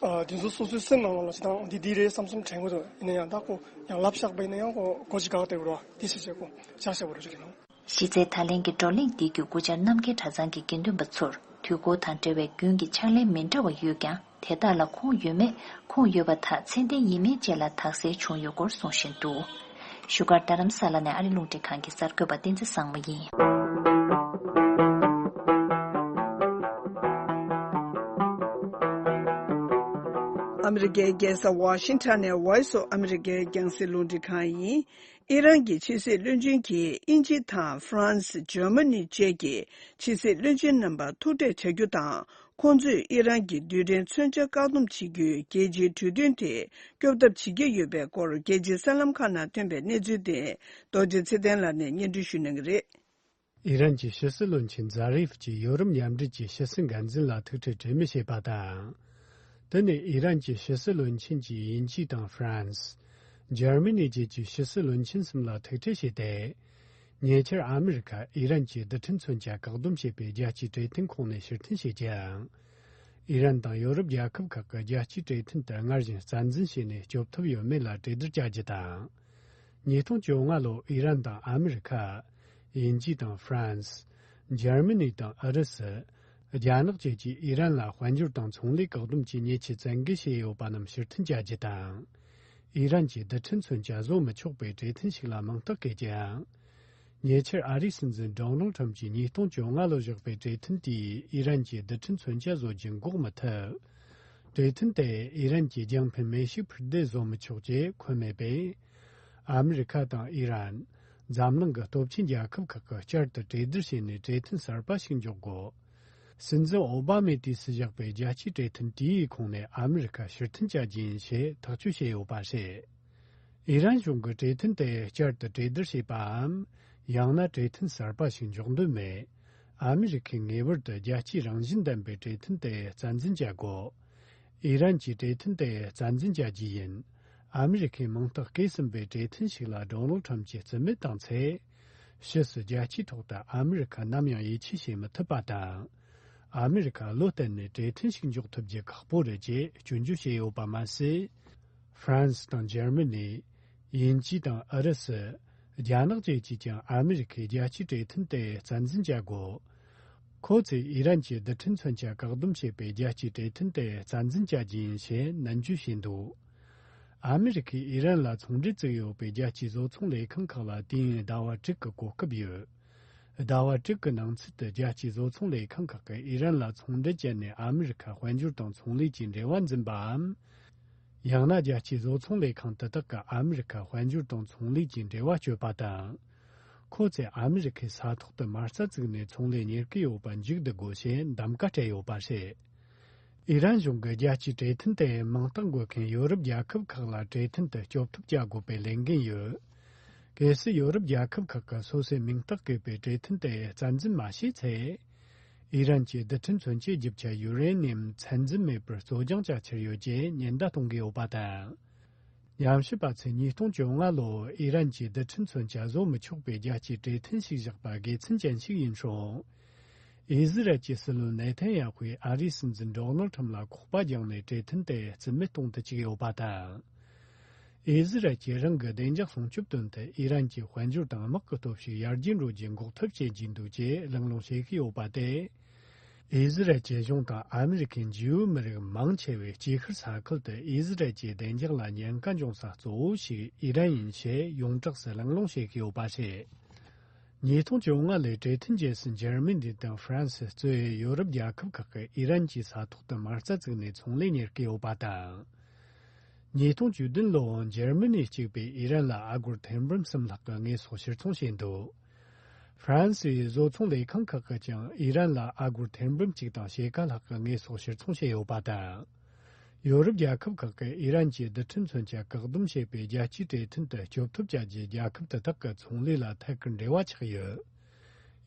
དེ་ཚོ་སོ་སོའི་སེམས་ནང་ལ་ལ་ཞིག་དང་འདི་འདི་རེད་བསམ་བསམ་དྲན་དགོས་འདུག་ཡིན་ན་ཡང་དག་གོ་ཡང་ལབ་བཞག་པ་ཡིན་ན་ཡང་གོ་གོ་ཅི་དགག་སྟེ་རུ་བ་དེ་བྱས་བྱས་གོ་བཞག་བྱས་པ་རུ་རིགས་ཡིན་ནོ། གཞི་རྩའི་ད་ལན་གྱི་བགྲོ་གླེང་འདི་བརྒྱུད་སྐུ་བཅར་རྣམ་རྒྱལ་གྲྭ་ཚང་གི་དགེ་འདུན་པ་ཚོར་དུས་འཁོར་དང་འབྲེལ་བའི་རྒྱུན་གྱི་ཕྱག་ལེན་མི་འདྲ་བ་ཡོད་ཀྱང་དེ་དག་ལ་ཁུངས་ཡོད་མེད་ཁུངས་ཡོད་པ་དག་ཚད་ལྡན་ཡིན་མིན་བཅས་ལ་དག་སེལ་བྱུང་ཡོད་སྐོར་གསུངས་བཞིན་འདུག། བཞུགས་སྒར་རྡ་རམ་ས་ལ་ནས་ཨ་རི་རླུང་འཕྲིན་ཁང་གི་གསར་འགོད་པ་བསྟན་འཛིན་བཟང་མོ་ཡིན། ཨ་མི་རི་ཀའི་རྒྱལ་ས་ཝཱ་ཤིང་ཐཱན་ནས Voice of America རྒྱང་སྲིད་རླུང་འཕྲིན་ཁང་ཡིན། ཨི་རན་གྱི་ཕྱི་སྲིད་བློན་ཆེན་གྱིས་དབྱིན་ཇི་དང་ཧྥ་རན་སི། Germany། བཅས་ཀྱི་ཕྱི་སྲིད་བློན་ཆེན་རྣམ་པར་ཐུག་འཕྲད་བྱ་རྒྱུ་དང་ཁོང་ཚོས་ཨི་རན་གྱི་རྡུལ་ཕྲན་མཚོན་ཆ་བཀག་སྡོམ་བྱེད་རྒྱུའི་རྒྱལ་སྤྱིའི་གྲོས་མཐུན་དེ་སྐྱོབ་ཐབས་བྱེད་ཀྱི་ཡོད་པའི་སྐོར་རྒྱལ་སྤྱིའི་གསར་ལམ་ཁག་ནང་ཐོན་པའི་གནས་ཚུལ་དེ་རྡོ་རྗེ་ཚེ་བརྟན་ལགས་ནས་སྙན་སྒྲོན་ཞུས་གནང་གི་རེད། ཨི་རན་གྱི་ཕྱི་སྲིད་བློན་ཆེན་ཛཱ་རེ་ཧྥ་ཀྱིས་ཡོ་རོབ་མཉམ་འབྲེལ་གྱི་ཕྱི་སྲིད་འགན་འཛིན་ལ་ཐུག་འཕྲད་གྲོས་མོལ་བྱས་པ་དང། དེ་ནི་ཨི་རན་གྱི་ཕྱི་སྲིད་བློན་ཆེན་གྱིས་དབྱིན་ཇི་དང་ཧྥ་རན་སི། འཇར་མི་ནི་བཅས་ཀྱི་ཕྱི་སྲིད་བློན་ཆེན་གསུམ་ལ་ཐུག་འཕྲད་བྱས་ཏེ། ཉེ་ཆར་ཨ་མི་རི་ཀ་ཨི་རན་གྱི་རྡུལ་ཕྲན་མཚོན་ཆ་བཀག་སྡོམ་བྱེད་པའི་རྒྱལ་སྤྱིའི་འབྲེལ་མཐུད་ཁོངས་ནས་ཕྱིར་འཐེན་བྱེད་ཀྱང། ཨི་རན་དང་ཡོ་རོབ་རྒྱལ་ཁབ་ཁག་གི་རྒྱལ་སྤྱིའི་འབྲེལ་མཐུད་དེ་སྔར་བཞིན་རྩ་འཛིན་བྱས་ནས་སྐྱོབ་ཐབས་ཡོད་མེད་ལ་གྲོས་བསྡུར་བྱ་རྒྱུ་དང། ཉིས་སྟོང་བཅོ་ལྔ་ལོར་ཨི་རན་དང་ཨ་མི་རི་ཀ། དབྱིན་ཇི་དང་ཧྥ་རན་སི། འཇར་མི་ནི་དང་ཨུ་རུ་སི། རྒྱ་ནག་བཅས་ཀྱིས་ཨི་རན་ལ་དཔལ་འབྱོར་དང་ཚོང་ལས་བཀག་སྡོམ་གྱི་ཉེས་ཆད་བཙན་འགེལ་བྱས་ཡོད་པ་རྣམས་ཕྱིར་འཐེན་བྱ་རྒྱུ་དང། ཨི་རན་གྱིས་རྡུལ་ཕྲན་མཚོན་ཆ་བཟོ་མི་ཆོག་པའི་གྲོས་མཐུན་ཞིག་ལ་མིང་རྟགས་བཀལ་ཅིང། ཉེ་ཆར་ཨ་རིའི་སྲིད་འཛིན Donald Trump ཀྱིས་ཉིས་སྟོང་བཅོ་ལྔ་ལོར་བཞག་པའི་གྲོས་མཐུན་དེས་ཨི་རན་གྱིས་རྡུལ་ཕྲན་མཚོན་ཆ་བཟོ་རྒྱུ་འགོག་མི་ཐུབ། གྲོས་མཐུན་དེས་ཨི་རན་གྱིས་རྒྱང་འཕེན་མེ་ཤུགས་འཕུར་མདེལ་བཟོ་མི་ཆོག་ཅེས་འཁོད་མེད་པས། ཨ་མི་རི་ཁ་དང་ཨི་རན། འཛམ་གླིང་གི་སྟོབས་ཆེན་རྒྱལ་ཁབ་ཁག་གིས་བསྐྱར་དུ་གྲོས་བསྡུར་བྱས་ནས་གྲོས་མཐུན་གསར་པ་ཞིག་འཇོག་དགོས། སྲིད་འཛིན་ཨོ་བྷ་མས་དུས་སུ་བཞག་པའི་རྒྱལ་སྤྱིའི་བཀྲས་མཐུན་གྲས་ཡིག་ཁོངས་ནས་ཨ་མི་རི་ཀ་ཕྱིར་འཐེན་བྱ་རྒྱུ་ཡིན་ཞེས་ཐག་གཅོད་བྱས་ཡོད་པ་རེད། ཨི་རན་གཞུང་གིས་བཀྲས་མཐུན་དེ་བསྐྱར་དུ་གྲོས་བསྡུར་བྱེད་པའམ་ཡང་ན་བཀྲས་མཐུན་གསར་པ་ཞིག་འཇོག་འདོད་མེད། ཨ་མི་རི་ཁས་ངེས་པར་དུ་རྒྱལ་སྤྱིའི་རང་བཞིན་ལྡན་པའི་བཀྲས་མཐུན་དེ་རྩ་འཛིན་བྱ་དགོས། ཨི་རན་གྱིས་བཀྲས་མཐུན་དེ་རྩ་འཛིན་བྱ་རྒྱུ་ཡིན། ཨ་མི་རི་ཁས་མིང་རྟགས་བཀལ་ཟིན་པའི་བཀྲས་མཐུན་ཞིག་ལ་ལྡོང་ལོ་ཁྲམ་གྱིས་རྩིས་མེད་བཏང་ཚེ། ཕྱིས་སུ་རྒྱལ་སྤྱིའི་ཐོག་ཏུ་ཨ་མི་རི་ཁ་ནམ་ཡང་ཡིད་ཆེས་བྱེད་མི་ཐུབ་པ་དང། ཨ་མི་རི་ཁ་བློ་བརྟན་ནས་གྲོས་མཐུན་ཞིག་འཇོག་ཐུབ་རྒྱུ་ཁག་པོ་རེད་ཅེས་སྐྱོན་བརྗོད་བྱས་ཡོད་པ་མ་ཟད། France དང Germany། དབྱིན་ཇི་དང་ཨུ་རུ་སུ། རྒྱ་ནག་བཅས་ཀྱིས་ཀྱང་ཨ་མི་རི་ཁའི་རྒྱལ་སྤྱིའི་གྲོས་མཐུན་དེ་རྩ་འཛིན་བྱ་དགོས། ཁོ་ཚོས་ཨི་རན་གྱིས་རྡུལ་ཕྲན་མཚོན་ཆ་བཀག་སྡོམ་བྱེད་པའི་རྒྱལ་སྤྱིའི་གྲོས་མཐུན་དེ་རྩ་འཛིན་བྱ་རྒྱུ་ཡིན་ཞེས་ནན་བརྗོད་བྱས་འདུག། ཨ་མི་རི་ཁས་ཨི་རན་ལ་ཚོང་འབྲེལ་བཙུགས་ཡོད་པའི་རྒྱལ་སྤྱིའི་བཟོ་ཚོང་ལས་ཁང་ཁག་ལ་དུས་ཡུན་ཟླ་བ་དྲུག་གི་གོ་སྐབས་ཡོད། ཟླ་བ་དྲུག་གི་ནང་ཚུད་དུ་རྒྱལ་སྤྱིའི་བཟོ་ཚོང་ལས་ཁང་ཁག་གིས་ཨི་རན་ལ་ཚོང་འབྲེལ་བྱས་ནས་ཨ་མི་རི་ཁ་དཔལ་འབྱོར་དང་ཚོང་ལས་ཀྱི་འབྲེལ་བ་འཛིན་པའམ། ཡང་ན་རྒྱལ་སྤྱིའི་བཟོ་ཚོང་ལས་ཁང་དེ་དག་གིས་ཨ་མི་རི་ཁ་དཔལ་འབྱོར་དང་ཚོང་ལས་ཀྱི་འབྲེལ་བ་གཅོད་པ་དང། ཁོ་ཚོས་ཨ་མི་རི་ཁའི་ས་ཐོག་ཏུ་མ་རྩ་བཙུགས་ནས་ཚོང་ལས་གཉེར་གྱི་ཡོད་པ་མཇུག་བསྡུ་དགོས་ཞེས་འདམ་ག་སྤྲད་ཡོད་པ་རེད། ཨི་རན་གཞུང་གིས་རྒྱལ་སྤྱིའི་གྲོས་མཐུན་དེ་མིང་རྟགས་འགོད་མཁན་ཡོ་རོབ་རྒྱལ་ཁབ་ཁག་ལ་གྲོས་མཐུན་དུ་སྐྱོབ་ཐབས་བྱ་དགོས་པའི་ལས་འགན་ཡོད། གལ་སྲིད་ཡོ་རོབ་རྒྱལ་ཁབ་ཁག་གིས་སོ་སོས་མིང་རྟགས་བཀོད་པའི་གྲོས་མཐུན་དེ་རྩ་འཛིན་མ་བྱས་ཚེ། ཨི་རན་གྱིས་རྡུལ་ཕྲན་མཚོན་ཆའི་བརྗིད་བྱ་ཡུ་རེ་ནི་ཡམ་ཚད་འཛིན་མེད་པར་བཙོ་སྦྱང་བྱ་འཆར་ཡོད་ཅེས་ཉེན་བརྡ་གཏོང་གི་ཡོད་པ་དང། ཉམས་ཞིབ་པ་ཚོས་ཉིས་སྟོང་བཅོ་ལྔ་ལོར་ཨི་རན་གྱིས་རྡུལ་ཕྲན་མཚོན་ཆ་བཟོ་མི་ཆོག་པའི་རྒྱལ་སྤྱིའི་གྲོས་མཐུན་ཞིག་བཞག་པ་དགེ་མཚན་ཅན་ཞིག་ཡིན་རུང། ཨི་ཟི་རལ་གྱི་སྲིད་བློན་ནེ་ཐན་ཡ་ཧུས་ཨ་རིའི་སྲིད་འཛིན་འབྲོག་ནོར་ཁྲོམ་ལ་ཁོག་པ་བརྒྱངས་ནས་གྲོས་མཐུན་དེ་རྩིས་མེད་གཏོང་དུ་བཅུག་ཡོད་པ་དང། ཨི་ཟི་རལ་གྱིས་རང་གི་བདེ་འཇགས་སྲུང་སྐྱོབ་དོན་དུ་ཨི་རན་གྱི་དཔལ་འབྱོར་དང་དམག་གི་སྟོབས་ཤུགས་ཡར་རྒྱས་འགྲོ་རྒྱུ་འགོག་ཐབས་བྱེད་ཀྱི་འདུག་ཅེས་གླེང་སློང་བྱེད་ཀྱི་ཡོད་པ་སྟེ། ཨི་ཟི་རལ་གྱི་གཞུང་དང་ཨ་མི་རི་ཁའི་འཇིའུ་མི་རིགས་མང་ཆེ་བས་དཀྱིལ་ཤར་ས་ཁུལ་དུ་ཨི་ཟི་རལ་གྱི་བདེ་འཇགས་ལ་ཉེན་ཁ་འབྱུང་ས་གཙོ་བོ་ཞིག་ཨི་རན་ཡིན་ཞེས་ཡོངས་གྲགས་སུ་གླེང་སློང་བྱེད་ཀྱི་ཡོད་པ་རེད། ཉིས་སྟོང་བཅོ་ལྔ་ལོའི་འབྲེལ་མཐུད་རྗེས་སུ་འཇར་མི་ནི་དང་ཧྥ་རན་སི་གཙོས་ཡོ་རོབ་རྒྱལ་ཁབ་ཁག་གིས་ཨི་རན་གྱི་ས་ཐོག་ཏུ་མ་རྩ་བཙུགས་ནས་ཚོང་ལས་གཉེར་གྱི་ཡོད་པ་དང། ཉིས་སྟོང་བཅུ་བདུན་ལོའང་འཇར་མི་ནི་གཅིག་པས་ཨི་རན་ལ་ཨ་སྒོར་ཐེར་འབུམ་གསུམ་ལྷག་གི་དངོས་ཟོག་ཕྱིར་ཚོང་བྱས་འདུག་ཧྥ་རན་སིའི་བཟོ་ཚོང་ལས་ཁང་ཁག་གིས་ཀྱང་ཨི་རན་ལ་ཨ་སྒོར་ཐེར་འབུམ་གཅིག་དང་ཕྱེད་ཀ་ལྷག་གི་དངོས་ཟོག་ཕྱིར་ཚོང་བྱས་ཡོད་པ་དང། ཡོ་རོབ་རྒྱལ་ཁབ་ཁག་གིས་ཨི་རན་གྱི་རྡུལ་ཕྲན་མཚོན་ཆ་བཀག་སྡོམ་བྱེད་པའི་རྒྱལ་སྤྱིའི་གྲོས་མཐུན་དུ་སྐྱོབ་ཐབས་བྱ་རྒྱུའི་རྒྱལ་ཁབ་དེ་དག་གི་ཚོང་ལས་ལ་ཐད་ཀར་འབྲེལ་བ་ཆགས་ཡོད།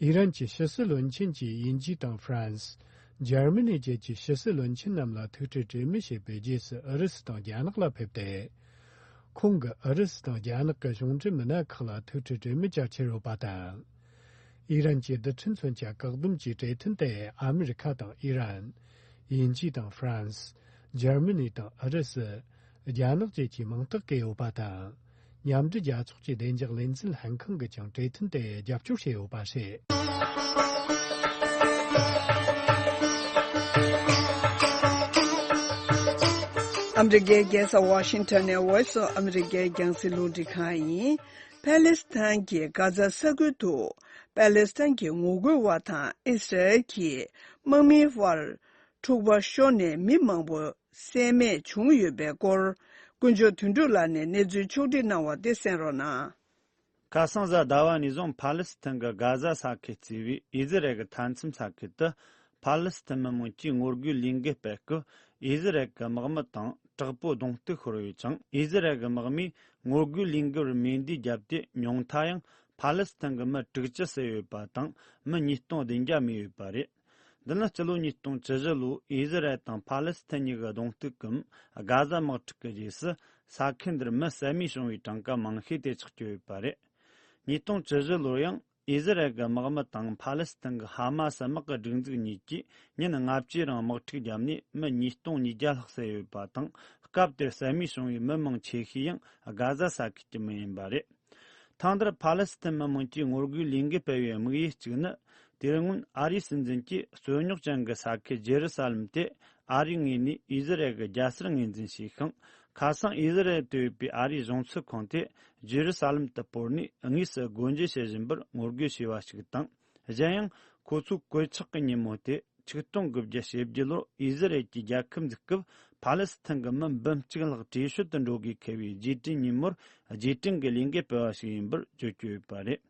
ཨི་རན་གྱི་ཕྱི་སྲིད་བློན་ཆེན་གྱིས་དབྱིན་ཇི་དང་ཧྥ་རན་སི། འཇར་མི་ནི་བཅས་ཀྱི་ཕྱི་སྲིད་བློན་ཆེན་རྣམས་ལ་ཐུག་འཕྲད་གྲོས་མོལ་བྱས་པའི་རྗེས་སུ་ཨུ་རུ་སུ་དང་རྒྱ་ནག་ལ་ཕེབས་ཏེ། ཁོང་གིས་ཨུ་རུ་སུ་དང་རྒྱ་ནག་གི་གཞུང་འབྲེལ་མི་སྣ་ཁག་ལ་ཐུག་འཕྲད་གྲོས་མོལ་བྱ་ཕྱིར་རོལ་བ་དང། ཨི་རན་གྱི་རྡུལ་ཕྲན་མཚོན་ཆ་བཀག་སྡོམ་གྱི་གྲོས་མཐུན་དེ་ཨ་མི་རི་ཁ་དང་ཨི་རན། དབྱིན་ཇི་དང་ཧྥ་རན་སི། འཇར་མི་ནི་དང་ཨུ་རུ་སུ། རྒྱ་ནག་བཅས་ཀྱི་མང་དག་གི་ཡོད་པ་དང། མཉམ་འབྲེལ་རྒྱལ་ཚོགས་ཀྱི་བདེ་འཇགས་ལས་འཛིན་ལྷན་ཁང་གིས་ཀྱང་གྲོས་མཐུན་དེར་རྒྱབ་སྐྱོར་བྱས་ཡོད་པ་རེད། ཨ་མི་རི་ཀའི་རྒྱལ་ས་ཝ་ཤིང་ཏོན་ནི Voice of America རྒྱང་སྲིང་རླུང་འཕྲིན་ཁང་ཡིན། ཕཱ་ལེ་སི་ཐན་གྱི་གྷ་ཛ་ས་ཁུལ་དུ་པ་ལེས་ཐན་གྱི་ངོ་རྒོལ་བ་དང་ཨིས་ར་ཨེལ་གྱི་དམག་མིའི་དབར། འཁྲུག་པ་ཤོར་ནས་མི་མང་པོ་བསད་རྨས་བྱུང་ཡོད་པའི་སྐོར། དཀོན་མཆོག་དོན་གྲུབ་ལགས་ནས་གནས་ཚུལ་ཕྱོགས་སྒྲིག་གནང་བ་དེ་གསན་རོགས་གནང། ཁ་སང་གཟའ་ཟླ་བ་ནས་བཟུང་པ་ལེས་ཐན་གྱི་གྷ་ཟ་ས་ཁུལ་བརྩིས་པའི་ཨིས་ར་ཨེལ་གྱི་མཐའ་མཚམས་ས་ཁུལ་དུ། པ་ལེས་ཐན་མི་མང་གིས་ངོ་རྒོལ་ལས་འགུལ་སྤེལ་སྐབས་ཨིས་ར་ཨེལ་གྱི་དམག་མི་དང་དྲག་པོའི་གདོང་གཏུག་ཤོར་ཡོད་ཅིང་ཨིས་ར་ཨེལ་གྱི་དམག་མིས་ངོ་རྒོལ་ལས་འགུལ་བར་མེ་མདའི་རྒྱབ་གཏད་མྱོང་མཐའ་ཡང་ཕཱ་ལེ་སི་ཐན་གྱི་མི་དྲུག་ཅུ་བསད་ཡོད་པ་དང་མི་ཉིས་སྟོང་བདུན་བརྒྱ་རྨས་ཡོད་པ་རེད། འདི་ནི་སྤྱི་ལོ་ཉིས་སྟོང་ཅི་བཞི་ལོའི་ཨི་ཟི་རལ་དང་ཕཱ་ལེ་སི་ཐན་གཉིས་ཀྱི་གདོང་གཏུག་གམ་དགའ་བཟའ་དམག་འཁྲུག་གི་རྗེས་སུ་ས་ཁུལ་འདིར་མི་བསད་རྨས་བྱུང་བའི་གྲངས་ཀ་མང་ཤོས་དེ་ཆགས་བསྐྱོད་ཡོད་པ་རེད། ཉིས་སྟོང་ཅི་བཞི་ལོར་ཡང་ཨི་ཟི་རལ་གྱི་དམག་མི་དང་ཕཱ་ལེ་སི་ཐན་གྱི་ཧ་མ་སི་དམག་གི་སྒྲིག་འཛུགས་གཉིས་ཀྱིས་ཉིན་ལྔ་བཅུའི་རིང་དམག་འཁྲུག་བརྒྱབ་ནས་མི་ཉིས་སྟོང་ཉིས་བརྒྱ་ལྷག་བསད་ཡོད་པ་དང་སྐབས་དེར་བསད་རྨས་བྱུང་བའི་མི་མང་ཆེ་ཤོས་ཡང་དགའ་བཟའ་ས་ཁུལ་གྱི་མི་ཡིན་པ་རེད། ཐང་དེར་ཕཱ་ལེ་སི་ཐན་མི་དམངས་ཀྱིས་ངོ་རྒོལ་ལས་འགུལ་སྤེལ་བའི་དམིགས་ཡུལ་གཅིག་ནི་དེ་སྔོན་ཨ་རིའི་སྲིད་འཛིན་གྱིས་རྩོད་རྙོག་ཅན་གྱི་ས་ཁུལ་རྗེ་རུ་ས་ལེམ་དེ་ཨ་རིའི་ངོས་ནས་ཨི་ཟི་རེལ་གྱི་རྒྱལ་སར་ངོས་འཛིན་བྱས་ཤིང་ཁ་སང་ཨི་ཟི་རེལ་དུ་ཡོད་པའི་ཨ་རིའི་གཞུང་ཚུགས་ཁང་དེ་རྗེ་རུ་ས་ལེམ་དུ་སྤོར་ནས་དངོས་སུ་སྒོ་འབྱེད་བྱེད་བཞིན་པར་ངོ་རྒོལ་བྱས་པ་ཞིག་དང། གཞན་ཡང། ཁོ་ཚོས་གོད་ཆག་གི་ཉིན་མོ་དེ་ཆིག་སྟོང་དགུ་བརྒྱ་ཞེ་བརྒྱད་ལོར་དབྱི་སི་རལ་གྱི་རྒྱལ་ཁབ་འཛུགས་སྐབས་ཕ་ལེ་སི་ཐན་གྱི་མི་འབུམ་གཅིག་ལྷག་བྲོས་བྱོལ་དུ་འགྲོ་དགོས་འཁེལ་བའི་རྗེས་དྲན་ཉིན་མོར་རྗེས་དྲན་གྱི་ལས་འགན་སྤེལ་བ་ཞིག་ཡིན་པར་བརྗོད་བཅུག་ཡོད་པ་རེད།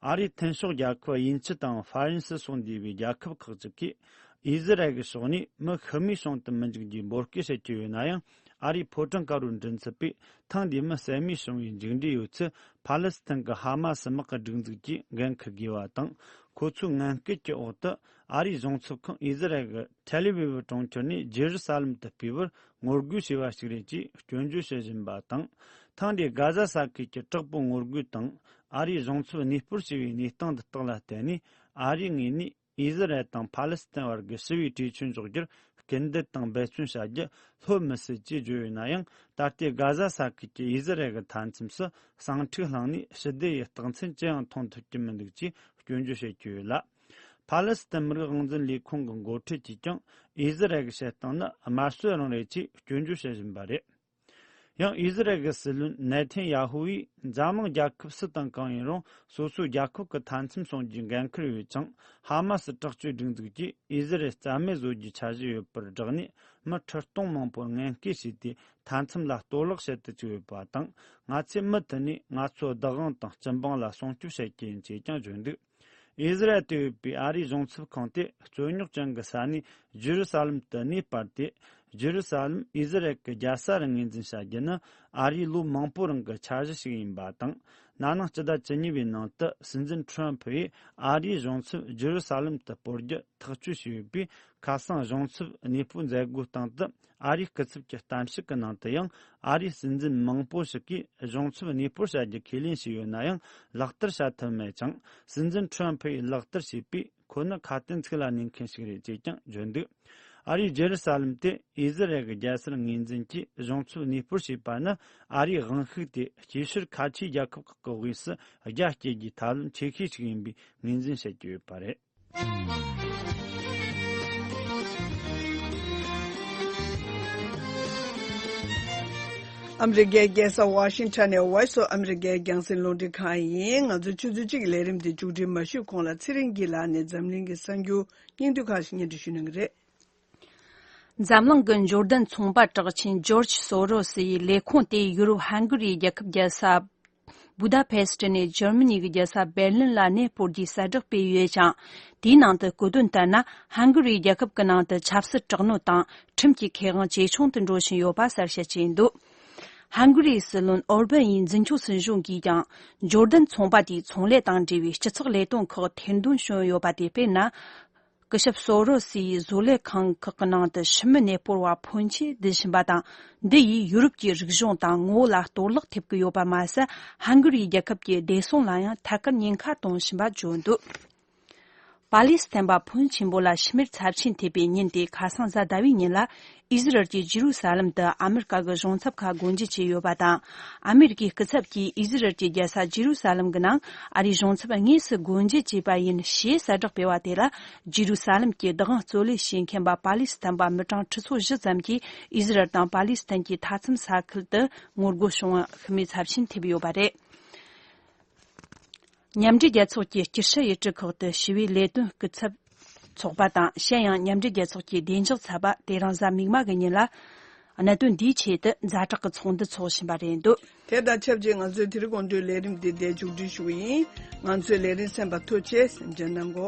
ཨ་རིའི་འཐེན་ཤོག་རྒྱལ་ཁབ་དབྱིན་ཇི་དང་ཧྥ་རན་སི་སོགས་འདུས་པའི་རྒྱལ་ཁབ་ཁག་ཅིག་གིས་དབྱི་སི་རལ་གྱི་ཕྱོགས་ནས་མི་ཤི་རྨས་བྱུང་དུ་མི་འཇུག་རྒྱུའི་འབོད་སྐུལ་བྱེད་ཀྱི་ཡོད་ན་ཡང། ཨ་རིའི་ཕོ་བྲང་ཀ་རུ་མགྲིན་ཚབ་པས་ཐེངས་འདིའི་མི་བསད་རྨས་བྱུང་བའི་མཇུག་འབྲས་ཡོད་ཚད་ཕཱ་ལེ་སི་ཐན་གྱི་ཧ་མ་སི་དམག་གི་སྒྲིག་འཛུགས་ཀྱིས་འགན་འཁུར་དགོས་པ་དང་ཁོ་ཚོའི་ངན་སྐུལ་གྱི་འོག་ཏུ་ཨ་རིའི་གཞུང་ཚབ་ཁང་ཨི་ཟི་རལ་གྱི་ཐེ་ལེ་བི་བི་གྲོང་ཁྱེར་ནས་རྗེ་རུ་ས་ལེམ་དུ་སྤེལ་བར་ངོ་རྒོལ་བྱས་པ་ཞིག་རེད་ཅེས་སྐྱོན་བརྗོད་བྱེད་བཞིན་པ་དང། ཐེངས་འདིའི་གྷ་ཛ་ས་ཁུལ་གྱི་དྲག་པོའི་ངོ་རྒོལ་དང་ཨ་རིའི་གཞུང་ཚབ་གནས་སྤོར་བྱས་པའི་གནས་སྟངས་འདི་དག་ལ་བརྟེན་ནས་ཨ་རིའི་ངོས་ནས་ཨི་ཟི་རལ་དང་ཕ་ལེ་སི་ཐན་བར་གྱི་ཞི་བའི་གྲོས་ཆོད་འཇོག་རྒྱུར་སྐུལ་འདེད་དང་འབད་བརྩོན་བྱ་རྒྱུ་ལྷོད་མི་སྲིད་ཅེས་བརྗོད་ཡོད་ན་ཡང་ད་ལྟའི་དགའ་བཟའ་ས་ཁུལ་གྱི་ཨི་ཟི་རལ་གྱི་མཐའ་མཚམས་སུ་ཟིང་འཁྲུག་བསླངས་ནས་ཞི་བདེ་ཡི་རྟགས་མཚན་ཅི་ཡང་མཐོང་ཐུབ་ཀྱི་མི་འདུག་ཅེས་སྐྱོན་བརྗོད་བྱེད་ཀྱི་ཡོད་ལ། ཕ་ལེ་སི་ཐན་མི་རིགས་དབང་འཛིན་ལས་ཁུངས་ཀྱི་མགོ་ཁྲིད་ཀྱིས་ཀྱང་ཨི་ཟི་རལ་གྱི་བྱེད་སྟངས་ནི་དམར་གསོད་རང་རེད་ཅེས་སྐྱོན་བརྗོད་བྱེད་བཞིན་པ་རེད། ཡང་ཨི་ཟི་རལ་གྱི་སྲིད་བློན་ནེ་ཐན་ཡ་ཧུ་ཡིས་འཛམ་གླིང་རྒྱལ་ཁབ་སུ་དང་གང་ཡིན་རུང་སོ་སོའི་རྒྱལ་ཁབ་ཀྱི་མཐའ་མཚམས་སྲུང་རྒྱུའི་འགན་ཁུར་ཡོད་ཅིང་ཧ་མ་སི་དྲག་སྤྱོད་སྒྲིག་འཛུགས་ཀྱིས་ཨི་ཟི་རལ་རྩ་མེད་བཟོ་རྒྱུའི་འཆར་གཞི་ཡོད་པར་བསྒྲགས་ནས་མི་ཁྲི་སྟོང་མང་པོར་ངན་སྐད་བྱས་ཏེ་མཐའ་མཚམས་ལ་གཏོར་བརླག་བྱེད་དུ་བཅུག་ཡོད་པ་དང་ང་ཚོའི་མི་དེ་ནི་ང་ཚོའི་བདག་དབང་དང་སྤྱི་འབངས་ལ་སྲུང་སྐྱོབ་བྱེད་ཀྱི་ཡིན་ཅེས་ཀྱང་བརྗོད་འདུག། ཨི་ཟི་རལ་དུ་ཡོད་པའི་ཨ་རིའི་གཞུང་ཚབ་ཁང་དེ་རྩོད་རྙོག་ཅན་གྱི་ས་གནས་ཇི་རུ་ས་ལམ་དུ་གནས་སྤར་ཏེ། ཇི་རུ་ས་ལམ་ཨི་ཟི་རལ་གྱི་རྒྱལ་ས་རུ་ངོས་འཛིན་བྱ་རྒྱུ་ནི་ཨ་རིའི་ལོ་མང་པོའི་རིང་གི་འཆར་གཞི་ཞིག་ཡིན་པ་དང། ན་ནིང་སྤྱི་ཟླ་བཅུ་གཉིས་པའི་ནང་དུ་སྲིད་འཛིན་ཁྲོམ་ཕུ་ཡིས་ཨ་རིའི་གཞུང་ཚབ་ཇི་རུ་ས་ལམ་དུ་སྤོར་རྒྱུ་ཐག་གཅོད་བྱས་ཡོད་པས་ཁ་སང་གཞུང་ཚབ་གནས་སྤོའི་མཛད་སྒོའི་སྟེང་དུ་ཨ་རིའི་སྐུ་ཚབ་ཀྱི་གཏམ་བཤད་ཀྱི་ནང་དུ་ཡང་ཨ་རིའི་སྲིད་འཛིན་མང་པོ་ཞིག་གིས་གཞུང་ཚབ་གནས་སྤོར་བྱ་རྒྱུ་ཁས་ལེན་བྱས་ཡོད་ན་ཡང་ལག་བསྟར་བྱ་ཐུབ་མེད་ཅིང་སྲིད་འཛིན་ཁྲོན་ཕུ་ཡིས་ལག་བསྟར་བྱས་པས་ཁོ་ནི་ཁ་དན་ཚིག་ལ་གནས་མཁན་ཞིག་རེད་ཅེས་ཀྱང་བརྗོད་འདུག་ཨ་རིའི་རྗེ་རུ་ས་ལམ་དེ་ཨི་ཟི་རལ་གྱི་རྒྱལ་སར་ངོས་འཛིན་གྱིས་གཞུང་ཚབ་གནས་སྤོར་བྱས་པ་ནི་ཨ་རིའི་དབང་ཤུགས་དེ་སྐྱེ་ཤུལ་ཁ་ཆེའི་རྒྱལ་ཁབ་ཁག་གི་དབུས་སུ་རྒྱ་བསྐྱེད་རྒྱུའི་ཐབས་ལམ་ཆེ་ཤོས་ཤིག་ཡིན་པའི་ངོས་འཛིན་བྱེད་ཀྱི་ཡོད་པ་རེད། ཨ་མི་རི་ཀའི་རྒྱལ་ས་ཝཱ་ཤིང་ཐོན་ནས་ཝེ་སོ་ཨ་མི་རི་ཀའི་རྒྱང་སྲིང་རླུང་འཕྲིན་ཁང་ཡིན། ང་ཚོ་ཆུ་ཚོད་གཅིག་གི་ལས་རིམ་དེ་མཇུག་སྒྲིལ་མ་ཞུས་གོང་ལ་ཚེ་རིང་སྐྱིད་ལགས་ནས་འཛམ་གླིང་གི་གསར་འགྱུར་སྙིང་བསྡུས་ཁག་ཅིག་སྙན་སྒྲོན་ཞུས་གནང་གི་རེད། འཛམ་གླིང་གི་འབྱོར་ལྡན་ཚོང་པ་གྲགས་ཆེན་ཇོརྗ་སོ་རོ་སི་ཡི་ལས་ཁུངས་དེ་ཡུ་རོབ་ཧན་གྷི་རིའི་རྒྱལ་ཁབ་རྒྱལ་ས་བུ་དཱ་བྷེ་སི་ཏི་ནས་འཇར་མ་ནི་གི་རྒྱལ་ས་བེར་ལིན་ལ་གནས་སྤོར་རྒྱུའི་གསལ་བསྒྲགས་སྤེལ་ཡོད་ཅིང། དེའི་ནང་དུ་བཀོད་དོན་ལྟར་ན་ཧན་གྷི་རིའི་རྒྱལ་ཁབ་ཀྱི་ནང་དུ་ཆབ་སྲིད་དྲག་གནོན་དང་ཁྲིམས་ཀྱི་ཁེ་དབང་ཇེ་ཆུང་དུ་འགྲོ་བཞིན་ཡོད་པ་གསལ་བཤད་བྱས་འདུག་ཧན་གྷི་རིའི་སྲིད་བློན་ཨོར་བན་ཡི་འཛིན་སྐྱོང་སྲིད་གཞུང་གིས་ཀྱང་འབྱོར་ལྡན་ཚོང་པ་དེའི་ཚོང་ལས་དང་འབྲེལ་བའི་སྤྱི་ཚོགས་ལས་དོན་ཁག་ཐེར་འདོན་བྱུང་ཡོད་པ་དེ་དཔེར་ན། སྐུ་ཞབས་སོ་རོ་སི་ཡིས་བཟོ་ལས་ཁང་ཁག་གི་ནང་དུ་ཕྱི་མི་གནས་སྤོར་བ་ཕོན་ཆེ་ལྡན་བཞིན་པ་དང་འདི་ཡིས་ཡུ་རོབ་ཀྱི་རིག་གཞུང་དང་ངོ་བོ་ལ་གཏོར་བརླག་ཐེབས་ཀྱི་ཡོད་པ་མ་ཟད་ཧན་གོ་རིའི་རྒྱལ་ཁབ་ཀྱི་བདེ་སྲུང་ལ་ཡང་ཐད་ཀར་ཉེན་ཁ་གཏོང་བཞིན་པ་བརྗོད་འདུག་པཱ་ལི་སི་ཐན་པ་ཕོན་ཆེན་པོ་ལ་ཕྱི་མིར་ཚབས་ཆེན་ཐེབས་པའི་ཉིན་དེ་ཁ་སང་གཟའ་ཟླ་བའི་ཉིན་ལ་ཨིསི་རལ་གྱིས་ཇི་རུ་ས་ལམ་དུ་ཨ་མི་རི་ཀ་གི་གཞུང་ཚབ་ཁག་སྒོ་འབྱེད་བྱས་ཡོད་པ་དང། ཨ་མི་རི་ཀའི་སྐུ་ཚབ་ཀྱིས་ཨིསི་རལ་གྱི་རྒྱལ་ས་ཇི་རུ་ས་ལམ་གྱི་ནང་ཨ་རིའི་གཞུང་ཚབ་དངོས་སུ་སྒོ་འབྱེད་བྱས་པ་ཡིན་ཞེས་གསལ་བསྒྲགས་སྤེལ་བ་དེ་ལ་ཇི་རུ་ས་ལམ་གྱི་བདག་དབང་རྩོད་ལེན་བྱེད་མཁན་པ་པ་ལི་སི་ཐན་པ་མི་གྲངས་ཁྲི་ཚོ་བཞི་ཙམ་གྱིས་ཨིསི་རལ་དང་པ་ལི་སི་ཐན་གྱི་མཐའ་མཚམས་ས་ཁུལ་དུ་ངོ་རྒོལ་བྱུང་བ་ཤི་རྨས་ཚབས་ཆེན་ཐེབས་ཡོད་པ་རེད། མཉམ་འབྲེལ་རྒྱལ་ཚོགས་ཀྱི་སྤྱི་ཧྲི་ཡི་སྤྲུལ་ཁག་ཏུ་ཞི་བའི་ལས་དོན་སྐུ་ཚབ་ཚོགས་པ་དང་གཞན་ཡང་མཉམ་འབྲེལ་རྒྱལ་ཚོགས་ཀྱི་བདེ་འཇགས་ཚབ་པ་དེ་རང་བཟའ་མིག་དམར་གྱི་ཉིན་ལ་གནད་དོན་འདིའི་ཆེད་དུ་མཛའ་གྲགས་ཀྱི་ཚོགས་འདུ་འཚོགས་བཞིན་པ་རེད་འདུག། དེ་དང་ཆབས་ཅིག་ང་ཚོས་དེ་རིང་དགོངས་དོན་ལས་རིམ་འདི་འདས་མཇུག་སྒྲིལ་ཞུ་གི་ཡིན། ང་ཚོས་ལས་རིམ་གསན་པ་ཐུགས་རྗེས་ཆེ་ཞེས་མཇལ་གནང་གོ།